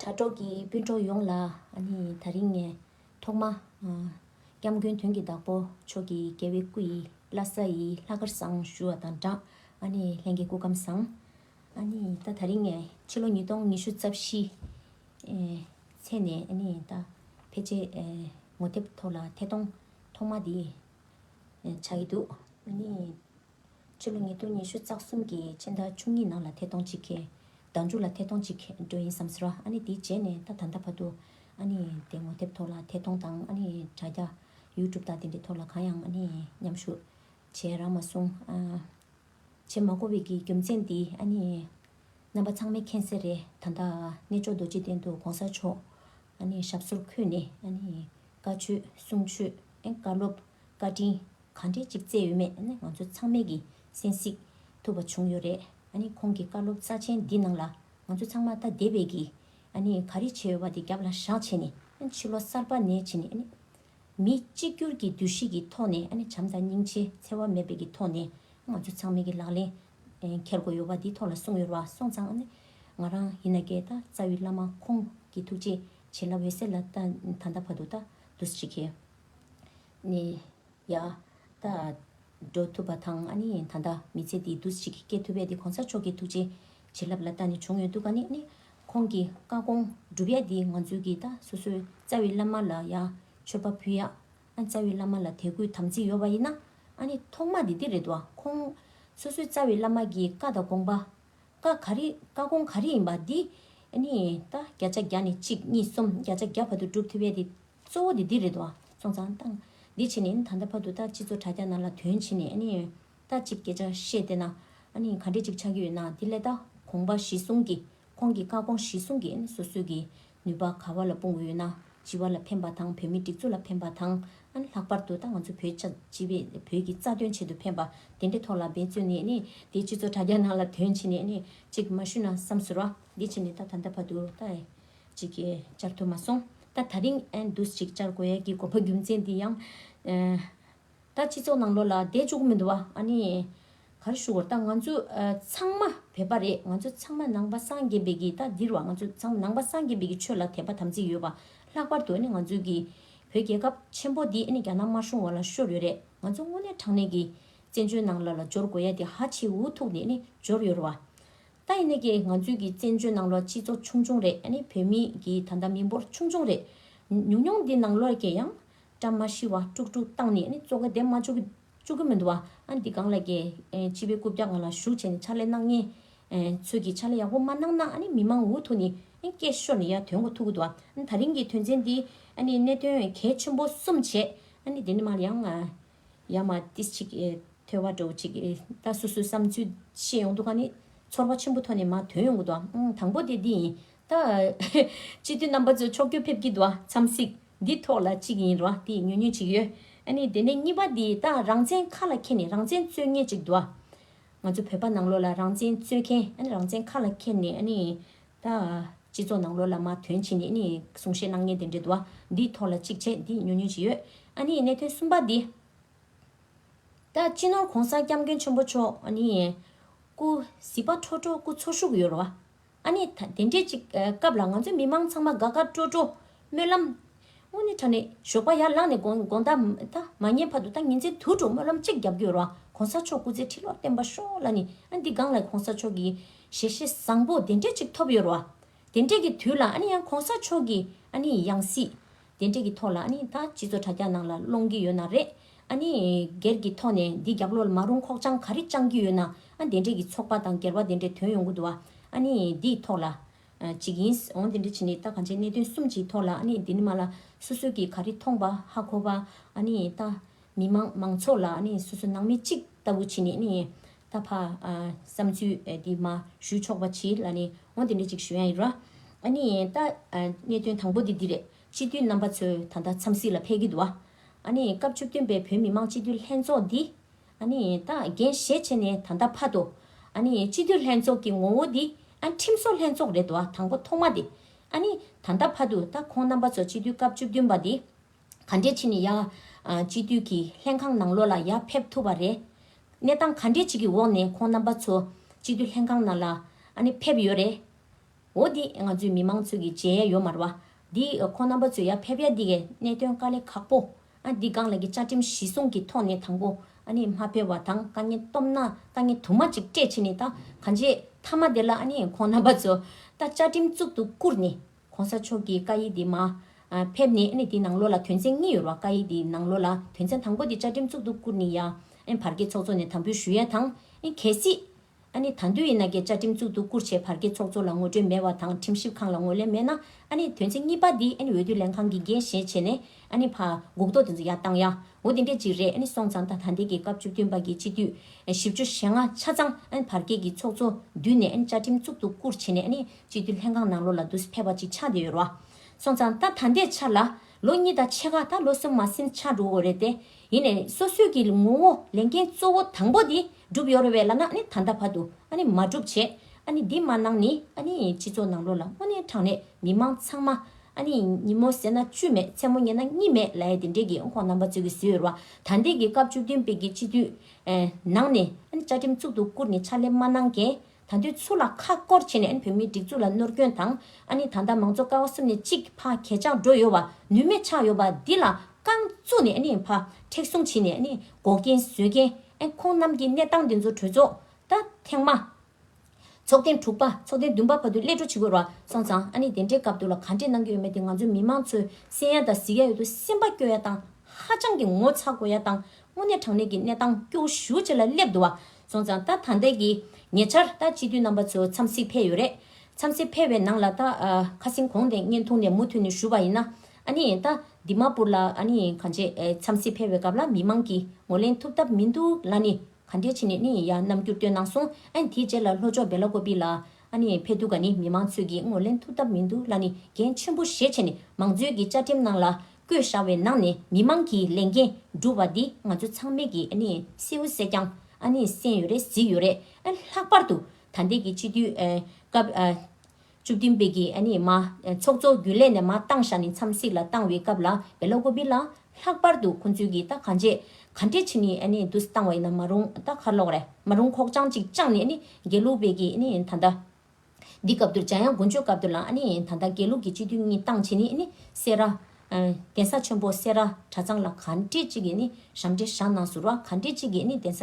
དྲ་གྲོགས་ཀྱི་སྤུན་གྲོགས་ཡོངས་ལ་ད་རིང་ནས་ཐོག་མ། སྐྱབས་མགོན་དོན་གྱི་བདག་པོ་མཆོག་གི་རྒྱལ་བའི་སྐུ་ཡི་བླ་ས་ཡི་ལྷ་སྐར་བཟང་ཞུ་བ་དང་སྦྲགས། ལྷན་གྱི་སྐུ་ཁམས་བཟང། ད་ད་རིང་ནས་ཕྱི་ལོ་ཉིས་སྟོང་ཉི་ཤུ་རྩ་བཞི། ཚེས་ནས་ད་ཕལ་ཆེར་ངོ་དེབ་ཐོག་ལ་ཐད་གཏོང་ཐོག་མ་དེ་བྱ་ཡི་འདུག། ཕྱི་ལོ་ཉིས་སྟོང་ཉི་ཤུ་རྩ་གསུམ་གྱི་ཕྱི་ཟླ་བཅུ་གཉིས་ནང་ལ་ཐད་གཏོང་གཅིག་གི། ཟླ་མཇུག་ལ་ཐད་གཏོང་གཅིག་གི་འགྲོ་ཡིན་བསམ་ཟིན། ཨ་ནི་དེའི་རྗེས་ནས་ད་ད་ལྟ་བར་དུ། ཨ་ནི་དེ་ངོ་དེབ་ཐོག་ལ་ཐད་གཏོང་དང་ཨ་ནི་དྲ་རྒྱ། YouTube དང་དེ་འདྲའི་ཐོག་ལ་གང་ཡང་ཨ་ནི་མཉམ་ཞུགས། བྱས་རང་མ་སོང། བྱེད་མ་གོ་བའི་གི་རྒྱུ་མཚན་དེ་ཨ་ནི། རྣམ་པ་ཚང་མའི་ཁེངས་སེ་རེད་ད་ལྟ། གནས་མཆོག་རྡོ་རྗེ་གདན་དུ་གོང་ས་མཆོག། ཨ་ནི་ཞབས་སོར་འཁོད་ནས་ཨ་ནི། བཀའ་ཆོས་གསུང་ཆོས་ཨེ་བཀའ་སློབ་བཀའ་དྲིན། གང་འདྲའི་ཅིག་བརྩེ་ཡོད་མེད་ནི་ང་ཚོ་ཚང་མས་ཀྱིས་གསན་གཟིགས་ཐུབ་པ་བྱུང་ཡོད་རེད། ཁོང་གི་བཀའ་སློབ་རྩ་ཆེན་འདི་ནང་ལ་ང་ཚོ་ཚང་མ་ད་དེ་བས་ཀྱིས་ག་རེ་བྱས་ཡོད་པ་དེ་རྒྱབ་ལ་བཞག་བྱས་ནས་ཕྱི་ལོ་གསར་པ་ནས་ཕྱི་ནས་མི་གཅིག་གྱུར་གྱི་འདུ་ཤེས་ཀྱི་ཐོག་ནས་བྱམས་དང་སྙིང་རྗེ་འཚེ་བ་མེད་པའི་ཀྱི་ཐོག་ནས་ང་ཚོ་ཚང་མས་ཀྱིས་ལག་ལེན་འཁྱེར་དགོས་ཡོད་པ་དེའི་ཐོག་ལ་གསུངས་ཡོད་ར་སོང་ཙང་ང་རང་ཡིན་ན་ཀྱེ་ད་རྩ་བའི་བླ་མ་ཁོང་གི་ཐུགས་རྗེ་ཆེ་ལ་འོད་གསལ་ལ་ད་ད་ད་བར་དུ་ད་འདུ་ཤེས་ཀྱི། ནས་ཡ། ད། འགྲོ་ཐུབ་པ་དང་ཨ་ནི་ད་ལྟ་མི་ཚེ་འདི་འདུ་ཞིག་སྐྱེལ་ཐུབ་པས་དེ་གོང་ས་མཆོག་གི་ཐུགས་རྗེ། བྱིན་རླབས་ལ་ད་ནི་བྱུང་ཡོད་འདུག་ག་ནི་ནི། ཁོང་གི་བཀའ་དགོངས་སྒྲུབ་ཡ་འདི་ང་ཚོའི་གི་ད་སོ་སོའི་རྩ་བའི་བླ་མ་ལ་ཡ། མཆོད་པ་ཕུལ་ཡ། ཨ་རྩ་བའི་བླ་མ་ལ་དད་གུས་དམ་ཚིག་ཡོད་པ་ཡིན་ན། ཨ་ནི་ཐོག་མ་དེ་འདི་རེད་དོ། ཁོང། སོ་སོའི་རྩ་བའི་བླ་མ་གི་བཀའ་དང་དགོངས་པ། བཀའ་ག་རི་བཀའ་དགོངས་ག་རི་ཡིན་པ་འདི། ཨ་ནི་ད་བརྒྱ་ཆ་བརྒྱ་ནས་གཅིག་གཉིས་གསུམ་བརྒྱ་ཆ་བརྒྱ་བར་དུ་སྒྲུབ་ཐུབ་པས་དེ། གཙོ་བོ་དེ་འདི་རེད་དོ། སོང་ཙང་བཏང། འདི་ཕྱི་ནས་ད་ལྟ་བར་དུ་ལྟ་ཅི་ཚོ་དྲ་རྒྱ་ནང་ལ་དོན་ཕྱི་ནས་ཨ་ནི། ལྟ་ཅིག་སྐད་ཆ་བཤད་བསྡད་ན། ཨ་ནི་ག་འདྲས་ཅིག་ཆགས་ཀྱི་ཡོད་ན་དེ་ལས་ལྟ་གོང་པ་གཞི་བཟུང་གི་ཁོང་གི་བཀའ་དགོངས་གཞི་བཟུང་གི་ཨ་ནི་སོ་སོས་ཀྱི་ནུས་པ་ག་བ་ལ་སྤུངས་ཡོད་ན་སྤྱི་བ་ལ་ཕན་པ་དང་བོད་མི་སྒྲིག་འཛུགས་ལ་ཕན་པ་དང་ཨ་ནི་ལྷག་པར་དུ་ད་ང་ཚོ་བོད་ཆ་སྤྱི་བའི་བོད་ཀྱི་རྩ་དོན་ཆེད་དུ་ཕན་པ་དེ་འདྲའི་ཐོག་ལ་འབད་བརྩོན་ནས་ཨ་ནི་འདི་ཕྱི་ཚོ་དྲ་རྒྱ་ནང་ལ་དོན་ཕྱི་ནས་ཨ་ནི་ཅིག་མ་ཞུས་ན་བསམ་ཟུར་བ། འདི་ཕྱི་ནས་ད་ད་ལྟ་བར་དུ་ལྟ། ཅིག་གིས་བཅར་ཐུབ་མ་སོང། ད་ད་རིང་ཨན་འདུས་ཅིག་བཅར་དགོས་ཡས་ཀྱི་དགོས་པ་རྒྱུ་མཚན་དེ་ཡང། ད་སྤྱི་ཚོགས་ནང་ལོགས་ལ་བསྡད་བཅུག་གི་མི་འདུག་བ་ཨ་ནི། གར་ཞུ་གོ་ད་ང་ཚོ་ཚང་མ་བོད་པ་རེད་ང་ཚོ་ཚང་མ་ནང་པ་སངས་རྒྱས་པའི་གི་ད་འདིར་བ་ང་ཚོ་ཚང་མ་ནང་པ་སངས་རྒྱས་པའི་གི་ཆོས་ལ་དད་པ་དམ་ཚིག་ཡོད་པ་ལྷག་པར་དུ་ཨ་ནི་ང་ཚོའི་གི། བོད་རྒྱལ་ཁབ་ཆེན་པོ་འདི་ཨ་ནི་རྒྱ་ནག་དམར་གཞུང་བ་ལ་ཤོར་ཡོད་རེད་ང་ཚོ་དངོས་གནས་དྲང་གནས་གི། བཙན་བྱོལ་ནང་ལ་ལ་འབྱོར་དགོས་ཡས་དེ་ཧ་ཆེའི་འུ་ཐུག་ནས་ཨ་ནི་འབྱོར་ཡོད་རེད་བ། ད་ཡིན་ནི་གི་ང་ཚོའི་གི་བཙན་བྱོལ་ནང་ལོར་སྤྱི་ཚོགས་ཆུང་ཆུང་རེད་ཨ་ནི་བོད་མི་གི་ད་ལྟ་མི་འབོར་ཆུང་ཆུང་རེད། ཉུང་ཉུང་འདི་ནང་ལོར་གི་ཡང། བཀྲ་མ་ཤིས་བ་དཀྲུག་དཀྲུག་བཏང་ནི་ཨ་ནི་བཙོ་ག་དེ་མ་བཅུག་གི་བཅུག་གི་མི་འདུག་བ་ཨ་འདི་གང་ལ་གི་སྤྱི་བའི་རྐུབ་བཀྱག་ང་ལ་ཞུགས་བྱས་ནི་ཕྱག་ལས་གནང་ངེས། ཚོས་གི་ཕྱག་ལས་ཡག་པོ་མ་གནང་ན་ཨ་ནི་མི་མང་འུ་ཐུག་ནི་ཨ་སྐད་ཤོར་ནི་ཡ་དོན་གོ་ཐུག་གི་འདུག་བ་ཨ་ད་རིང་གི་དོན་ཚན་འདི་ཨ་ནི་གནད་དོན་གལ་ཆེན་པོ་གསུམ་བྱས་ཨ་ནི་དེ་ནི་མ་ཡང། ཡ་མ་ཏི་ཅིག་ཐོས་བ་འགྲོ་ཅིག་ད་སོ་སོའི་བསམ་ཚུལ་ཤེས་ཡོང་འདུག་ག་ནི་ཚོར་བ་ཆེན་པོ་ཐོན་ནས་མ་དོན་ཡོང་གི་འདུག་ག་དང་པོ་དེ་འདི་ཡིན་ད། སྤྱི་འཐུས་རྣམ་པ་ཚོ་ཕྱོགས་སྐྱོད་ཕེབས་ཀྱི་འདུག་ག་འཚམས་གཟིགས་འདི་ཐོག་ལ་གཅིག་ཡིན་རུང་དེ་ཉུང་ཉུང་ཅིག་ཡོད་ཨ་ནི་དེ་ནས་གཉིས་པ་འདི་ད་རང་བཙན་ཁ་ལ་འཁྱེར་ནས་རང་བཙན་རྩོད་ངེས་ཅིག་འདུག་ག། ང་ཚོ་བོད་པ་ནང་ལོགས་ལ་རང་བཙན་རྩོད་མཁན་ཨ་ནི་རང་བཙན་ཁ་ལ་འཁྱེར་ནས་ཨ་ནི། དང། སྤྱི་ཚོགས་ནང་ལོ་ལ་མ་དོན་ཕྱི་ནས་ནི་གསུང་བཤད་གནང་ཉན་དེ་འདྲའི་དུ་བ་འདིའི་ཐོག་ལ་གཅིག་བྱས་འདི་ཉོ་ཉོ་བྱེད་ཡོད་ཨ་ནི་གནད་དོན་གསུམ་པ་འདི། ད་སྤྱི་ནོར་གོང་ས་སྐྱབས་མགོན་ཆེན་པོ་མཆོག་ཨ་ནི། སྐུ་གཟིགས་པ་ཁྲོ་ཁྲོ་སྐུ་འཚོ་བཞུགས་ཡོད་རོ། ཨ་ནི་ད་དེ་འདྲའི་གཅིག་སྐབས་ལ་ང་ཚོ་མི་མང་ཚང་མ་དགའ་དགའ་སྤྲོ་སྤྲོ། སྨོན་ལམ། དངོས་གནས་ཁྲ་ནས་ཞོགས་པ་ཡར་བླངས་ནས་དགོངས་དག་མ་ཉན་བར་དུ་ད་ངེད་ཚོའི་དུར་ཁྲོད་སྨོན་ལམ་གཅིག་བརྒྱབ་རྒྱུའི་རོགས་གོང་ས་མཆོག་སྐུ་ཚེ་ཁྲི་ལོར་བརྟན་པ་ཤོག་ལ་ནི་ཨ་འདི་སྒང་ལ་གོང་ས་མཆོག་གི་ཞལ་བཞེས་བཟང་པོ་དེ་འདྲས་ཅིག་ཐོབ་ཡོད་རོགས། དེ་འདྲས་ཀྱི་དུས་ལ་ཨ་ནི་ཡང་གོང་ས་མཆོག་གི་ཨ་ནི་ཡང་སྲིད་དེ་འདྲས་ཀྱི་ཐོག་ལ་ཨ་ནི་ད་སྤྱི་ཚོགས་དྲ་རྒྱ་ནང་ལ་སློང་གི་ཡོད་ན་རེད་ཨ་ནི་སྒེར་གྱི་ཐོག་ནས་འདི་རྒྱབ་ལོ་མ་རུང་ཁོག་བཅང་ག་རེ་བཅང་གི་ཡོད་ན་ཨ་དེ་འདྲས་ཀྱི་ཚོགས་པ་དང་སྒེར་བ་དེ་འདྲས་དོན་ཡོང་གི་འདུག་ཨ་ནི་འདིའི་ཐོག་ལ་ཅིག་ཡིན། འོང་དེ་འདྲ་བྱེད་ནི་ལྟ་གང་བྱེད་གནད་དོན་གསུམ་གྱིས་ཐོག་ལ་ནི་དེ་ནི་མ་ལ་སོ་སོ་གིས་ག་རི་མཐོང་པ་ཧ་གོ་བ་ནི་ལྟ། མི་མང་མང་ཚོགས་ལ་ནི་སོ་སོ་ནང་མི་གཅིག་ལྟ་བུ་བྱེད་ནི་ནི་ལྟ། ཕ། བསམ་ཚུལ་དེ་མ་ཞུ་ཆོག་པ་བྱེད་ལ་ནི་འོང་དེ་འདྲ་ཅིག་ཞུ་ཡ་ཡིན། ནི་ལྟ། གནད་དོན་དང་པོ་དེ་འདི་རེད། སྤྱི་འཐུས་རྣམ་པ་ཚོས་ད་ལྟ་འཚམས་གཟིགས་ལ་ཕེབས་ཀྱི་འདུག་བ། ནི་སྐབས་བཅུ་བདུན་པའི་བོད་མི་མང་སྤྱི་འཐུས་ལྷན་ཚོགས་འདི། ད་རྒན་གཞས་བྱས་ནས་ད་ལྟ་ཕ་དོ། སྤྱི་འཐུས་ལྷན་ཚོགས་ཀྱི་ངོ་བོ་འདི། ཁྲིམས་བཟོ་ལྷན་ཚོགས་རེད་བ་དང་པོ་ཐོག་མ་དེ། ད་ལྟ་ཕ་དུ་ད་ཁོང་རྣམ་པ་ཚོ་སྤྱི་འཐུས་སྐབས་བཅུ་བདུན་པ་དེ། ག་འདྲས་ཕྱིན་ནས་ཡ། སྤྱི་འཐུས་ཀྱི་ལྷན་ཁང་ནང་ལོགས་ལ་ཡ་ཕེབས་ཐུབ་པ་རེད། གནས་སྟངས་ག་འདྲས་ཅིག་གི་འོག་ནས་ཁོང་རྣམ་པ་ཚོ་སྤྱི་འཐུས་ལྷན་ཁང་ནང་ལ། ཕེབས་ཡོད་རེད། འོ་འདི་ང་ཚོའི་མི་མང་ཚོས་ཀྱི་གཅེས་ཡ་ཡོ་མར་བ། འདི་ཁོ་རྣམ་པ་ཚོས་ཡ་ཕེབས་ཡ་འདི་གའི་གནད་དོན་དཀའ་ལས་ཁག་པོ། ཨ་འདི་སྒང་ལ་གི་བཅའ་ཁྲིམས་གཞི་སྲུང་གི་ཐོག་ནས་དང་པོ་ཨ་ནི་མ་ཕེབས་བ་དང་དཀའ་ངལ་སྟོབས་ན་དཀའ་ངལ་དུ་མ་ཅིག་སྤྲད་ཕྱིན་ནས་ད་ག་འཇེ་ཐ་མ་དེ་ལ་ཨ་ནི་ཁོ་རྣམ་པ་ཚོ་ད་བཅའ་ཁྲིམས་གཙུག་ཏུ་བཀུར་ནས་གོང་ས་མཆོག་གི་བཀའ་ཡིག་འདི་མ་ཕེབས་ནས་ཨ་ནི་དེ་ནང་ལོ་ལ་དོན་ཚན་གཉིས་ཡོར་བ་བཀའ་ཡིག་འདི་ནང་ལོ་ལ་དོན་ཚན་དང་པོ་འདི་བཅའ་ཁྲིམས་གཙུག་ཏུ་བཀུར་ནས་ཡ་ཨ་བར་གྱི་ཚོགས་གཙོ་ནས་དམ་འབུལ་ཞུ་ཡ་དང་ཨ་གལ་སྲིད་ཨ་ནི་ད་འདོད་ཡིན་ན་ཀྱི་བཅའ་ཁྲིམས་བཙུགས་འདུག་བསྐུར་བྱས་བར་གྱི་ཚོགས་གཙོ་ལ་ངོ་སྤྲོད་མེད་བ་དང་ཁྲིམས་ཞིབ་ཁང་ལ་ངོས་ལེན་མེད་ན་ཨ་ནི་དོན་ཚན་གཉིས་པ་འདི་ཨ་ནི་འོས་བསྡུ་ལེན་ཁང་གི་འགན་བཞེས་བྱས་ནས་ཨ་ནི་ཕ། འགུག་ཐོག་དེ་ཚོ་ཡར་བཏང་ཡ། འོ་དེ་འདྲས་ཅིག་རེད་ཨ་ནི་སོང་ཙང་ད་ད་འདས་ཀྱི་སྐབས་བཅུ་བདུན་པ་གྱི་སྤྱི་འཐུས། བཞི་བཅུ་ཞེ་ལྔ་ཆ་ཚང་ཨ་ནི་བར་གྱི་གྱི་ཚོགས་གཙོ་བསྡུས་ནས་ཨ་ནི་བཅའ་ཁྲིམས་བཙུགས་འདུག་བསྐུར་བྱས་ནས་ཨ་ནི་སྤྱི་འཐུས་ལྷན་ཁང་ནང་ལོ་ལ་དུས་ཕེབས་པ་ཅིག་ཆགས་བསྡད་ཡོད་ར། སོང་ཙང་ད་ད་འདས་ཆར་ལ། ལོ་གཉིས་ད་ཕྱེད་ཀ་ད་ལོ་གསུམ་མ་སིམ་ཆགས་འགྲོ་འོ་རེད་དེ། ཡིན་ནས་སོ་སོའི་གི་ངོ་བོ་ལས་མཁན་གཙོ་བོ་དང་པོ་དེ་འགྲུབ་ཡོ་རོ་བའི་ལ་ནག་ནི་ད་ལྟ་བར་དུ་ཨ་ནི་མ་འགྲུབ་བྱེད་ཨ་ནི་འདི་མ་གནང་ནི་ཨ་ནི་སྤྱི་ཚོགས་ནང་ལོ་ལ་སྔོ་ནས་དྲང་ནས་མི་མང་ཚང་མ་ཨ་ནི་ཉིན་མོ་ཟེར་ན་བཅུ་མེད་མཚན་མོ་ཉལ་ན་གཉིད་མེད་ལའེ་དེ་འདྲས་གི་ཁོང་རྣམ་པ་ཚོས་གི་བཟོས་ཡོ་རོ་བ་ད་འདས་གི་སྐབས་བཅུ་བདུན་པའི་གི་སྤྱི་འཐུས། ནང་ནས་ཨ་ནི་བཅའ་ཁྲིམས་གཙུག་ཏུ་བཀུར་ནས་ཕྱག་ལས་མ་གནང་མཁན་ད་དུས་ཚུར་ལ་ཁ་སྐོར་བྱས་ནས་བོད་མིའི་སྒྲིག་འཛུགས་ལ་ནོར་སྐྱོན་དང་ཨ་ནི་ད་ལྟ་མང་གཙོ་ཀ་བ་གསུམ་ནས་གཅིག་ཕ་གས་ཆག་འགྲོ་ཡོད་བ་ནུས་མེད་ཆག་ཡོད་བ་འདི་ལ་རྐང་བཙུགས་ནས་ནི་ཕ་མཁྲེགས་བཟུང་བྱེད་ནས་ནི་འགོག་རྐྱེན་བཟོས་རྐྱེན་ཁོང་རྣམས་ཀྱི་གནས་སྟངས་འདི་ཚོ་གྲོས་ཚོགས་ད་ཐེངས་མ་ཚོགས་ཐེངས་དྲུག་པ་ཚོགས་ཐེངས་བདུན་པ་བར་དུ་སླེ་འགྲོ་བྱེད་དགོས་ར་སོང་ཙང་ཨ་ནི་དེ་འདྲའི་སྐབས་དུ་ལ་ག་འདྲས་གནང་གི་ཡོད་མེད་དེ་ང་ཚོའི་མི་མང་ཚོའི་སེམས་ཡ་དང་གཟིགས་ཡ་ཡོད་དུ་སེམས་པ་སྐྱོ་ཡ་དང་ཧ་ཅང་གི་ངོ་ཚ་དགོས་ཡ་དང་དངོས་གནས་དྲང་གནས་ཀྱི་གནས་སྟངས་སྐྱོ་ཤུ་བྱེད་ལ་སླེབས་འདུག་བ་སོང་ཙང་ད་ད་འདས་ཀྱི་ཉེ་ཆར་ད་སྤྱི་འཐུས་རྣམ་པ་ཚོ་འཚམས་གཟིགས་ཕེབས་ཡོད་རེད། འཚམས་གཟིགས་ཕེབས་བའི་ནང་ལ་ད་ཁ་སིང་གོང་དེ་བརྙན་ཐུང་ནས་མུ་མཐུད་ནས་ཞུ་བ་ཡིན་ན། ཨ་ནི་ད་འདི་མ་པུར་ལ་ཨ་ནི་གང་བྱས་འཚམས་གཟིགས་ཕེབས་བའི་སྐབས་ལ་མི་མང་གིས་ངོ་ལེན་ཐུབ་ཐབས་མི་འདུག་ལ་ནི་ག་འདྲས་བྱས་ནས་ནི་ཡ་རྣམ་འགྱུར་སྟོན་གནང་སོང་ཨ་ནི་དེའི་རྗེས་ལ་ལྷོ་ཕྱོགས་སྦེ་ལ་ཀོ་པི་ལ་ཨ་ནི་ཕེབས་འདུག་ག་ནི་མི་མང་ཚོས་ཀྱིས་ངོ་ལེན་ཐུབ་ཐབས་མི་འདུག་ལ་ནི་འགན་ཆེན་པོ་བཞེས་བྱས་ནས་མང་གཙོའི་གི་བཅའ་ཁྲིམས་ནང་ལ་བསྐོས་བཞག་བའི་ནང་ནས་མི་མང་གི་ལས་འགན་སྒྲུབ་པ་འདི་ང་ཚོ་ཚང་མས་ཀྱི་སེའུ་བསད་ཀྱང་སེམས་ཡོད་རེད་གཟིགས་ཡོད་རེད། ལྷག་པར་དུ་ད་འདས་ཀྱི་སྤྱི་འཐུས་སྐབས་བཅུ་བདུན་པའི་ཀྱི་མ་ཚོགས་གཙོ་རྒྱུན་ལས་ནས་མ་བཏང་བཞག་ནས་མཚམས་བསྲེགས་ལ་བཏང་བའི་སྐབས་ལ་བེ་ལོ་ཀོ་བི་ལ་ལྷག་པར་དུ་ཁོང་ཚོས་ཀྱི་ད་གང་བྱས་ག་འདྲས་ཕྱི་ནས་བསྡུ་བཏང་བ་ཡིན་ན་མ་རུང་ད་ཁ་ལོག་རེད་མ་རུང་ཁོག་བཅང་ཅིག་བཅང་ནས་དགེ་ལུགས་པའི་ཀྱི་ད་ལྟ། འདི་སྐབས་དུ་འཇམ་དབྱངས་དགུན་ཆོས་སྐབས་དུ་ལ་ནི་ད་ལྟ་དགེ་ལུགས་ཀྱི་སྤྱི་འཐུས་གཉིས་བཏང་བྱས་ནི་ནི་སེ་ར། གདན་ས་ཆེན་པོ་སེ་ར་གྲྭ་ཚང་ལ་ག་འདྲེ་གཅིག་གིས་ནི་ཞབས་འདྲེན་བཞག་ནང་ཟུར་བ་ག་འདྲེ་གཅིག་གིས་ནི་གདན་ས་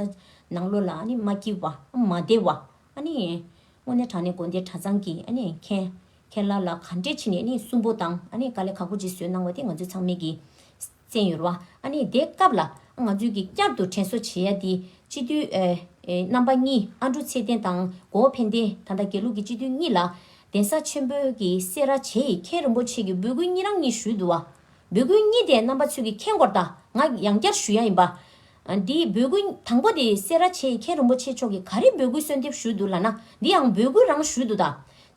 ནང་ལོ་ལ་ནི་མ་སྐྱིལ་བ་མ་བདེ་བ། དངོས་གནས་དྲང་ནས་དགོན་སྡེ་གྲྭ་ཚང་གི་མཁན། ཁེར་ལ་ལ་ག་འདྲེ་ཕྱི་ནས་ནི་སུན་པོ་དང་དཀའ་ལས་ཁག་པོ་ཅིག་བཟོས་གནང་བ་དེ་ང་ཚོས་ཚང་མེད་ཀྱི། བཙན་ཡོད་རུང་ཨ་ནི་དེ་སྐབས་ལ་ང་ཚོས་ཀྱིས་བསྐྱར་དུ་དྲན་གསོ་བྱེད་ཡ་དེ་སྤྱི་འཐུས་རྣམ་པ་གཉིས་ཨ་འབྲུ་ཚེ་བརྟན་དང་གོ་ཕན་བསྟན་ད་ལྟ་དགེ་ལུགས་ཀྱི་སྤྱི་འཐུས་གཉིས་ལ་གདན་ས་ཆེན་པོ་ཀྱི་སེ་ར་བྱེས་ཡིས་མཁན་རིན་པོ་ཆེ་ཀྱི་འབོད་སྐུལ་གཉིས་རང་གཉིས་ཞུས་འདུག་བ། འབོད་སྐུལ་གཉིས་དེ་རྣམ་པ་ཚོས་ཀྱིས་མཁྱེན་སྐོར་དང་ང་ཡང་བསྐྱར་ཞུ་ཡ་ཡིན་པ། དེ་འབོད་སྐུལ་དང་པོ་དེ་སེ་ར་བྱེས་ཡིས་མཁན་རིན་པོ་ཆེ་མཆོག་གིས་ག་རེ་འབོད་སྐུལ་གསོལ་འདེབས་ཞུས་འདུག་ལ་ན་དེ་ཡང་འབོད་སྐུལ་རང་ཞུས་འདུག་ད་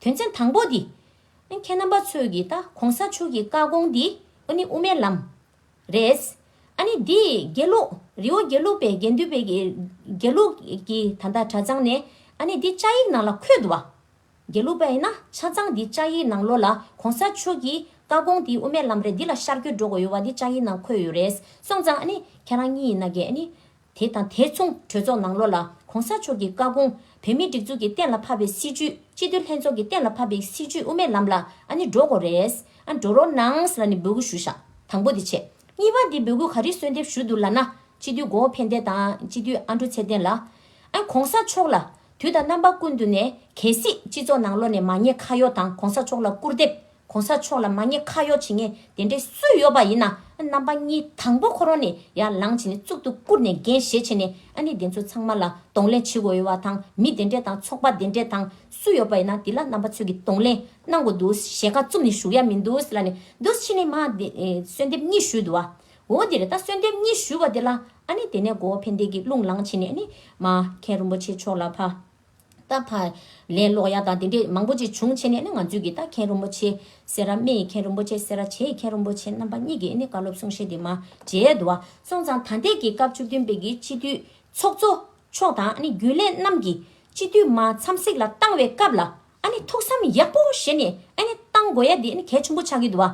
དོན་ཚན་དང་པོ་དེ། ཨ་ཁྱེད་རྣམ་པ་ཚོས་ཀྱིས་ད་གོང་ས་མཆོག་གི་བཀའ་དགོངས་འདི་ཨོ་ནི་དབུ་མའི་ལམ། རེད། ཨ་ནི་འདི་དགེ་ལུགས་རི་བོ་དགེ་ལུགས་པའི་དགེ་འདུན་པའི་དགེ་ལུགས་ཀྱི་ད་ལྟ་གྲྭ་ཚང་ནས་ཨ་ནི་འདི་བཅའ་ཡིག་ནང་ལ་འཁོད་འདུག་བ། དགེ་ལུགས་པ་ཡིན་ན་ཆ་ཚང་འདི་བཅའ་ཡིག་ནང་ལོ་ལ་གོང་ས་མཆོག་གི་བཀའ་དགོངས་འདི་དབུ་མའི་ལམ་རེད་འདི་ལ་ཤར་སྐྱོད་འགྲོ་དགོས་ཡོད་བ་འདི་བཅའ་ཡིག་ནང་འཁོད་ཡོད་རེད་སོང་ཙང་ཨ་ནི་ཁྱེད་རང་གཉིས་ཡིན་ན་དགེ་ཨ་ནི་དེ་དང་དེ་མཚུངས་གྲོས་ཚོགས་ནང་ལོ་ལ ྋགོང་ས་མཆོག་གིས་བཀའ་དགོངས། བོད་མིའི་སྒྲིག་འཛུགས་ཀྱི་གཏན་ལ་ཕབ་པའི་སྲིད་བྱུས། སྤྱི་འཐུས་ལྷན་ཚོགས་ཀྱི་གཏན་ལ་ཕབ་པའི་སྲིད་བྱུས་དབུ་མའི་ལམ་ལ་ཨ་ནི་འགྲོ་དགོས་རེད། ཨ་འགྲོ་རོགས་གནང་ལ་ནི་འབོད་སྐུལ་ཞུ་བཞག་དང་པོ་དེ་བྱས། གཉིས་པ་འདི་འབོད་སྐུལ་ག་རེ་གསོལ་འདེབས་ཞུ་འདུག་ལ་ན། སྤྱི་འཐུས་མགོ་བོ་ཕན་བདེ་དང་སྤྱི་འཐུས་ཨ་འགྲོ་ཚེ་བརྟན་ལགས། ཨ ྋགོང་ས་མཆོག་ལ། དུས་དང་རྣམ་པ་ཀུན་ཏུ་ནས་གལ་སྲིད་སྤྱི་ཚོགས་ནང་ལོ་ནས་མ་ཉེས་ཁ་གཡོག་དང ྋགོང་ས་མཆོག་ལ་སྐུར་འདེབས། གོང་ས་མཆོག་ལ་མ་ཉེས་ཁ་གཡོག་བྱེད་མཁན་དེ་འདྲས་སུ་ཡོད་པ་ཡིན་ན་རྣམ་པ་གཉིས་དང་པོ་ཁོ་རང་ནས་ཡར་ལངས་བྱས་ནས་གཙུག་ཏུ་བཀུར་ནས་འགན་བཞེས་བྱས་ནས་ཨ་ནི་དེ་ཚོ་ཚང་མ་ལ་གདོང་ལེན་བྱེད་དགོས་ཡོད་བ་དང་མི་དེ་འདྲས་དང་ཚོགས་པ་དེ་འདྲས་དང་སུ་ཡོད་པ་ཡིན་ན་དེ་ལ་རྣམ་པ་ཚོས་ཀྱི་གདོང་ལེན་གནང་དགོས་འདུག་ཞེས་ཁ་བཙུམ་ནས་བཞུགས་ཡ་མི་འདུག་ལ་ནི་འདུག་ཕྱི་ནས་མ་གསོལ་འདེབས་གཉིས་ཞུས་འདུག་བ། འོ་དེར་ད་གསོལ་འདེབས་གཉིས་ཞུས་བ་དེ་ལ་ཨ་ནི་དེ་ནས་མགོ་བོ་ཕན་བདེ་གིས་རླུང་ལངས་བྱས་ནས་ཨ་ནི་མ་མཁན་རིན་པོ་ཆེ་མཆོག་ལ་ཕ། རྟ་ཕག། ལན་སློག་ཡག་དང་དེ་འདྲས་མང་པོ་ཅིག་བྱུང་ཕྱི་ནས་ནི་ང་ཚོས་ཀྱི་རྟ་མཁན་རིན་པོ་ཆེ། སེ་ར་སྨད་ཡི་མཁན་རིན་པོ་ཆེ་སེ་ར་བྱེས་ཡི་མཁན་རིན་པོ་ཆེ་རྣམ་པ་གཉིས་ཀྱིས་ནི་བཀའ་སློབ་གསུང་བཤད་དེ་མ་བྱས། དུ་བ་སོང་ཙང་ད་ལྟའི་གྱི་སྐབས་བཅུ་བདུན་པའི་གྱི་སྤྱི་འཐུས་ཚོགས་གཙོ་མཆོག་དང་ནི་རྒྱུན་ལས་རྣམས་ཀྱིས་སྤྱི་འཐུས་མ་འཚམས་གཟིགས་ལ་བཏང་བའི་སྐབས་ལ་ནི་ཐུགས་བསམ་ཡག་པོ་བཞེས་ནས་ནི་བཏང་དགོས་ཡ་དེ་ནི་གལ་ཆེན་པོ་ཆགས་ཀྱི་དུ་བ་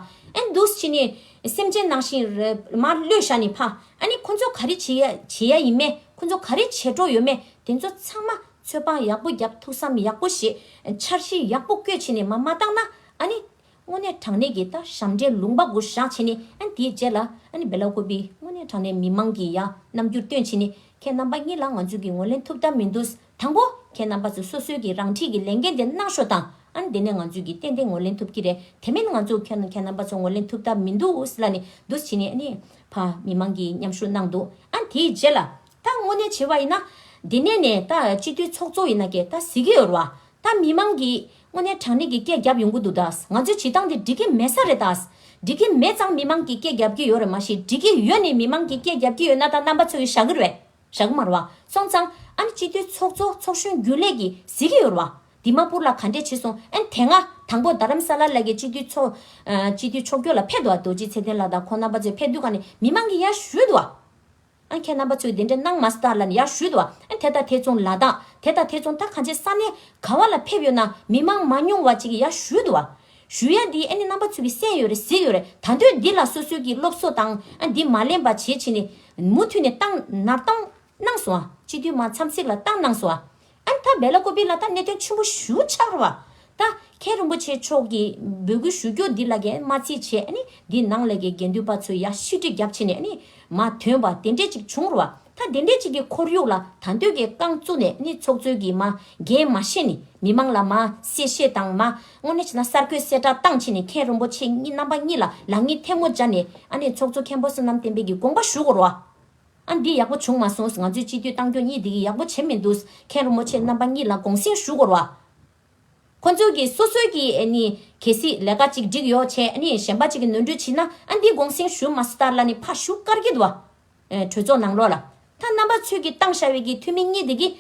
འདུག་སྤྱི་ནི་སེམས་ཅན་ནང་བཞིན་རེད་མ་བློས་བཞག་ནི་ཕ་ཨ་ནི་ཁོ་ཚོ་ག་རེ་བྱེད་ཡ་བྱེད་ཡ་ཡིན་མེད་ཁོ་ཚོ་ག་རེ་བྱེད་འགྲོ་ཡོད་མེད། དེ་ཚོ་ཚང་མ་ཚོད་དཔང་ཡག་པོ་རྒྱབ་ཐུགས་བསམ་ཡག་པོ་བཞེས། འཆར་གཞི་ཡག་པོ་བཀོད་བྱས་ནས་མ་མ་བཏང་ན་ཨཱ་ནི། དངོས་གནས་དྲང་གནས་ཀྱི་ད་ཞབས་འདྲེན་ལུང་པ་དགུ་བཞག་བྱས་ནས་ཨཱ་ནི་དེའི་རྗེས་ལ་ཨཱ་ནི་བེ་ལ་ཁོ་པི་དངོས་གནས་དྲང་གནས་མི་དམངས་ཀྱི་ཡ་རྣམ་འགྱུར་སྟོན་བྱས་ནས་ཁྱེད་རྣམ་པ་གཉིས་ལ་ང་ཚོས་ཀྱི་ངོས་ལེན་ཐུབ་ཐབས་མི་འདུག་དང་པོ་ཁྱེད་རྣམ་པ་ཚོ་སོ་སོའི་ཀྱི་རང་འཁྲིས་ཀྱི་ལས་འགན་དེ་གནང་ཤོག་དང་ཨཱ་ནི་དེ་ནས་ང་ཚོས་ཀྱི་ཏན་ཏན་ངོས་ལེན་ཐུབ་ཀྱི་རེད་དེ་མིན་ང་ཚོ་ཁྱོད་ཁྱེད་རྣམ་པ་ཚོ་ངོས་ལེན་ཐུབ་ཐབས་མི་འདུག་ལ་ནི་འདུག་བྱས་ནས་ཨཱ་ནི། ཕ་མི་དམངས་ཀྱི་མཉམ་ཞུགས་གནང་འདུག་ཨཱ་ནི་དེའི་རྗེས་ལ་ད་དངོས་གནས་བྱེད་པ་ཡིན་ན། འདི་ནས་ནས་ད་སྤྱི་འཐུས་ཚོགས་གཙོ་ཡིན་ན་ཀྱེ་ད་གཟིགས་ཀྱི་ཡོད་རེད་བ། ད་མི་མང་གིས་དངོས་གནས་དྲང་གནས་ཀྱི་སྐད་རྒྱབ་ཡོང་གི་འདུག་ད་ང་ཚོའི་བྱེད་སྟངས་དེ་འགྲིག་གི་མེད་ས་རེད་ད། འགྲིག་གི་མེད་ཙང་མི་མང་གིས་སྐད་རྒྱབ་ཀྱི་ཡོད་རེད་མ་གཞི་འགྲིག་གི་ཡོད་ནས་མི་མང་གིས་སྐད་རྒྱབ་ཀྱི་ཡོད་ན་ད་རྣམ་པ་ཚོས་ཀྱི་ཞག་གི་རེད། ཞག་གི་མ་རེད་བ། སོང་ཙང་ཨ་ནི་སྤྱི་འཐུས་ཚོགས་གཙོ་ཚོགས་གཞོན་རྒྱུན་ལས་ཀྱིས་གཟིགས་ཀྱི་ཡོད་རེད་བ། དི་མ་པུར་ལ་ག་འདྲས་བྱས་སོང་ཨན་དེ་སྔ་དང་པོ་རྡ་རམ་ས་ལར་ལ་ཀྱི་སྤྱི་འཐུས་ཚོགས། སྤྱི་འཐུས་ཕྱོགས་སྐྱོད་ལ་ཕེབས་འདུག་བ་རྡོ་རྗེ་ཚེ་བརྟན་ལགས་དང་ཁོང་རྣམ་པ་ཚོས་ཕེབས་དུས་ཁ་ནས་མི་མང་གིས་ཡར་ཞུས་འདུག་བ། ཨ་ཁྱེད་རྣམ་པ་ཚོས་འདི་འདྲ་གནང་མ་སྟར་ལ་ནི་ཡར་ཞུས་ཏོ། དེ་དང་དེ་མཚུངས་ལ་དང། དེ་དང་དེ་མཚུངས་ད་ག་འཆད་ས་ནས་ག་བ་ལ་ཕེབས་ཡོད་ན་མི་མང་མ་ཉུང་བ་ཅིག་གིས་ཡར་ཞུས་ཏོ། ཞུས་ཡ་འདིས་ཨ་ནི་རྣམ་པ་ཚོས་ཀྱི་སེམས་ཡོད་རེད་ཟིག་ཡོད་རེད་ད་འདོད་འདི་ལ་སོ་སོའི་གི་སློབ་གསོ་དང་འདི་མ་ལེན་པ་བྱེད་ཕྱིན་ནི། མུ་མཐུད་ནས་བཏང་ནར་བཏང་གནང་སོང་ཨ། སྤྱི་འཐུས་མ་འཚམས་ཚིག་ལ་བཏང་གནང་སོང་ཨ། ཨན་ཐ་བེ་ལ་ཀོ་པི་ལ་ཐ་གནད་དོན་ཆེན་པོ་ཞུ་འཆར་བ། ད་མཁན་རིན་པོ་ཆེ་མཆོག་གིས་འབོད་སྐུལ་ཞུ་རྒྱུ་འདི་ལ་ཀའི་མ་རྩིས་བྱས་ནས་འདི་ནང་ལས་ཀའི་དགེ་འདུན་པ་ཚོས་ཡ་ཤི་དྲི་རྒྱབ་བྱས་ནས་མ་ཐོན་པ་དེ་འདྲས་ཅིག་བྱུང་རུ་ཐ་དེ་འདྲས་ཅིག་གི་ཁོར་ཡུག་ལ་ད་འདོད་ཀའི་རྐང་བཙུགས་ནས་ཚོགས་གཙོས་ཀྱི་མ་འགན་མ་བཞེས་ནས་མི་མང་ལ་མ་གསལ་བཤད་དང་མ་དངོས་ནས་གསར་འགོད་གསལ་བསྒྲགས་བཏང་བྱས་ནས་མཁན་རིན་པོ་ཆེ་རྣམ་པ་གཉིས་ལ་ལག་གཉིས་ཐལ་མོ་སྦྱར་ནས་ཚོགས་གཙོ་མཁན་པོ་བསོད་ནམས་བསྟན་འཕེལ་གྱི་དགོངས་པ་ཞུ་རུ། ཨ་འདི་ཡག་པོ་བྱུང་མ་སོང་ང་ཚོའི་སྤྱི་འཐུས་ཏང་སྐྱོང་གཉིས་འདི་གི་ཡག་པོ་བྱེད་མི་འདུག་མཁན་རོ་མོ་ཆེ་རྣམ་པ་གཉིས་ལ་དགོངས་སེང་ཞུ་དགོར་བ། ཁོ་ཚོ་གི་སོ་སོའི་གི་ཨ་ནི་གལ་སྲིད་ལས་ཀ་ཅིག་འགྲིག་ཡོག་ཆེ་ཨ་ནི་གཞན་པ་ཅིག་གི་ནོར་འཁྲུལ་བྱིན་ན་ཨ་འདི་དགོངས་སེང་ཞུ་མ་སྟར་ལ་ནི་ཕ་ཞུ་དཀར་གྱིད་བ། གྲོས་ཚོགས་ནང་ལོག་ལ་ཐ་རྣམ་པ་ཚོས་གི་ཏང་ཤ་བའི་གི་འཐུས་མི་གཉིས་འདི་གི་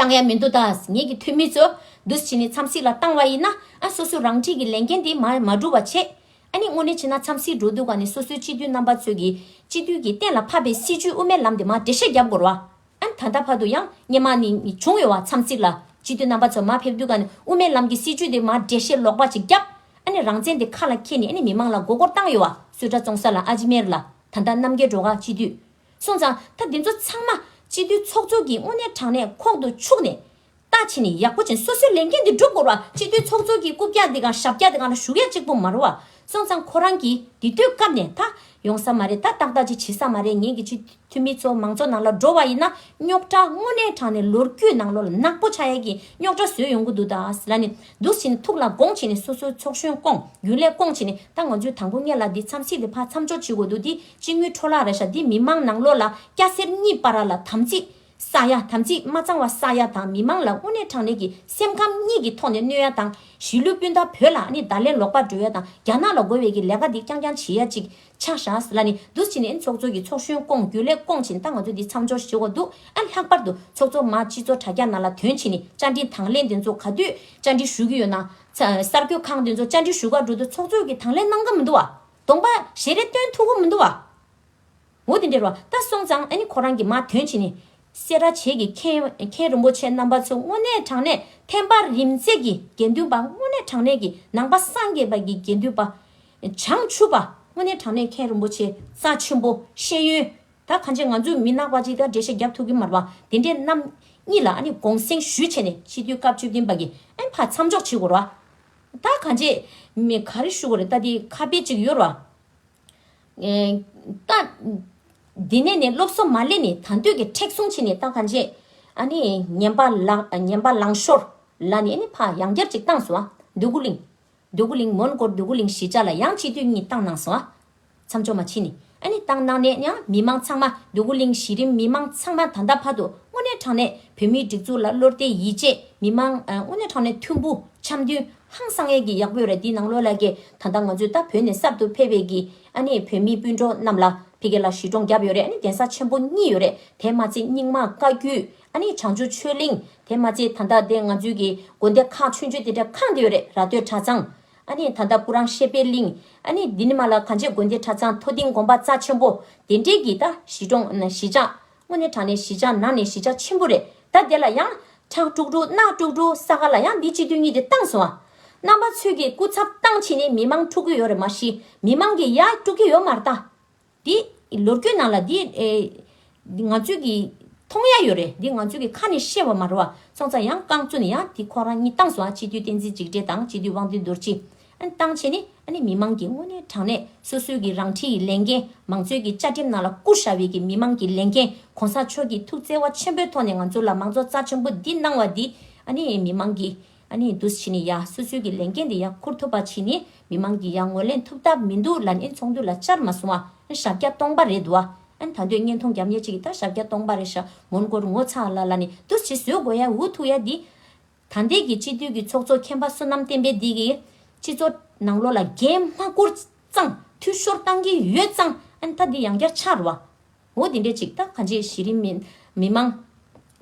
བཏང་ཡ་མི་འདུག་ད་ངེད་ཀྱི་འཐུས་མི་ཚོ་འདུས་བྱས་ནས་འཚམས་གཟིགས་ལ་བཏང་བ་ཡིན་ན་སོ་སོས་རང་འཁྲིས་ཀྱི་ལས་འགན་དེ་མ་བསྒྲུབ་བ་ཆེ། ཨཱ་ནི་དངོས་གནས་བྱས་ན་འཚམས་གཟིགས་འགྲོ་དུས་ག་ནས་སོ་སོའི་སྤྱི་འཐུས་རྣམ་པ་ཚོས་ཀྱིས་སྤྱི་འཐུས་ཀྱིས་གཏན་ལ་ཕབ་པའི་སྲིད་བྱུས་དབུ་མའི་ལམ་དེ་མ་འགྲེལ་བཤད་བརྒྱབ་དགོས་ར། ད་ལྟ་བར་དུ་ཡང་སྙན་མ་ནི་བྱུང་ཡོད་བ་འཚམས་གཟིགས་ལ་སྤྱི་འཐུས་རྣམ་པ་ཚོ་མ་ཕེབས་དུས་ག་ནས་དབུ་མའི་ལམ་གྱི་སྲིད་བྱུས་དེ་མ་འགྲེལ་བཤད་ལོག་པ་ཅིག་བརྒྱབ་ཨཱ་ནི་རང་བཙན་དེ་ཁ་ལ་འཁྱེར་ནས་ཨཱ་ནི་མི་མང་ལ་མགོ་སྐོར་བཏང་ཡོད་བ་སུད་ཏྲ་བཙོང་ས་ལ་ཨཱ་ཇི་མེར་ལ་ད་ལྟ་རྣམ་རྒྱལ་གྲོ་ག་སྤྱི་འཐུས་སོང་ཙང་ད་འདི་ཚོ་ཚང་མ་སྤྱི་འཐུས་ཚོགས་གཙོ་གི་དངོས་གནས་དྲང་གནས་ཁོག་ཏུ་ཆུག་ནས། ལྟ་བྱེད་ནི་ཡག་པོ་བྱེད་སོ་སོའི་ལས་འགན་འདི་སྒྲུབ་དགོས་ར་སྤྱི་འཐུས་ཚོགས་གཙོ་གི་རྐུབ་བཀྱག་འདི་གང་ཞབས་བཀྱག་འདི་གང་ལ་ཞུགས་ཡ་གཅིག་པོ་མ་རུ་བ་སོང་ཙང་ཁོ་རང་གིས་འདི་དུས་སྐབས་ནས་ད་ཡོང་ས་མ་རེད་ད་ཏག་ཏག་ཅིག་བྱེད་ས་མ་རེད་ངེད་ཀྱི་སྤྱི་འཐུས་མི་ཚོ་མང་ཚོགས་ནང་ལ་འགྲོ་བ་ཡིན་ན་རྙོག་དྲ་དངོས་གནས་དྲང་ནས་ལོ་རྒྱུས་ནང་ལོ་ལ་ནག་པོ་ཆགས་ཡ་གི་རྙོག་དྲ་བཟོས་ཡོང་གི་འདུག་ད་ལ་ནི་འདུག་བྱེད་ནི་ཐུགས་ལ་དགོངས་བྱེད་ནི་སོ་སོའི་ཚོགས་གཞོན་སྐོང་རྒྱུན་ལས་སྐོང་བྱེད་ནི་ད་ང་ཚོའི་དང་པོ་གཉེར་ལ་འདི་མཚམས་ཤིག་འདི་ཕར་མཚམས་འཇོག་བྱེད་དགོས་འདུག་འདི་སྤྱི་དངུལ་འཕྲོ་བརླག་རེ་ཞྭ་འདི་མི་མང་ནང་ལོག་ལ་སྐྱ་སེར་གཉིས་པ་ར་ལ་དམ་ཚིག་ས་ཡ་དམ་ཚིག་མ་གཙང་བ་ས་ཡ་དང་མི་མང་ལ་དབུ་ནས་དྲང་ནས་ཀྱི་སེམས་ཁམས་གཉིས་ཀྱི་ཐོག་ནས་གནོད་ཡ་དང་གཞིས་ལུས་སྤུན་ཟླ་བོད་ལ་ཨ་ནི་ད་ལན་ལོག་པར་འགྲོ་ཡ་དང་རྒྱ་ནག་ལ་རྒོལ་བའི་ཀྱི་ལས་ཀ་འདི་རྐྱང་རྐྱང་བྱེད་ཡ་ཅིག་ཆགས་ཞྭ་ལ་ནི་འདུ་བྱེད་ནས་ཚོགས་གཙོ་ཀྱི་ཚོགས་གཞོན་སྐོང་རྒྱུ་ལས་སྐོང་བྱིན་ད་ང་ཚོ་འདི་མཚམས་སྦྱོར་ཞེ་བ་འདུག་ཨ་ལྷག་པར་དུ་ཚོགས་གཙོ་མ་སྤྱི་ཚོགས་དྲ་རྒྱ་ནང་ལ་དོན་ཕྱིན་ནི་བཅའ་འདྲིན་དང་ལེན་འདི་ཚོ་ག་དུས་བཅའ་འདྲིན་ཞུ་གི་ཡོད་ན། གསར་འགྱོད་ཁང་འདི་ཚོ་བཅའ་འདྲིན་ཞུ་ག་འགྲོ་དུས་ཚོགས་གཙོས་ཀྱི་དང་ལེན་གནང་གི་མི་འདུག་བ། སྟོང་པ། ཞེས་རེ་སྟོན་ཐུགས་ཀུན་མི་འདུ་བ། འོ་དེ་འདྲའི་རོ་ད་སོང་ཙང་ཨ་ནི་ཁོ་རང་གི་མ་དོན་བྱས་ནས། སེ་ར་བྱེས་ཀྱི་མཁན་རིན་པོ་ཆེ་རྣམ་པ་ཚོ་དངོས་གནས་དྲང་གནས་ཐན་པ་རིམ་བརྩེགས་ཀྱི་དགེ་འདུན་པ་དངོས་གནས་དྲང་གནས་ཀྱི་ནང་པ་སངས་རྒྱས་པ་གྱི་དགེ་འདུན་པ། བྱང་ཆུབ་པ་དངོས་གནས་དྲང་གནས་མཁན་རིན་པོ་ཆེ་རྩ་ཆེན་པོ་ཤེས་ཡོན། ད་གང་ཆེ་ང་ཚོས་མི་ནག་པ་ཅིག་དང་འབྲེལ་བཤད་རྒྱབ་ཐུགས་ཀྱི་མར་བ་དེ་འདྲའི་རྣམས་གཉིས་ལ་ཨ་ནི་དགོངས་སེང་ཞུས་བྱས་ནས་སྤྱི་འཐུས་སྐབས་བཅུ་བདུན་པ་གྱི་ཨན་ཕ་མཚམས་འཇོག་བྱེད་དགོས་ར། ད་ག་རྗེས་མི་ག་རེ་ཞུ་གི་རེད་ད་དེ་ཁ་དཔེ་གཅིག་ཡོད་ར། ད། དེ་ནས་ནི་སློབ་གསོ་མ་སླེབས་ནི་ད་འདོད་ཀྱི་མཁྲེགས་བཟུང་བྱས་ནི་ད་ག་རྗེས། ཨ་ནི་ངན་པ་ངན་པ་ལང་ཤོར་ལ་ནི་ཨ་ནི་ཕ་ཡང་བསྐྱར་གཅིག་བཏང་སོང་ཨ། འདོད་རྒུ་གླིང། འདོད་རྒུ་གླིང་མོན་གོར་འདོད་རྒུ་གླིང་གཞིས་ཆགས་ལ་ཡང་སྤྱི་འཐུས་གཉིས་བཏང་གནང་སོང་ཨ། མཚམས་འཇོག་མ་ཕྱིན། ཨ་ནི་ཏང་ནང་ནས་ཡང་མི་དམངས་ཚང་མ་འདུ་གུ་གླིང་གཞི་རིམ་མི་དམངས་ཚང་མ་ད་ལྟ་བར་དུ་དངོས་གནས་དྲང་གནས་བོད་མིའི་སྒྲིག་འཛུགས་ལ་བློ་བརྟའི་ཡིད་ཆེས་མི་དམངས་དངོས་གནས་དྲང་གནས་མཐུན་པོ་འཆམ་མཐུན་ཧང་སང་ངེད་ཀྱི་ཡག་པོའི་རེད་འདི་ནང་ལོ་ལ་གི་ད་ལྟ་ང་ཚོས་ད་བོད་ནས་གསར་དུ་ཕེབས་པའི་གི་ཨ་ནི་བོད་མི་སྤུན་གྲོགས་རྣམས་ལ་ཕི་གེ་ལ་གཞི་གྲོང་བརྒྱབ་ཡོད་རེད་ཨ་ནི་གདན་ས་ཆེན་པོ་གཉིས་ཡོད་རེད་དེ་མ་ཚད་རྙིང་མ་བཀའ་རྒྱུད་ཨ་ནི་བྱང་ཆུ་ཆོས་གླིང་དེ་མ་ཚད་ད་ལྟ་དེ་ང་ཚོའི་གི་དགོན་སྡེ་ཁག་ཆོས་འབྱོན་དེ་འདྲ་གང་དེ་ཡོད་རེད་ར་སྟོད་གྲྭ་ཚང་ཨ་ནི་ད་ལྟ་སྐུ་རང་ཤེས་པད་གླིང། ཨ་ནི་འདི་ནི་མ་ལ་ག་འབྱེད་དགོན་སྡེ་གྲྭ་ཚང་མཐོ་ལྡིང་དགོན་པ་རྩ་ཆེན་པོ། དེ་འབྲེལ་གྱི་ད་གཞི་གྲོང། གཞི་ཆག། སྔོན་ནས་བྲག་ནས་གཞི་ཆག་ནང་ནས་གཞི་ཆག་ཆེན་པོ་རེད་ད་དེ་ལ་ཡང། ཁྲག་དཀྲུགས་དཀྲུགས་རྣག་དཀྲུགས་དཀྲུགས་ས་ག་ལ་ཡང་འདི་སྤྱི་དོན་གཉིས་དེ་བཏང་སོང་ཨ། རྣམ་པ་ཚོས་ཀྱི་སྐུ་ཚབ་བཏང་ཕྱིན་ནས་མི་མང་འཁྲུགས་ཀྱི་ཡོད་རེད་མ་གཞི་མི་མང་གི་ཡ་དཀྲུགས་ཀྱི་ཡོད་མ་རེད་ད། འདི། ལོ་རྒྱུས་ནང་ལ་འདི། ང་ཚོས་ཀྱི། མཐོང་ཡ་ཡོད་རེད་འདི་ང་ཚོས་ཀྱི་ཁ་ནས་བཤད་བ་མ་རེད་བ། སོང་ཙང་ཡང་བསྐང་བཙུན་ཡང་དེ་ཁོང་རང་གཉིས་བཏང་སོང་ཨ་སྤྱི་འཐུས་བསྟན་འཛིན་འཇིགས་བྲལ་དང་སྤྱི་འཐུས་དབང་འདུས་རྡོ་རྗེ། ཨ་ནི་བཏང་བྱས་ནི་ཨ་ནི་མི་མང་གི་དངོས་གནས་དྲང་གནས་སོ་སོའི་ཀྱི་རང་འཁྲིའི་ཀྱི་ལས་འགན་མང་གཙོའི་ཀྱི་བཅའ་ཁྲིམས་ནང་ལ་བསྐུར་བཞག་བའི་ཀྱི་མི་མང་གི་ལས་འགན་གོང་ས་མཆོག་གྱི་ཐུགས་བརྩེ་བ་ཆེན་པོའི་ཐོག་ནས་ང་ཚོ་ལ་མང་གཙོ་རྩ་ཆེན་པོ་འདི་གནང་བ་འདི་ཨ་ནི་མི་མང་གི་ཨ་ནེ་འདུ་བྱེད་ནི་ཡང་སོ་སོའི་གི་ལས་འགན་དེ་ཡང་འཁུར་ཐུབ་པ་བྱས་ནས་མི་མང་གི་ཡང་ངོ་ལེན་ཐུབ་ཐབས་མི་འདུག་ལ་ནི་ཚོགས་འདུ་ལ་བཅར་མ་སོང་བ་ཞག་བརྒྱ་སྟོང་པ་རེད་འདུག་ཨ་ད་འདོད་བརྙན་མཐོང་རྒྱབ་ཉེ་ཅིག་གི་ད་ཞག་བརྒྱ་སྟོང་པ་རེད་ཤ་མོན་གོར་ངོ་ཚ་ལ་ལ་ནི་འདུ་བྱེད་བཟོད་དགོས་ཡ་འུ་ཐུག་ཡ་འདི། ད་འདས་གི་སྤྱི་འཐུས་གི་ཚོགས་གཙོ་མཁན་པ་བསོད་ནམས་བསྟན་པས་འདས་གི། སྤྱི་ཚོགས་ནང་ལོ་ལ་རྒན་སྨ་བཀུར་ཙང་འཐུས་ཤོར་བཏང་གི་ཡོད་ཙང་ཨ་ད་འདི་ཡང་བསྐྱར་ཕྱར་བ། འོ་དེ་འདྲའི་ཅིག་ད་ག་འཇིགས་གཞི་རིམ་མི་དམངས།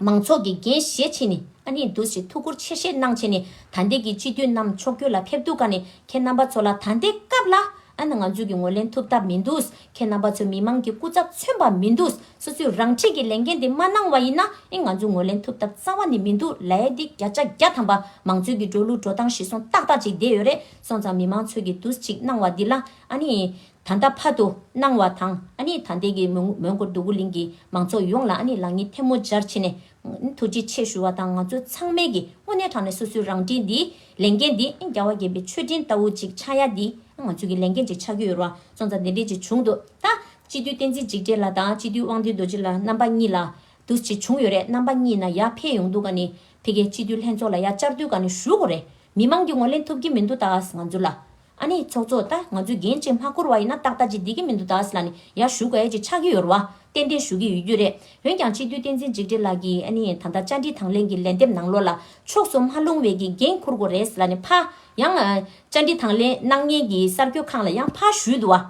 མང་ཚོགས་ཀྱི་འགན་བཞེས་བྱེད་ནི་ཨ་ནི་འདུག་ཅེས་ཐུགས་ཁུར་ཆེ་བཞེས་གནང་བྱས་ནས་ད་འདས་ཀྱི་སྤྱི་འཐུས་རྣམས་མཆོག་སྐྱོད་ལ་ཕེབས་འདུག་ག་ནི་ཁྱེད་རྣམ་པ་ཚོ་ལ་ད་འདས་སྐབས་ལ་ཨ་ནི་ང་ཚོས་ཀྱི་ངོས་ལེན་ཐུབ་ཐབས་མི་འདུག་ཁྱེད་རྣམ་པ་ཚོས་མི་དམངས་ཀྱི་སྐུ་ཚབ་མཚོན་པ་མི་འདུག་སོ་སོས་རང་འཁྲིས་ཀྱི་ལས་འགན་དེ་མ་གནང་བ་ཡིན་ན་ཨི་ང་ཚོས་ངོས་ལེན་ཐུབ་ཐབས་རྩ་བ་ནས་མི་འདུག་ལ་ཨེ་འདི་བརྒྱ་ཆ་བརྒྱ་ཐམ་པ་མང་ཚོས་ཀྱི་འགྲོ་ལུགས་འགྲོ་སྟངས་ཤི་སོང་ཏག་ཏག་ཅིག་བསྡད་ཡོད་རེད་སོང་ཙང་མི་དམངས་ཚོས་ཀྱི་འདུག་ཅིག་གནང་བ་འདི་ལ་ཨ་ནི། ད་ལྟ་བར་དུ་གནང་བ་དང་ཨ་ནི་ད་ལྟའི་གི་མོན་གྷོ་འདུ་གུ་གླིང་གི་མང་ཚོགས་ཡོངས་ལ་ཨ་ནི་ལག་གཉིས་ཐལ་མོ་སྦྱར་ཕྱི་ནས་ཐུགས་རྗེ་ཆེ་ཞུ་བ་དང་ང་ཚོ་ཚང་མས་གི་དངོས་གནས་དྲང་ནས་སོ་སོའི་རང་འགྲིན་འདི་ལས་འགན་འདི་རྒྱ་བ་རྒན་པའི་མཆོད་སྤྲིན་ལྟ་བུ་ཅིག་ཆགས་ཡ་འདི་ང་ཚོའི་གི་ལས་འགན་ཅིག་ཆགས་རྒྱུ་ཡོད་རུང་སོང་ཙང་དེ་འདྲས་ཅིག་བྱུང་འདུག་ད། སྤྱི་འཐུས་བསྟན་འཛིན་འཇིགས་བྲལ་ལ་དང་སྤྱི་འཐུས་དབང་འདུས་རྡོ་རྗེ་ལ་རྣམ་པ་གཉིས་ལ་འདུ་བྱེད་བྱུང་ཡོད་རེད་རྣམ་པ་གཉིས་ན་ཡར་འཕེལ་ཡོང་འདུག་ག་ནི་དེ་གི་སྤྱི་འཐུས་ལྷན་ཚོགས་ལ་ཡར་བཅར་དུས་ག་ནི་ཞུ་དགོས་རེད་མི་མང་གི་ངོ་ལེན་ཐུབ་གི་མི་འདུག་ད་ང་ཚོ་ལ་ཨ་ནི་ཚོགས་གཙོ་ད་ང་ཚོས་འགན་བཅས་མ་བསྐོར་བ་ཡིན་ན་ཏག་ཏག་ཅིག་བསྡད་ཀྱི་མི་འདུག་ད་སི་ལ་ནི་ཡར་ཞུ་དགོས་ཀྱི་ཆགས་ཀྱི་ཡོད་རེད་བ། ཏན་ཏན་ཞུ་གི་ཡོད་རྒྱུ་རེད། འོན་ཀྱང་སྤྱི་འཐུས་བསྟན་འཛིན་འཇིགས་བྲལ་ལགས་ཀྱིས་ཨ་ནི་ད་ལྟ་བཅར་འདྲི་དང་ལེན་གྱི་ལན་འདེབས་གནང་ལོ་ལ་ཕྱོགས་སུ་མ་ལྷུང་བའི་ཀྱི་འགན་འཁུར་དགོས་རེད་སི་ལ་ནི་ཕ། ཡང། བཅར་འདྲི་དང་ལེན་གནང་མཁན་གྱི་གསར་འགྱོད་ཁང་ལ་ཡང་ཕ་ཞུས་འདུག་བ།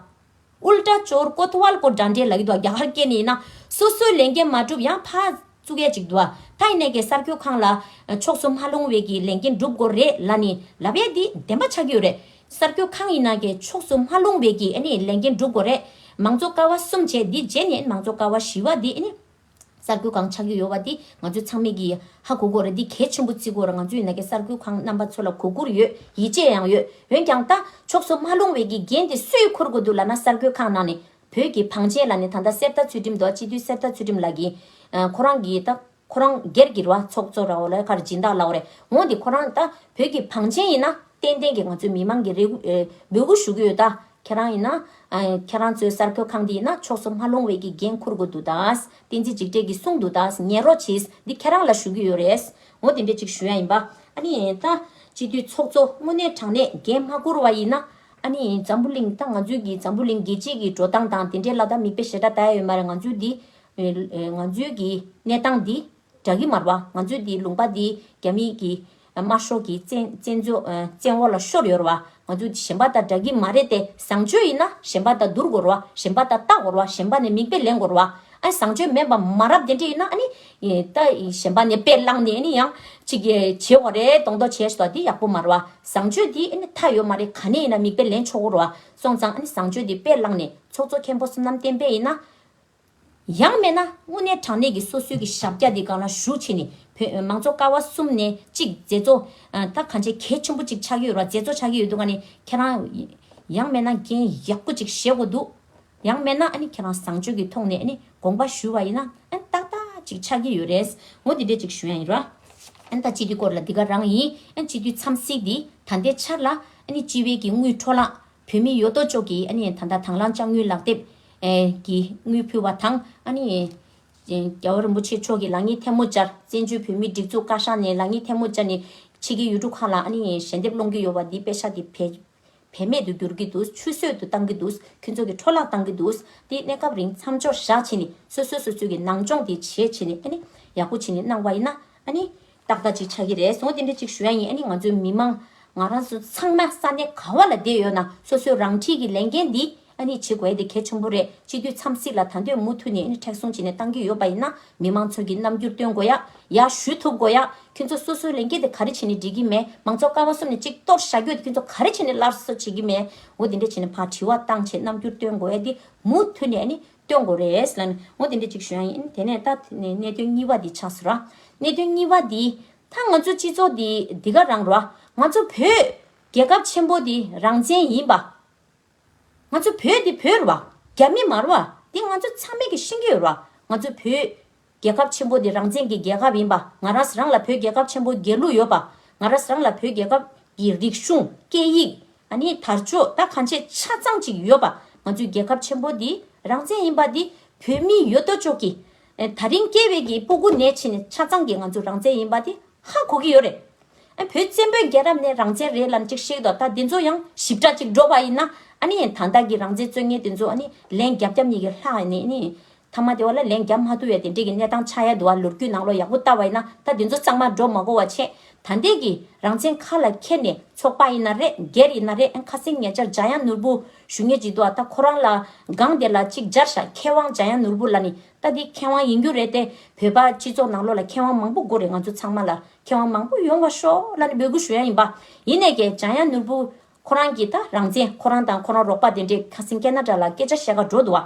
དབུལ་སྒྲ་སྤྱོར་ཀོ་ཐུ་བལ་ཀོ་སྒྲ་འདྲེ་ལ་གི་དུ་བ་རྒྱ་གར་སྐད་ནི་ཡིན་ན། སོ་སོའི་ལས་འགན་མ་བསྒྲུབས་ཡང་ཕ། གཙུག་ཡ་གཅིག་དུ་བ་ཐའི་ནད་ཀྱི་སར་འཁྱུད་ཁང་ལ། ཕྱོགས་སུ་མ་ལྷུང་བའི་གི་ལས་འགན་བསྒྲུབ་དགོས་རེད་ལ་ནི་ལ་བས་དེ་བདེན་པ་ཆགས་ཀྱི་ཡོད་རེད། སར་འཁྱུད་ཁང་ཡིན་ན་གི་ཕྱོགས་སུ་མ་ལྷུང་བའི་གི་ནི་ལས་འགན་བསྒྲུབ་དགོས་རེད། མང་གཙོ་ཀ་བ་གསུམ་བྱས་དེ་རྗེས་ནི་མང་གཙོ་ཀ་བ་བཞི་བ་དེ་ནི། གསར་འགྱུར་ཁང་ཆགས་རྒྱུ་ཡོད་པ་འདི་ང་ཚོའི་ཚང་མེད་ཀྱི་ཧ་གོ་དགོས་རེད་འདི་གལ་ཆེན་པོ་བརྩི་དགོས་རེད་ང་ཚོ་ཡིན་ན་གི་གསར་འགྱུར་ཁང་རྣམ་པ་ཚོ་ལ་གོ་བཀུར་ཡོད་ཡིད་ཆེས་ཡང་ཡོད་འོན་ཀྱང་ལྟ་ཕྱོགས་སུ་མ་ལྷུང་བའི་གི་འགན་འདི་སུས་འཁུར་དགོས་འདུག་ལ་ན་གསར་འགྱུར་ཁང་ནང་ནས་བོད་ཀྱི་བང་ཆེན་ལ་ནི་ད་ལྟ་གསེར་རྟ་ཚུལ་ཁྲིམས་དོ་སྤྱི་འཐུས་གསེར་རྟ་ཚུལ་ཁྲིམས་ལགས་ཀྱི་ཁོ་རང་གི་ལྟ་ཁོ་རང་སྒེར་གྱི་ར་བ་ཚོགས་གཙོ་ར་བ་ལས་ཁར་སྦྱིན་བདག་ལགས་རེད་འོང་འདི་ཁོ་རང་ལྟ་བོད་ཀྱི་བང་ཆེན་ཡིན་ན་ཏན་ཏན་གྱི་ང་ཚོའི་མི་མང་གི་རེ་བསྒུག་ཞུ་གི་ཡོད་ལྟ། ཁྱེད་རང་ཡིན་ན། ཁྱེད་རང་ཚོའི་སར་ཁོའི་ཁང་འདི་ཡིན་ན་ཕྱོགས་སུ་མ་ལྷུང་བའི་ཀྱི་འགན་འཁུར་དགོས་འདུག་ད། བསྟན་འཛིན་འཇིགས་བྲལ་གྱིས་གསུངས་འདུག་ད། ཉན་རོགས་གྱིས། འདི་ཁྱེད་རང་ལ་ཞུ་གི་ཡོད་རེད། ངོ་དེ་འདྲས་ཅིག་ཞུ་ཡ་ཡིན་པ། ཨ་ནི། ད། སྤྱི་འཐུས་ཚོགས་གཙོ་དངོས་གནས་དྲང་གནས་འགན་མ་འཁུར་བ་ཡིན་ན། ཨ་ནི། འཛམ་བུ་གླིང་ད་ང་ཚོའི་གྱི་འཛམ་བུ་གླིང་རྒྱལ་སྤྱིའི་གྱི་འགྲོ་སྟངས་དང་དེ་འདྲས་ལ་ད་མིག་དཔེ་ཞེ་དྲག་བལྟ་ཡ་ཡོད་མ་རེད་ང་ཚོའི་འདི། ང་ཚོའི་གྱི་གནས་སྟངས་འདི། བྲག་གི་མར་བ་ང་ཚོའི་འདིའི་ལུང་པ་འདི་རྒྱ་མི་གི་དམར་ཤོག་གི་བཙན་འོག་ལ་ཤོར་ཡོར་བ་ང་ཚོ་གཞན་པ་དང་བྲག་གི་མ་རེད་དེ་བཟང་སྤྱོད་ཡིན་ན་གཞན་པ་དང་བསྡུར་དགོར་བ་གཞན་པ་དང་བལྟ་དགོར་བ་གཞན་པ་ནས་མིག་དཔེ་ལེན་དགོར་བ་ཨ་ནི་བཟང་སྤྱོད་མེད་པ་མ་རབས་དེ་འདྲ་ཡིན་ན་ཨ་ནི་གཞན་པ་ནས་དཔེ་བླངས་ནས་ཨ་ནི་ཡང་ཅིག་བྱེད་དགོ་རེད་གདོང་མདོག་བྱེད་ཟོ་དེ་ཡག་པོ་མ་རེད་བ་བཟང་སྤྱོད་འདི་ཨ་ནི་མཐའ་ཡོད་མ་རེད་ག་ནས་ཡིན་ན་མིག་དཔེ་ལེན་ཆོག་དགོར་བ་སོང་ཙང་ཨ་ནི་བཟང་སྤྱོད་འདི་དཔེ་བླངས་ནས་ཚོགས་གཙོ་མཁན་པོ་སོམ་ནམ་བསྟན་པས་ཡིན་ན། ཡང་མེད་ན་དངོས་གནས་དྲང་གནས་ཀྱི་སོ་སོའི་གི་ཞབས་རྒྱ་དེ་གང་ལ་ཞུགས་བྱས་ནས་བོད་མང་གཙོ་ཀ་བ་གསུམ་ནས་གཅིག་མཛད་གཙོ་ད་གང་ཆེ་གལ་ཆེན་པོ་གཅིག་ཆགས་ཀྱི་ཡོད་ར་མཛད་གཙོ་ཆགས་ཀྱི་ཡོད་འདུག་ག་ནི་ཁྱེད་རང་ཡང་མེད་ན་འགན་ཡག་པོ་གཅིག་བཞེས་དགོས་འདུག་ཡང་མེད་ན་ཨ་ནི་ཁྱེད་རང་བཟང་སྤྱོད་ཀྱི་ཐོག་ནས་ཨ་ནི་དགོངས་པ་ཞུ་བ་ཡིན་ན་ཨན་ཏག་ཏག་གཅིག་ཆགས་ཀྱི་ཡོད་རེད་ངོ་དེ་འདྲས་གཅིག་ཞུ་ཡང་ཡིན་ར། ཨན་ད་སྤྱི་འཐུས་སྐོར་ལ་འདི་ག་རང་ཡིན་ཨན་སྤྱི་འཐུས་འཚམས་གཟིགས་འདི་ད་ལྟའི་ཆར་ལ་ཨ་ནི་སྤྱི་བའི་གི་དངུལ་འཕྲོ་བརླག་བོད་མི་ཡོད་དོ་ཅོག་གི་ཨ་ནི་ད་ད་དང་བླངས་དཔྱ་དངུལ་ལག་དེབ་ཀྱི་དངུལ་ཕུལ་བ་དང། རྒྱལ་བ་རིན་པོ་ཆེ་མཆོག་གིས་ལག་གཉིས་ཐལ་མོ་སྦྱར། བཙན་བྱོལ་བོད་མིའི་སྒྲིག་འཛུགས་བཀའ་ཤག་ནས་ལག་གཉིས་ཐལ་མོ་སྦྱར་ནས། ཕྱི་རྒྱལ་ཡུལ་གྲུ་ཁག་ལ་ཞལ་འདེབས་སློང་གི་ཡོད་པ་འདིས་དཔེ་ཆ་དེ་བེད་མེད་དུ་འགྱུར་གྱི་འདུག་ཆུད་ཟོས་དུ་བཏང་གི་འདུག་ཁྱོད་ཚོ་གི་འཕྲོ་བརླག་བཏང་གི་འདུག་དེ་གནས་སྐབས་རིང་མཚམས་འཇོག་བཞག་བྱས་ནས་སོ་སོས་སོ་སོའི་གི་ནང་སྦྱོང་དེ་བྱས་བྱས་ནས་ཡག་པོ་བྱས་ནས་གནང་བ་ཡིན་ན། ཏག་ཏག་ཅིག་ཆགས་ཀྱི་རེད་སོང་དེ་འདྲ་ཅིག་ཞུ་ཡ་ཡིན་ང་ཚོའི་མི་མང། ང་རང་ཚོ་ཚང་མ་ས་གནས་ག་བ་ལ་བསྡད་ཡོད་ན་སོ་སོས་རང་འཁྲིས་ཀྱི་ལས་འགན་འདི། ཨ་ནི་བྱེད་དགོས་དེ་གལ་ཆེན་པོ་རེད་སྤྱི་འཐུས་འཚམས་གཟིགས་ལ་ད་འདོད་མུ་མཐུད་ནས་ནི་མཁྲེགས་བཟུང་བྱེད་ནས་གཏང་གི་ཡོད་པ་ཡིན་ན་མི་མང་ཚོས་ཀྱི་རྣམ་འགྱུར་སྟོན་དགོས་ཡ་ཡ་ཞུ་ཐུབ་དགོས་ཡ་ཁྱོད་ཚོ་སོ་སོའི་ལས་འགན་དེ་ག་རེ་བྱེད་ནས་འགྲིག་གི་མེད་མང་ཚོགས་ཀ་བ་གསུམ་ནས་གཅིག་གཏོར་བྱ་རྒྱུ་དེ་ཁྱོད་ཚོ་ག་རེ་བྱེད་ནས་སླར་གསོ་བྱེད་ཀྱི་མེད་འོ་དེ་འདྲ་བྱེད་ནས་ཕར་དྲི་བ་བཏང་བྱེད་རྣམ་འགྱུར་སྟོན་དགོས་ཡ་དེ་མུ་མཐུད་ནས་ནི་སྟོན་དགོས་རེད་ལན་འོ་དེ་འདྲ་གཅིག་ཞུ་ཡ་ཡིན་དེ་ནས་ད་ནི་གནད་དོན་གཉིས་པ་དེ་ཆགས་སོ་ར་གནད་དོན་གཉིས་པ་དེ་ད་ང་ཚོའི་སྤྱི་ཚོགས་དེ་འདི་ག་རང་ར་ང་ཚོ་བོད་རྒྱལ་ཁབ་ཆེན་པོ་དེ་རང་བཙན་ཡིན་པ། ང་ཚོ་བོད་འདི་བོད་རུ་བ། རྒྱ་མི་མ་རུ་བ། འདི་ང་ཚོ་ཚང་མེད་ཀྱི་ཤིང་གི་ཡུ་རུ་བ། ང་ཚོ་བོད། རྒྱལ་ཁབ་ཆེན་པོ་འདི་རང་བཙན་གྱི་རྒྱལ་ཁབ་ཡིན་པ། ང་རང་རང་ལ་བོད་རྒྱལ་ཁབ་ཆེན་པོ་རྒྱལ་གླུ་ཡོད་པ། ང་རང་རང་ལ་བོད་རྒྱལ་ཁབ་ཀྱི་རིག་གཞུང། སྐད་ཡིག། ནི་དར་ལྕོག་ད་གང་ཆེ་ཆ་ཚང་ཅིག་ཡོད་པ། ང་ཚོའི་རྒྱལ་ཁབ་ཆེན་པོ་འདི་རང་བཙན་ཡིན་པ་འདི་བོད་མི་ཡོད་དོ་ཅོག་གིས། ད་རིང་སྐྱེས་བའི་གི་པུ་གུ་ནས་ཕྱིན་ནས་ཆ་ཚང་གི་ང་ཚོ་རང་བཙན་ཡིན་པ་དེ་ཧ་གོ་གི་ཡོད་རེད། བོད་བཙན་པོའི་རྒྱལ་རབས་ནས་རང་བཙན་རེད་ལམ་ཅིག་ཤེས་ཀྱི་འདུག་ད་དེ་ཚོ་ཡང་ཞིབ་ཕྲ་ཅིག་འགྲོ་བ་ཡིན་ན་ཨ་ནི་ད་ལྟ་གི་རང་བཙན་རྩོད་ངན་དེ་ཚོ་ཨ་ནི་ལན་རྒྱབ་རྒྱབ་གཉིས་ཀྱི་ལྷག་ནས་ནི། ཐ་མ་དེ་བ་ལ་ལན་རྒྱབ་མ་ཐུབ་ཡ་དེ་འདྲས་གི་གནས་སྟངས་ཆགས་ཡ་འདུག་ཨ་ལོ་རྒྱུས་ནང་ལོག་ཡག་པོ་བལྟ་བ་ཡིན་ན་ད་དེ་ཚོ་གཙང་མ་འགྲོ་མ་གོ་བ་ཆེད་ད་འདས་གི་རང་བཙན་ཁ་ལ་ཁྱེར་ནས་ཚོགས་པ་ཡིན་ན་རེད་སྒེར་ཡིན་ན་རེད་ཁ་སེང་ངེད་ཅག་འཇའ་ཡང་ནོར་བུ་ཞུ་ངེས་ཅིག་འདུག་ད་ཁོ་རང་ལ་སྒང་དེ་ལ་ཅིག་སྦྱར་བཞག་མཁས་དབང་འཇམ་དབྱངས་ནོར་བུ་ལ་ནི་ལྟ་འདི་མཁས་དབང་ཡིན་རྒྱུ་རེད་དེ་བོད་པ་སྤྱི་ཚོགས་ནང་ལོ་ལ་མཁས་དབང་མང་པོ་དགོས་རེད་ང་ཚོ་ཚང་མ་ལ་མཁས་དབང་མང་པོ་ཡོང་བ་ཤོག་ལ་ནི་འབོད་སྐུལ་ཞུ་ཡ་ཡིན་པ་ཡིན་ནས་ཀྱེ་འཇམ་དབྱངས་ནོར་བུ་ཁོ་རང་གི་ད་རང་བཙན་ཁོ་རང་དང་ཁོ་རང་རོགས་པ་དེ་འདྲས་ཁ་སིང་སྐད་ན་དྲ་ལ་སྐད་ཆ་བཤད་ཁ་འགྲོ་འདུག་བ།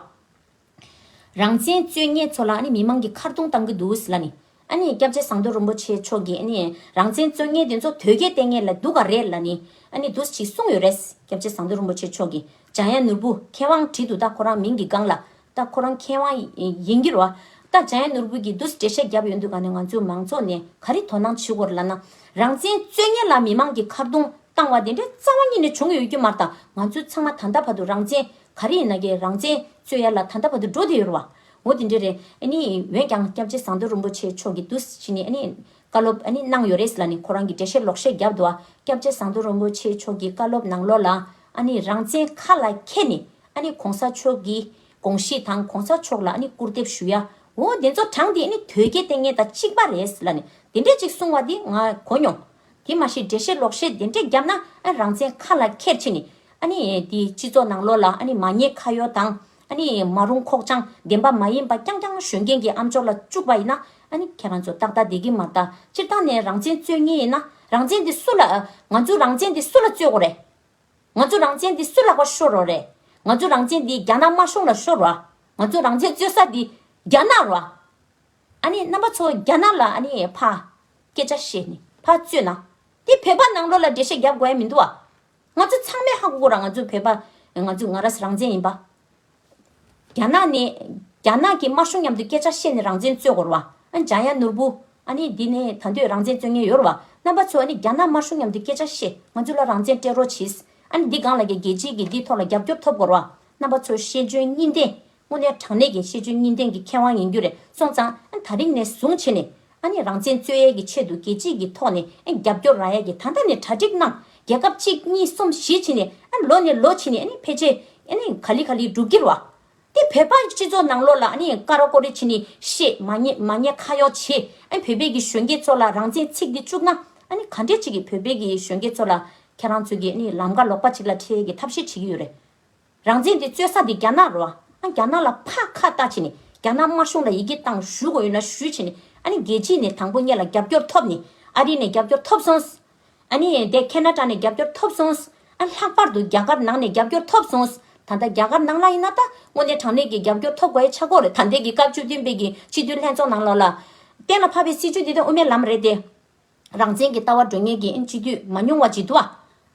རང་བཙན་རྩོད་ཉེས་ཚོ་ལ་ནི་མི་མང་གི་ཁར་རྡུང་གཏང་གི་འདུག་ལ་ནི། ཨ་ནི་སྐྱབས་རྗེ་ཟངས་མདོག་རིན་པོ་ཆེ་མཆོག་གིས་ནི་རང་བཙན་རྩོད་ངེས་དེ་ཚོ་དོལ་རྒྱལ་བསྟེན་ངེས་ལ་འདུག་ག་རེད་ལ་ནི། ཨ་ནི་འདུག་ཅིག་གསུངས་ཡོད་རེད། སྐྱབས་རྗེ་ཟངས་མདོག་རིན་པོ་ཆེ་མཆོག་གིས་འཇང་ཡ་ནོར་བུ་མཁས་དབང་བྲིས་འདུག་ད་ཁོ་རང་མིང་གི་སྒང་ལ། ད་ཁོ་རང་མཁས་དབང་ཡིན་གྱི་རོ། ད་འཇང་ཡ་ནོར་བུ་གིས་འདུག་འགྲེལ་བཤད་བརྒྱབ་ཡོད་འདུག་ག་ནི་ང་ཚོའི་མང་ཚོགས་ནས་ག་རེ་དོ་སྣང་བྱེད་དགོས་ར་ལ་ན། རང་བཙན་རྩོད་ངེས་ལ་མི་མང་གི་ཁར་རྡུང་བཏང་བ་དེ་འདྲའི་རྩ་བ་གཉིས་ནས་བྱུང་ཡོད་རྒྱུ་མ་གཏང་ང་ཚོས་ཚང་མ་ད་ལྟ་བར་དུ་རང་བཙན། ག་རེ་ཡིན་ན་གི་རང་བཙན། རྩོད་ཡ་ལ་ད་ལྟ་བར་དུ་འགྲོ་བསྡད་ཡོད་རེད་བ། འོ་དེ་འདྲས་རེད། ཨ་ནི་འོན་ཀྱང་སྐྱབས་རྗེ་ཟངས་མདོག་རིན་པོ་ཆེ་མཆོག་གིས་དུས་ཕྱིས་ནས་ཨ་ནི། བཀའ་སློབ་ཨ་ནི་གནང་ཡོད་རེད་ལ་ནི་ཁོ་རང་གིས་འགྲེལ་བཤད་ལོག་བཤད་བརྒྱབ་འདུག་བ། སྐྱབས་རྗེ་ཟངས་མདོག་རིན་པོ་ཆེ་མཆོག་གིས་བཀའ་སློབ་ནང་ལོག་ལ། ཨ་ནི་རང་བཙན་ཁ་ལ་ཁྱེར་ནས། ཨ་ནི་གོང་ས་མཆོག་གི། དགོངས་གཞི་དང་གོང་ས་མཆོག་ལ་ཨ་ནི་སྐུར་འདེབས་ཞུ་ཡ། འོ་དེ་ཚོ་དྲངས་དེ་ཨ་ནི་དོལ་རྒྱལ་ལྟས་ངན་དང་གཅིག་པ་རེད་ལ་ནི། དེ་འདྲས་ཅིག་གསུང་བ་དེ་ང་གོ་མྱོང། དེ་མ་ཤེས་འགྲེལ་བཤད་ལོག་བཤད་དེ་འདྲས་བརྒྱབ་ན་རང་བཙན་ཁ་ལ་ཁྱེར་ཕྱིན་ནི། དེ་སྤྱི་ཚོགས་ནང་ལོག་ལ་མ་ཉེས་ཁ་གཡོག་དང། མ་རུང་ཁོག་བཅང་བདེན་པ་མ་ཡིན་པ་རྐྱང་རྐྱང་གཞོན་སྐྱེས་ཀྱི་ཨམ་ཅོག་ལ་བཅུག་པ་ཡིན་ན། ཁྱེད་རང་ཚོ་ཏག་ཏག་བསྡད་ཀྱི་མ་གཏགས་སྤྱིར་བཏང་ནས་རང་བཙན་རྩོད་ངེས་ཡིན་ན། རང་བཙན་དེ་སུ་ལ། ང་ཚོའི་རང་བཙན་དེ་སུ་ལ་རྩོད་དགོས་རེད། ང་ཚོའི་རང་བཙན་དེ་སུ་ལག་པ་ཤོར་རོགས་རེད། ང་ཚོའི་རང་བཙན་དེ་རྒྱ་ནག་དམར་གཞུང་ལ་ཤོར་རོགས། ང་ཚོའི་རང་བཙན་རྩོད་ས་དེ་རྒྱ་ནག་རོགས། ཨ་ནི་རྣམ་པ་ཚོ་རྒྱ་ནག་ལ་ཨ་ནི་ཕ། སྐད་ཆ་བཤད་ནི་ཕ་བཙུད་ན། དེ་བོད་པ་ནང་ལོག་ལ་འགྲེལ་བཤད་རྒྱབ་དགོས་ཨེ་མི་འདུག་ཨ། ང་ཚོ་ཚང་མས་ཧ་གོ་གོ་ར་ང་ཚོ་བོད་པ། ང་ཚོ་ང་རས་རང་བཙན་ཡིན་པ། རྒྱ་ནག་ནི། རྒྱ་ནག་གི་དམར་གཞུང་མཉམ་དུ་སྐད་ཆ་བཤད་ནི་རང་བཙན་རྩོད་གོ་ར་བ། འཇམ་དབྱངས་ནོར་བུ། ཨ་ནི་འདི་ནི་ད་འདོད་རང་བཙན་རྩོད་ཉེན་ཡོད་ར་བ། རྣམ་པ་ཚོ་ཨ་ནི་རྒྱ་ནག་དམར་གཞུང་མཉམ་དུ་སྐད་ཆ་བཤད་ང་ཚོ་ལ་རང་བཙན་སྤྲད་རོགས་བྱིས། ཨ་ནི་འདི་སྒང་ལ་རྒྱ་རྒྱལ་སྤྱིའི་གི་འདི་ཐོག་ལ་རྒྱབ་སྐྱོར་ཐོབ་གོ་ར་བ། རྣམ་པ་ཚོ་ཤེས་འཇོན་གཉིས་ལྡན། དངོས་གནས་དྲང་གནས་ཀྱི་ཤེས་འཇོན་གཉིས་ལྡན་གྱི་མཁས་དབང་ཡིན་རྒྱུ་རེད་སོང་ཙང་ད་རིང་ནས་བཟུང་ཕྱི་ནས་ནས་རང་བཙན་རྩོད་ཡས་ཀྱི་ཆེད་དུ་རྒྱལ་སྤྱིས་ཀྱི་ཐོག་ནས་རྒྱབ་སྐྱོར་རག་ཡས་ཀྱི་ད་ལྟ་ནས་གྲ་སྒྲིག་གནང་རྒྱལ་ཁབ་གཅིག་གཉིས་གསུམ་བཞི་ཕྱི་ནས་ལོ་ནས་ལོ་ཕྱི་ནས་ཕལ་ཆེ་ག་ལི་ག་ལི་འགྲུབ་ཀྱི་རོགས་དེ་བོད་པ་སྤྱི་ཚོགས་ནང་ལོ་ལ་ཀ་རོ་ཀོ་རི་ཕྱི་ནས་བཤད་མ་ཉན་མ་ཉན་ཁ་གཡོག་བྱེད་བོད་པའི་གི་གཞོན་སྐྱེས་ཚོ་ལ་རང་བཙན་ཚིག་འདི་བཅུག་ན་ག་འདྲས་བྱེད་ཀྱི་བོད་པའི་གི་གཞོན་སྐྱེས་ཚོ་ལ་ཁྱེད་རང་ཚོ་གི་ལམ་ཀ་ལོག་པ་ཅིག་ལ་འཁྲིད་ཡས་ཀྱི་ཐབས་ཤེས་བྱེད་ཀྱི་ཡོད་རེད། རང་བཙན་དེ་རྩོད་ས་དེ་རྒྱ་ནག་རོ། ཨ་རྒྱ་ནག་ལ་ཕ་ཁ་བཏགས་བྱས་ནས་རྒྱ་ནག་དམར་གཞུང་ལ་ཡི་གེ་གཏང་ཞུ་དགོས་ཡོད་ན་ཞུས་བྱས་ནས་ཨ་ནི་རྒྱལ་སྤྱི་ནས་དང་པོ་ངེད་ལ་རྒྱབ་སྐྱོར་ཐོབ་ནས་ཨ་རི་ནས་རྒྱབ་སྐྱོར་ཐོབ་སོང། ཨ་ནི་འདས་ཁེ་ན་ཏྲ་ནས་རྒྱབ་སྐྱོར་ཐོབ་སོང། ཨ་ལྷག་པར་དུ་རྒྱ་གར་ནང་ནས་རྒྱབ་སྐྱོར་ཐོབ་སོང། ད་ལྟ་རྒྱ་གར་ནང་ལ་ཡིན་ན་ད་དངོས་གནས་དྲང་གནས་ཀྱི་རྒྱབ་སྐྱོར་ཐོབ་དགོས་ཡ་ཆ་སྐོར་རེད་ད་འདས་ཀྱི་སྐབས་བཅུ་བདུན་པའི་གྱི་སྤྱི་འཐུས་ལྷན་ཚོགས་ནང་ལོགས་ལ། གཏན་ལ་ཕབ་པའི་སྲིད་བྱུས་དེ་དོན་དབུ་མའི་ལམ་རེད་དེ། རང་བཙན་གྱི་ལྟ་བ་འགྲོ་ངེས་ཀྱིན་སྤྱི་འཐུས་མ་ཉུང་བ་ཅིག་འདུག།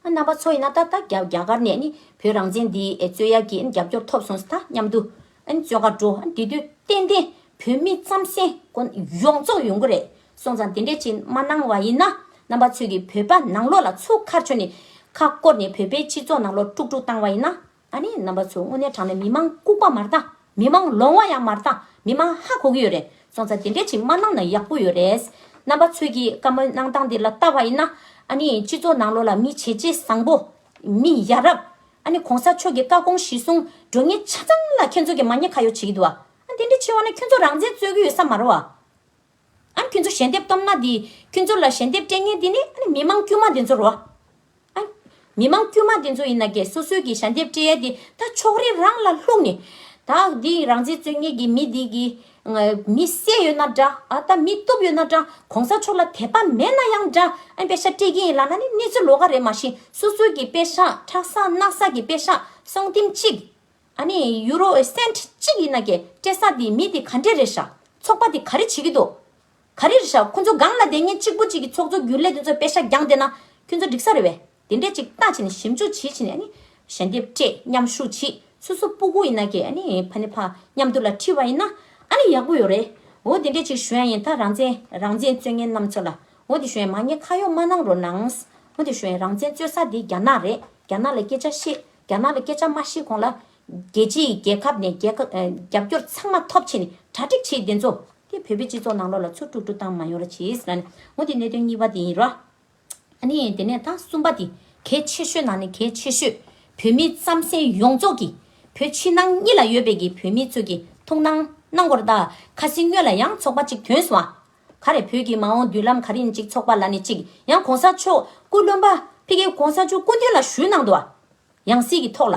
རྣམ་པ་ཚོ་ཡིན་ན་ད་ལྟ་རྒྱ་གར་ནས་བོད་རང་བཙན་འདི་རྩོད་ཡ་གྱི་རྒྱབ་སྐྱོར་ཐོབ་སོང་ས་ད་སྙམ་དུ་རྩོད་ག་འགྲོ་འདི་དུས་གཏན་གཏན་བོད་མི་རྩམ་ཟན་དགོན་ཡོངས་རྫོགས་ཡོང་གི་རེད་སོང་ཙང་དེ་འདྲས་ཅིག་མ་གནང་བ་ཡིན་ན་རྣམ་པ་ཚོས་ཀྱི་བོད་པ་ནང་ལོག་ལ་ཚུགས་ཁར་ཆོ་ནས་ཁ་བསྐོར་ནས་བོད་པའི་སྤྱི་ཚོགས་ནང་ལོག་དཀྲུག་དཀྲུག་བཏང་བ་ཡིན་ན་ད་ནི་རྣམ་པ་ཚོ་དངོས་གནས་དྲང་ནས་མི་མང་ལྐུག་པ་མར་བཏང་མི་མང་ལོང་བ་ཡང་མར་བཏང་མི་མང་ཧ་གོ་གི་ཡོད་རེད་སོང་ཙང་དེ་འདྲས་ཅིག་མ་གནང་ན་ཡག་པོ་ཡོད་རེད། རྣམ་པ་ཚོས་ཀྱིས་བཀའ་མོལ་གནང་སྟངས་འདི་ལ་བལྟ་བ་ཡིན་ན། ཨ་ནི་སྤྱི་ཚོགས་ནང་ལོ་ལ་མི་བྱེད་ཅེ་བཟང་པོ། མི་ཡ་རབས། ཨ་ནི་གོང་ས་མཆོག་གིས་བཀའ་དགོངས་གཞི་བཟུང་འགྲོ་ངེས་ཆ་ཚང་ལ་ཁྱོད་ཚོ་གིས་མ་ཉེས་ཁ་ཡོག་བྱེད་ཀྱི་འདུག་ཨ། དེ་འདྲས་བྱེད་བ་ན་ཁྱོད་ཚོ་རང་བཙན་རྩོད་ཀྱི་ཡོད་ས་མ་རོ་ཨ། ཨ་ཁྱོད་ཚོ་ཞལ་འདེབས་སྟོབས་ན་དེ། ཁྱོད་ཚོ་ལ་ཞལ་འདེབས་སྤྲད་ཉེན་དེ་ནི་ཨ་ནི་མི་མང་དཀྱུས་མ་དེ་ཚོར་རོ། ཨ། མི་མང་དཀྱུས་མ་དེ་ཚོ་ཡིན་ན་ཀྱེ་སོ་སོའི་གི་ཞལ་འདེབས་སྤྲད་ཡས་དེ་ད་ཕྱོགས་རེ་རང་ལ་ལྷུག་ནས། ད་དེ་རང་བཙན་རྩོད་ངེས་ཀྱི་མི་དེ་གི། མི་བསད་ཡོད་ན་འདྲ་ཨ་ད་མི་གཏུབ་ཡོད་ན་འདྲ་གོང་ས་མཆོག་ལ་དད་པ་མེད་ན་ཡང་འདྲ་ཨ་དཔེ་ཤ་སྤྲད་ཀྱིན་ཡིན་ལགས་ན་ནི་གནས་ཚུལ་ལོག་ག་རེད་མ་གཞི་སོ་སོའི་གི་དཔེ་ཤ་ཁྲག་ཟངས་སྣག་ས་གི་དཔེ་ཤ་སྲོང་བསྟིམ་གཅིག། ཨ་ནི་ཡུ་རོ་ཨེ་སེན་གཅིག་ཡིན་ན་ཀྱེ་སྐྲས་སངས་དེ་མི་དེ་ག་འདྲེ་རེད་ཤག་ཚོགས་པ་དེ་ག་རེ་བྱེད་ཀྱི་འདུག་ག་རེ་རེད་ཤག་ཁོང་ཚོ་སྒང་ལ་དེ་སྙེད་གཅིག་པོ་གཅིག་གི་ཚོགས་གཙོ་གྱུར་ལས་དེ་ཚོ་དཔེ་ཤ་རྒྱང་དེ་ན་ཁྱོད་ཚོ་འགྲིག་ས་རེད་བས་དེ་འདྲས་གཅིག་ལྟ་བྱེད་ནས་ཞིབ་འཇུག་བྱེད་བྱེད་ནས་ཨ་ནི་ཞལ་འདེབས་སྤྲད་མཉམ་ཞུགས་བྱེད་སུ་སུ་སྤུ་གུ་ཡིན་ན་ཀྱེ་ཨ་ནི་ཕ་ནི་ཕ་མཉམ་དུ་ལ་འཁྲིད་བ་ཡིན་ན་ཨ་ནི་ཡག་པོ་ཡོད་རེད་འོ་དེ་འདྲས་གཅིག་ཞོན་ཡིན་ད་རང་བཙན་རང་བཙན་རྩོད་མཁན་རྣམས་ཚོ་ལ་འོ་དེ་ཞོན་མ་ངས་ཁ་གཡོག་མ་གནང་རོགས་གནང་འོ་དེ་ཞོན་རང་བཙན་རྩོད་ས་དེ་རྒྱ་ནག་རེད་རྒྱ་ནག་ལ་སྐད་ཆ་བཤད་རྒྱ་ནག་ལ་སྐད་ཆ་མ་བཤད་གོང་ལ། རྒྱལ་སྤྱི་ཡི་རྒྱལ་ཁབ་ནས་རྒྱབ་སྐྱོར་ཚང་མ་ཐོབ་ཕྱིན་ནས་གྲ་སྒྲིག་བྱེད་བདེན་ཚོ། དེ་བོད་པའི་སྤྱི་ཚོགས་ནང་ལོག་ལ་ཚུར་དཀྲུག་དཀྲུག་བཏང་མ་ཡོང་ར་བྱེད། ང་ནི་གནད་དོན་གཉིས་པ་དེ་ཡིན་ར། ཨ་ནི་དེ་ནས་ད་གསུམ་པ་དེ་གལ་ཆེ་ཤོས་ནང་ནས་གལ་ཆེ་ཤོས། བོད་མི་རྩམ་གཟན་ཡོངས་རྫོགས་ཀྱི། བོད་ཕྱི་ནང་གཉིས་ལ་ཡོད་པའི་གི་བོད་མི་ཚོས་གི་ཐུགས་སྣང་གནང་དགོ་ར་ད། ཁ་སི་སྨྱོན་ལ་ཡང་ཚོགས་པ་གཅིག་དོན་སུ་ཨ། ག་རེ་བོད་ཀྱི་མ་འོངས་མདུན་ལམ་ག་རེ་ནི་གཅིག་ཚོགས་པ་ལ་ནི་གཅིག་ཡང་གོང་ས་མཆོག་སྐུ་བློན་པ་ཕི་གེ་གོང་ས་མཆོག་སྐུ་མདུན་ལ་ཞུས་གནང་འདུག་ཡང་སྲིད་ཀྱི་ཐོག་ལ་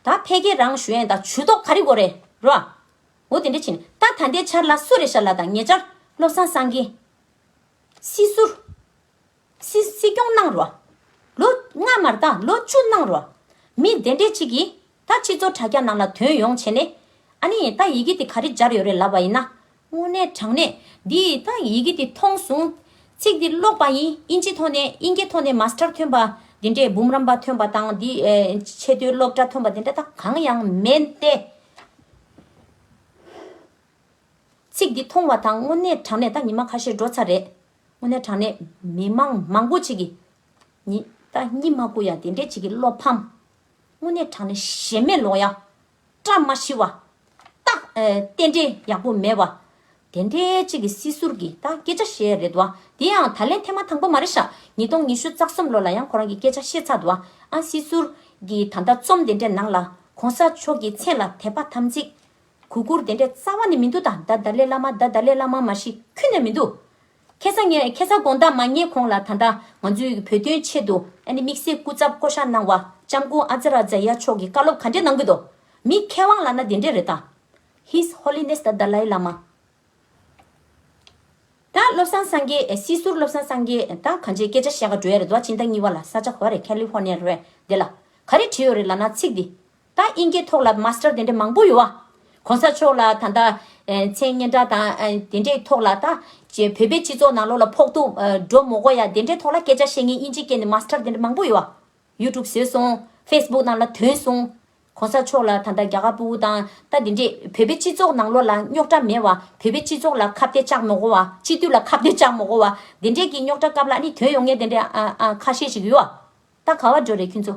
ད་ཕེ་གེ་རང་ཞུ་ཡན་དང་ཇུས་ཏོག་ག་རེ་གོ་རེ་རོ། འོ་དེ་འདྲ་བྱིན་ད་ད་ལྟའི་ཆར་ལ་སུ་རེ་ཤ་ལ་དང་ཉེ་ཆར་བློ་བཟང་སངས་རྒྱས། སྲིད་ཟུར། སྲི་སྲིད་སྐྱོང་གནང་རོ། ལོ་ལྔ་མ་རྟག་ལོ་བཅུ་གནང་རོ། མི་དེ་འདྲས་གཅིག་གིས་ད་ཕྱི་ཚོར་དྲ་རྒྱ་ནང་ལ་དོན་ཡོང་བྱས་ནས། ཨ་ནི་ད་ཡི་གེ་དེ་ག་རེ་སྦྱར་ཡོད་རེད་ལབ་པ་ཡིན་ན། དངོས་གནས་དྲང་གནས། འདི་ད་ཡི་གེ་དེ་མཐོང་སོང། ཚིག་འདི་ཀློག་པ་ཡིན་ཨིན་ཇི་ཐོག་ནས་ཨིན་སྐད་ཐོག་ནས་མཱ་སི་ཏར་ཐོན་པ། འདི་འདྲས་འབུམ་རམས་པ་ཐོན་པ་དང་འདི་ཆེ་བསྟོད་སློབ་གྲྭ་ཐོན་པ་འདི་འདྲ་ད་གང་ཡང་མེད་དེ། ཚིག་འདི་མཐོང་བ་དང་དངོས་གནས་དྲང་གནས་ད་ཉི་མ་ཁ་ཤས་འགྲོ་ཚར་རེད། དངོས་གནས་དྲང་གནས། མི་མང་མང་པོ་ཅིག་གིས། ནི་ད་སྙི་མ་ཀུ་ཡ་དེ་འདྲས་ཅིག་གི་བློ་ཕམ། དངོས་གནས་གྲགས་ནས་ཞེན་མེད་ལོང་ཡང། བཀྲ་མ་ཤིས་བ། རྟགས། རྟེན་འབྲེལ་ཡག་པོ་མེད་བ། དེ་འདྲའི་ཅིག་གི་སྲིད་ཟུར་གྱི་ད་སྐད་ཆ་བཤད་རེད་བ། དེ་ཡང་ད་ལན་ཐེངས་མ་དང་པོ་མ་རེད་ཤག་ཉིས་སྟོང་ཉི་ཤུ་རྩ་གསུམ་ལོ་ལ་ཡང་ཁོ་རང་གི་སྐད་ཆ་བཤད་ཚར་འདུག་ཨ། སྲིད་ཟུར། གྱི་ད་ལྟ་རྩོམ་དེ་འདྲའི་ནང་ལ། གོང་ས་མཆོག་གི་མཚན་ལ་དད་པ་དམ་ཚིག། གུ་གུར་དེ་འདྲའི་རྩ་བ་ནས་མི་འདུག་ད་ད་ལའི་བླ་མ་ད་ད་ལའི་བླ་མ་མ་ཤི་ཁུ་ནས་མི་འདུག། ཁེ་བཟང་ངེས་ཁེ་བཟང་དགོངས་དག་མ་རྙེད་གོང་ལ་ད་ལྟ་ང་ཚོའི་བོད་དོན་ཆེད་དུ་ཨ་ནི་དམིགས་བསལ་སྐུ་ཚབ་བསྐོ་གཞག་གནང་བ་ལྕམ་སྐུ་ཨ་ཛ་ར་ཛ་ཡ་མཆོག་གི་བཀའ་སློབ་ག་འདྲེ་གནང་གི་འདུག་མི་མཁས་དབང་ལ་ན་དེ་འདྲེ་རེད་ད། His Holiness the Dalai Lama། ད་བློ་བཟང་སངས་རྒྱས་སྲིད་ཟུར་བློ་བཟང་སངས་རྒྱས་ད་ག་འདྲེ་སྐད་ཆ་བཤད་ག་འགྲོ་ཡ་རེད་དོ་ཨ་ཅི་ད་གཉིས་བ་ལ་ས་ཆ་ག་བ་རེད California རེད་དེ་ལ་ག་རེ་བྲིས་ཡོད་རེད་ལ་ན་ཚིག་དེ་ད་དབྱིན་སྐད་ཐོག་ལ Master དེ་འདྲ་མང་པོ་ཡོད། གོང་ས་མཆོག་ལ་ད་ལྟ་མཚན་སྙན་གྲགས་དང་དེ་འདྲའི་ཐོག་ལ་ད་བོད་པའི་སྤྱི་ཚོགས་ནང་ལོགས་ལ་ཕོག་ཐུག་འགྲོ་མོ་གོ་ཡ་དེ་འདྲའི་ཐོག་ལ་སྐད་ཆ་བཤད་ངེས་དབྱིན་ཇི་སྐད་ནི Master དེ་འདྲ་མང་པོ་ཡོད། YouTube བཟོས་སོང Facebook ནང་ལ་དོན་སོང། གོང་ས་མཆོག་ལ་ད་ལྟ་རྒྱ་གར་པུ་བོ་དང་ད་དེ་འདྲས་བོད་པའི་སྤྱི་ཚོགས་ནང་ལོགས་ལ་རྙོག་དྲ་མེད་བ་བོད་པའི་སྤྱི་ཚོགས་ལ་ཁ་བཏད་བཅག་མོ་གོ་བ་སྤྱི་འཐུས་ལ་ཁ་བཏད་བཅག་མོ་གོ་བ་དེ་འདྲས་ཀྱི་རྙོག་དྲ་སྐབས་ལ་ནི་དོན་ཡོང་ངེས་དེ་འདྲས་ཁ་ཤས་ཤིག་ཡོད། ད་ག་བ་འགྲོ་རེད་ཁྱོད་ཚོ།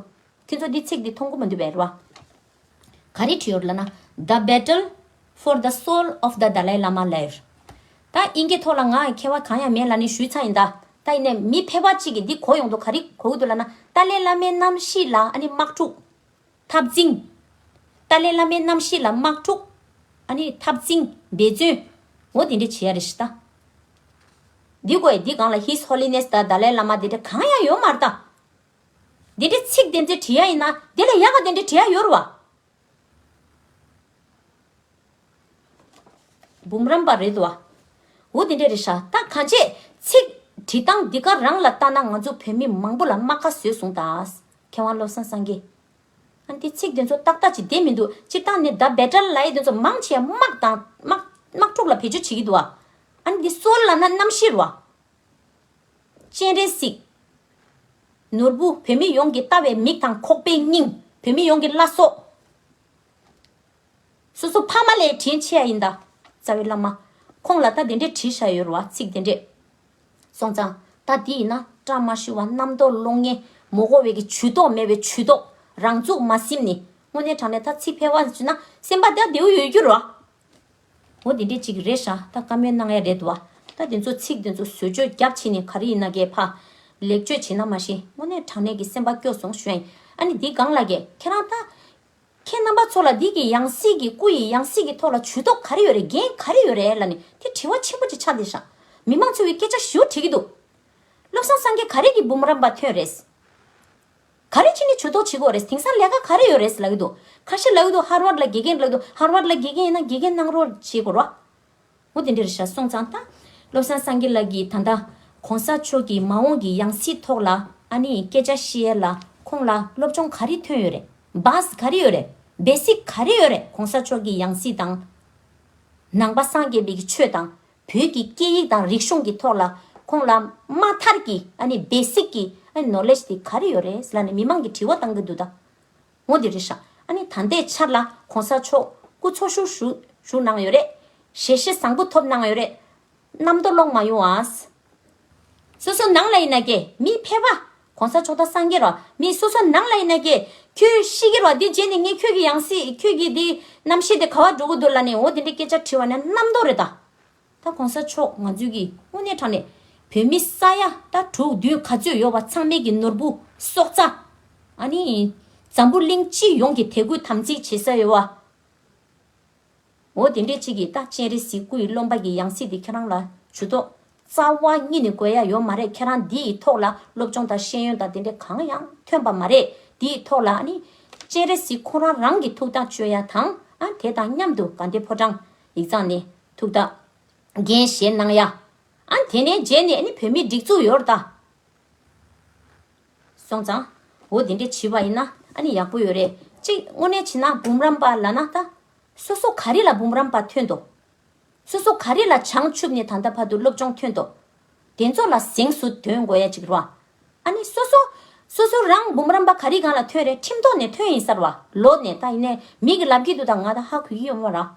ཁྱོད་ཚོ་འདི་ཚིག་འདི་མཐོང་གོ་མ་འདུག་བེ་རོ་ཨ། ག་རེ་བྲིས་ཡོད་ལ་ན། The Battle for the Soul of the Dalai Lama Live། ད་དབྱིན་སྐད་ཐོག་ལ་ང་མཁས་བ་གང་ཡང་མེད་ལ་ནི་ཞུས་ཚ་ཡིན་ད། ད་ཡིན་ནས་མི་ཕལ་བ་གཅིག་གིས་འདི་གོ་ཡོང་དོ་ག་རེ་གོ་གི་འདུག་ལ་ན། ཏཱ་ལའི་བླ་མའི་རྣམ་ཤེས་ལ་ཨ་ནི་དམག་འཁྲུག། འཐབ་འཛིང། ཏཱ་ལའི་བླ་མའི་རྣམ་ཤེས་ལ་དམག་འཁྲུག། ཨ་ནི། འཐབ་འཛིང། འབད་བརྩོན། འོ་དེ་འདྲས་བྱེད་ཡ་རེད་ཤི་ད། འདི་དགོས་ཡ་འདི་གང་ལ His Holiness ད་ད་ལའི་བླ་མ་དེ་འདྲས་གང་ཡང་ཡོད་མ་རེད་ད། དེ་འདྲས་ཚིག་དེ་འདྲས་བྲིས་ཡ་ཡིན་ན་དེ་ལ་ཡག་ག་དེ་འདྲས་བྲིས་ཡ་ཡོད་རེད་བ། འབུམ་རམས་པ་རེད་བ། འུ་དེ་འདྲས་རེད་ཤག་ད་ག་འཆད། ཚིག། བྲིས་སྟངས་འདི་ག་རང་ལ་བལྟ་ན་ང་ཚོ་བོད་མི་མང་པོ་ལ་རྨ་ཁ་བཟོས་སོང་ད། མཁས་དབང་བློ་བཟང་སངས་རྒྱས། ཨ་འདི་ཚིག་དེ་ཚོ་ཏག་ཏག་ཅིག་བསྡད་མི་འདུག་སྤྱིར་བཏང་ནི་ད་བེ་ཏྲ་ལའི་དེ་ཚོ་མང་ཆེ་དམག་དང། དམག་འཁྲུག་ལ་བེད་སྤྱོད་བྱེད་ཀྱི་འདུག་བ། ཨ་འདི་སོར་ལ་ན་རྣམ་བཤེར་བ། སྤྱན་རས་གཟིགས། ནོར་བུ་བོད་མི་ཡོངས་ཀྱི་ལྟ་བའི་མིག་དང་ཁོག་པའི་སྙིང། བོད་མི་ཡོངས་ཀྱི་བླ་སྲོག། སོ་སོ་ཕ་མ་ལས་དྲིན་ཆེ་ཡ་ཡིན་ད། རྩ་བའི་བླ་མ། ཁོང་ལ་ད་དེ་འདྲའི་དྲི་ཞྭ་ཡོད་རུང་བ་ཚིག་དེ་འདྲས། སོང་ཙང། ད་དེ་ཡིན་ན་བཀྲ་མ་ཤིས་བ་རྣམ་རྟོག་བློ་ངན། མོ་གོ་བའི་གི་ཇུས་གཏོགས་མེད་བའི་ཇུས་གཏོགས། རང་ཚུགས་མ་སིམ་ནི། དངོས་གནས་དྲང་གནས་ད་ཚིག་ཕལ་བ་ཞིག་ན་སེམས་པ་ད་བདེའུ་ཡོད་རྒྱུ་ར། འོ་དེ་འདྲས་ཅིག་རེད་ཤག་ད་བཀའ་མོལ་གནང་ཡ་རེད་དུ་བ། ད་དེ་ཚོ་ཚིག་དེ་ཚོ་ཟོལ་བཅོས་རྒྱབ་བྱེད་ནི་ག་རེ་ཡིན་ན་གས་ཕ། ལེགས་བཅོས་བྱེད་ན་མ་ཤེས་དངོས་གནས་དྲང་གནས་གི་སེམས་པ་སྐྱོ་སོང་ཞོན། ཨ་ནི་འདི་གང་ལ་གས་ཁྱེད་རང་ད། ཁྱེད་རྣམ་པ་ཚོ་ལ་འདི་གི་ཡང་སྲིད་ཀྱི་སྐུ་ཡི་ཡང་སྲིད་ཀྱི་ཐོག་ལ་ཇུས་ཏོག་ག་རེ་ཡོད་རེད་འགན་ག་རེ་ཡོད་རེད་ལ་ནི་དེ་དྲི་བ་ཆེན་པོ་ཅིག་ཆགས་འདི་ཞག་མི་མང་ཚོའི་སྐད་ཆ་བཞུར་དྲི་གི་འདུག་བློ་བཟང་སང་གེ་ག་རེ་གི་འབུམ་རམས་པ་ཐོན་རེད། ག་རེ་ཕྱིན་ནི་ཇུས་ཏོག་བྱེད་དགོས་རེད་དེང་སང་ལས་ཀ་ག་རེ་ཡོད་རེད་ལབ་གི་འདུག་ཁ་ཤས་ལབ་གི་འདུག་ཧར་བར་ལ་དགེ་རྒན་ལབ་གི་འདུག་ཧར་བར་ལ་དགེ་རྒན་ཡིན་ན་དགེ་རྒན་གནང་རོགས་བྱེད་དགོས་རོགས། ཧོ། དེ་འདིར་བྱ་སོང་ཙང་ལྟ། བློ་བཟང་སངས་རྒྱས་ལགས་ཀྱིས་ད་ལྟ། གོང་ས་མཆོག་གི་མ་འོངས་ཀྱི་ཡང་སྲིད་ཐོག་ལ་ཨ་ནི་སྐད་ཆ་བཤད་ཡས་ལ་ཁོང་ལ་སློབ་སྦྱོང་ག་རེ་ཐོན་ཡོད་རེད Bus ག་རེ་ཡོད་རེད Basic ག་རེ་ཡོད་རེད་གོང་ས་མཆོག་གི་ཡང་སྲིད་དང། ནང་པ་སངས་རྒྱས་པའི་གི་ཆོས་དང། བོད་ཀྱི་སྐད་ཡིག་དང་རིག་གཞུང་གི་ཐོག་ལ་ཁོང་ལ་དམའ་མཐར་གྱི་ཨ་ནི Basic གི་ཨ་ནི Knowledge དེ་ག་རེ་ཡོད་རེད་ཟེར་ལ་ནི་མི་མང་གི་དྲི་བ་གཏང་གི་འདུག་ད། ངོ་དེ་རེད་ཤག་ཨ་ནི་ད་ལྟའི་ཆར་ལ་གོང་ས་མཆོག་སྐུ་འཚོ་བཞུགས་བཞུགས་གནང་ཡོད་རེད། ཞལ་བཞེས་བཟང་པོ་ཐོབ་གནང་ཡོད་རེད། རྣམ་རྟོག་ལོག་མ་ཡོང་ཨ། སོ་སོ་ནང་ལ་ཡིན་ན་ཀྱེ་མི་ཕལ་བ། གོང་ས་མཆོག་ད་སངས་རྒྱས་རོ། མི་སོ་སོ་ནང་ལ་ཡིན་ན་ཀྱེ། ཁྱོད་ཤི་གི་རོ་དེ་རྗེས་ནས་ངས་ཁྱོད་ཀྱི་ཡང་སྲིད་ཁྱོད་ཀྱི་དེ་རྣམ་ཤེས་དེ་ག་བ་འགྲོ་གི་འདུག་ལ་ནས་འོ་དེ་འདྲའི་སྐད་ཆ་དྲི་བ་ནི་རྣམ་རྟོག་རེད་ད། ད་གོང་ས་མཆོག་ང་ཚོའི་གི་དངོས་གནས་དྲང་ནས་བོད་མི་ས་ཡ་ད་དྲུག་བདུན་ག་ཚོད་ཡོད་བ་ཚང་མེད་གི་ནོར་བུ་སྲོག་རྩ་ཨ་ནི་འཛམ་བུ་གླིང་སྤྱི་ཡོངས་གི་དད་གུས་དམ་ཚིག་བྱེད་ས་ཡོད་བ། འོ་དེ་འདྲའི་ཆེད་གི་ད་སྤྱན་རས་གཟིགས་སྐུ་ཡི་བློ་འབའ་གི་ཡང་སྲིད་དེ་ཁྱེད་རང་ལ་ཇུས་ཏོག་རྩ་བ་གཉིས་ནི་དགོས་ཡ་ཡོད་མ་རེད་ཁྱེད་རང་འདི་ཡི་ཐོག་ལ་སློབ་སྦྱོང་དང་ཤེས་ཡོན་དང་དེ་འདྲའི་གང་ཡང་ཐོན་པ་མ་རེད་འདི་ཡི་ཐོག་ལ་ཨ་ནི་སྤྱན་རས་གཟིགས་ཁོང་རང་རང་གི་ཐུགས་དང་སྤྱོད་ཡ་དང་ཨ་དེ་དང་མཉམ་དུ་དགའ་འདེ་ཕོ་བྲང་ཡིག་ཚང་ནི། ཐུགས་དག། རྒན་གཞན་སྣང་ཡ། ཨ། དེ་ནས་རྗེས་ནས་ནི་བོད་མི་སྒྲིག་འཛུགས་ཡོར་ད། སོང་ཙང། འོ་དེ་འདྲས་བྱིས་པ་ཡིན་ན་ཨ་ནི་ཡག་པོ་ཡོད་རེད་གཅིག་དངོས་གནས་བྱིས་ན་འབུམ་རམས་པ་ལ་ན་ད། སོ་སོ་ག་རི་ལ་འབུམ་རམས་པ་ཐོན་ཏོ། སོ་སོ་ག་རི་ལ་བྱང་ཆུབ་ནས་ད་ལྟ་བར་དུ་སློབ་སྦྱོང་ཐོན་ཏོ། དེ་ཚོ་ལ་གཟེངས་སུ་དོན་དགོས་ཡ་ཅིག་རོ། ཨ་ནི་སོ་སོ། སོ་སོ་རང་འབུམ་རམས་པ་ག་རི་གང་ལ་ཐོན་རེད་ཁྲིམས་ཐོག་ནས་ཐོན་ཡིན་སར་བ་ལོ་ནས་ད་ཡིན་ནས་མི་གི་ལབ་ཀྱི་འདུག་ད་ང་ད་ཧ་གོ་གི་ཡོད་མོ་རང།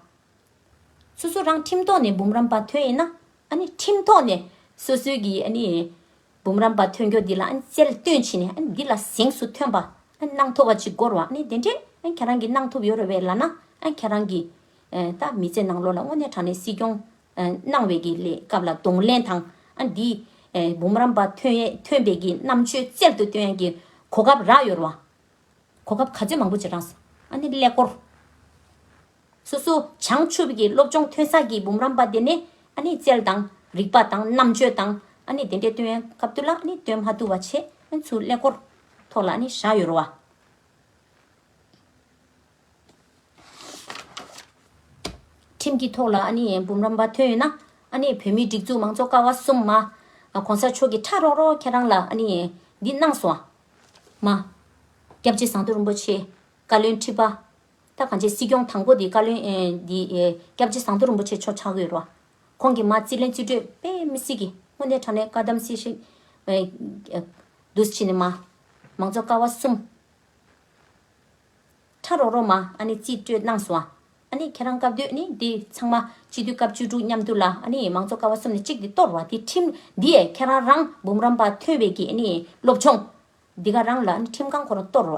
སོ་སོ་རང་ཁྲིམས་ཐོག་ནས་འབུམ་རམས་པ་ཐོན་ཡིན་ན་ཨ་ནི་ཁྲིམས་ཐོག་ནས་སོ་སོའི་གི་ཨ་ནི་འབུམ་རམས་པ་ཐོན་རྒྱོ་འདི་ལ་ཨ་ནི་རྩལ་བཏོན་བྱིན་ནས་ཨ་ནི་འདི་ལ་གཟེངས་སུ་ཐོན་པ་ཨ་ནི་གནང་ཐོབ་བ་ཅིག་དགོ་རོ་ཨ་ནི་དེ་འདྲས་ཨ་ནི་ཁྱེད་རང་གི་གནང་ཐོབ་ཡོ་རོ་བས་ལ་ན་ཨ་ནི་ཁྱེད་རང་གི། ད་མི་ཚེ་ནང་ལོ་ལ་དངོས་གནས་དྲང་གནས་སྲིད་སྐྱོང་སྣང་བའི་གི་ལས་སྐབས་ལ་གདོང་ལེན་དང། འདི། འབུམ་རམས་པ་ཐོན་ཡས་ཐོན་པའི་གི་རྣམ་དཔྱོད་རྩལ་དུ་སྟོན་ཡས་གི་གོ་སྐབས་རག་ཡོད་རུང། གོ་སྐབས་ག་ཚོད་མང་པོ་བྱེད་གྲངས་སུ། ནི་ཀླད་ཀོར། སོ་སོ་བྱང་ཆུབ་གི་སློབ་སྦྱོང་ཐོན་ས་གི་འབུམ་རམས་པ་དེ་ནི། རྩལ་དང། རིག་པ་དང་རྣམ་དཔྱོད་དང། དེ་འདྲའི་སྟོན་ཡས་སྐབས་དུ་ལ་ནི་སྟོན་མ་བཏུ་བ་ཆེ། ཚུ་ཀླད་ཀོར། ཐོག་ལ་ནི་བཞག་ཡོད་རུང་བ། ཁྲིམས་ཀྱི་ཐོག་ལ་ཨ་ནེ་འབུམ་རམས་པ་ཐོན་ཡོད་ན། ཨ་ནེ་བོད་མིའི་སྒྲིག་འཛུགས་མང་གཙོ་ཀ་བ་གསུམ་མ། གོང་ས་མཆོག་གིས་ཁྲག་རོག་རོག་ཁྱེད་རང་ལ་ཨ་ནེ། འདི་གནང་སོང། མ། སྐྱབས་རྗེ་ཟངས་མདོག་རིན་པོ་ཆེ། བཀའ་བློན་ཁྲི་པ། ད་གང་ཆེ་སྲིད་སྐྱོང་དང་པོ་དེ་བཀའ་བློན། འདི། སྐྱབས་རྗེ་ཟངས་མདོག་རིན་པོ་ཆེ་ཆོག་ཆག་གི་རོ། ཁོང་གིས་མ་རྩིས་ལན་རྩིས་སྤྲོད་དཔེ་མི་སྲིད་གི། སྔོན་ནས་དྲང་གནས་བཀའ་གདམས་སྲིད་ཞིག། འདུས་ཕྱིན་ནས་མ། མང་གཙོ་ཀ་བ་གསུམ། ཁྲ་རོག་རོག་མ་ཨ་ནི་རྩིས་སྤྲོད་གནང་སོང་ཨ། ཨ་ནི་ཁྱེད་རང་སྐབས་དུས་ནི་འདི་ཚང་མ་སྤྱི་འཐུས་སྐབས་བཅུ་དྲུག་མཉམ་དུ་ལ་ཨ་ནི་མང་གཙོ་ཀ་བ་གསུམ་ནས་གཅིག་འདི་གཏོར་བ་འདི་ཁྲིམས་འདི་ཡས་ཁྱེད་རང་རང་འབུམ་རམས་པ་ཐོན་བས་ཀྱི་ཨ་ནི་སློབ་ཆུང། འདི་ག་རང་ལ་ཨ་ནི་ཁྲིམས་ཁང་ཁོ་རང་གཏོར་བ།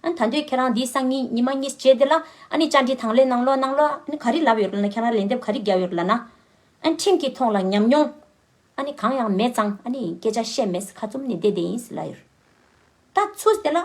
ཨ་ད་འདོད་ཁྱེད་རང་འདི་སང་ཉིན་ཉི་མ་གཉིས་རྗེས་འདི་ལ་ཨ་ནི་བཅར་འདྲི་དང་ལེན་གནང་ལོ་གནང་ལོ་ཨ་ནི་ག་རི་ལབ་ཡོད་ལ་ན་ཁྱེད་རང་ལན་འདེབས་ག་རི་རྒྱབ་ཡོད་ལ་ན། ཨ་ནི་ཁྲིམས་ཀྱི་ཐོག་ལ་ཉམས་མྱོང་ཨ་ནི་གང་ཡང་མེད་ཙང་ཨ་ནི་སྐད་ཆ་བཤད་མེད་ཁ་བཙུམ་ནས་བསྡད་བསྡད་ཡིན་ལ་ཡོད། ད་ཚུ་འདི་ལ་ཨ་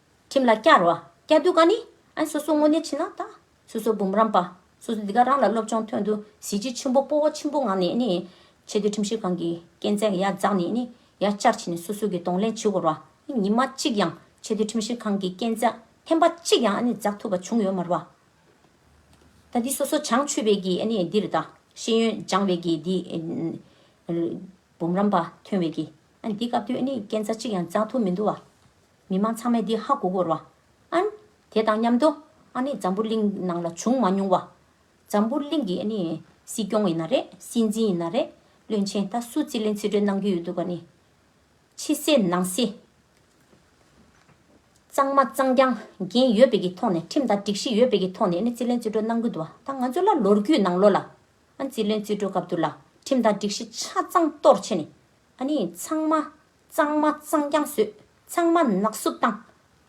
ཁྱིམ་ལ་སྐྱ་རོ། སྐྱ་སྟོད་ཀ་ནི། ཨ་སོ་སོ་སྔོ་ནེ་ཆི་ན་ད། སོ་སོ་འབུམ་རམས་པ། སོ་སོ་འདི་ག་རང་ལ་སློབ་སྦྱོང་ཐོན་དུ་གཟི་བརྗིད་ཆེན་པོ་སྤོ་བོ་ཆེན་པོ་ངང་ནས་ནི། ཆེ་བསྟོད་ཁྲིམས་བཤེར་ཁང་གི་སྐས་འཛེག་ཡར་འཛག་ནས་ནི་ཡར་བཅར་བྱས་ནས་སོ་སོ་གི་གདོང་ལེན་བྱེད་འོར་བ་ནི་ཉི་མ་གཅིག་ཡང་ཆེ་བསྟོད་ཁྲིམས་བཤེར་ཁང་གི་སྐས་འཛེག་ཐེམ་པ་གཅིག་ཡང་ནི་འཛག་ཐུབ་པ་བྱུང་ཡོད་མ་རུ་བ། ད་འདི་སོ་སོ་བྱང་ཆུས་བེད་ཀྱི་ནི་འདིར་ད། ཤེས་ཡོན་སྦྱང་བེད་ཀྱི་འདི། འབུམ་རམས་པ་ཐོན་བེད་ཀྱི་ཨ་འདི་སྐབས་དུས་ནི་སྐས་འཛག་གཅིག་ཡང་འཛག་ཐུབ་མི་འདུག་བ། མི་མང་ཚང་མས་འདི་ཧ་གོ་གོར་བ། ཨཱ། དེ་དང་མཉམ་དུ། ཨཱ་ནི་འཛམ་བུ་གླིང་ནང་ལ་བྱུང་མ་མྱོང་བ། འཛམ་བུ་གླིང་གི་ཨཱ་ནི། སྲིད་སྐྱོང་ཡིན་ན་རེད་སྲིད་འཛིན་ཡིན་ན་རེད། བློན་ཆེན་ད་སུ་རྩིས་ལེན་རྩིས་སྤྲོད་གནང་གི་ཡོད་འདུག་ག་ནི། ཕྱི་གསལ་ནང་གསལ། གཙང་མ་གཙང་རྐྱང་འགན་ཡོད་དཔེ་གི་ཐོག་ནས་ཁྲིམས་དང་སྒྲིག་གཞི་ཡོད་དཔེ་གི་ཐོག་ནས་ཨཱ་ནི་རྩིས་ལེན་རྩིས་སྤྲོད་གནང་གི་འདུག་བ། ད་ང་ཚོ་ལ་ལོར་རྒྱུས་ནང་ལོ་ལ། ཨཱ་རྩིས་ལེན་རྩིས་སྤྲོད་སྐབས་འདུག་ལ་ཁྲིམས་དང་སྒྲིག་གཞི་ཆ་ཚང་གཏོར་ཆེ་ནི། ཨཱ་ནི་ཚང་མ། གཙང་མ་གཙང་རྐྱང་བཟོས་ཚང་མ་ནག་བསུབ་བཏང།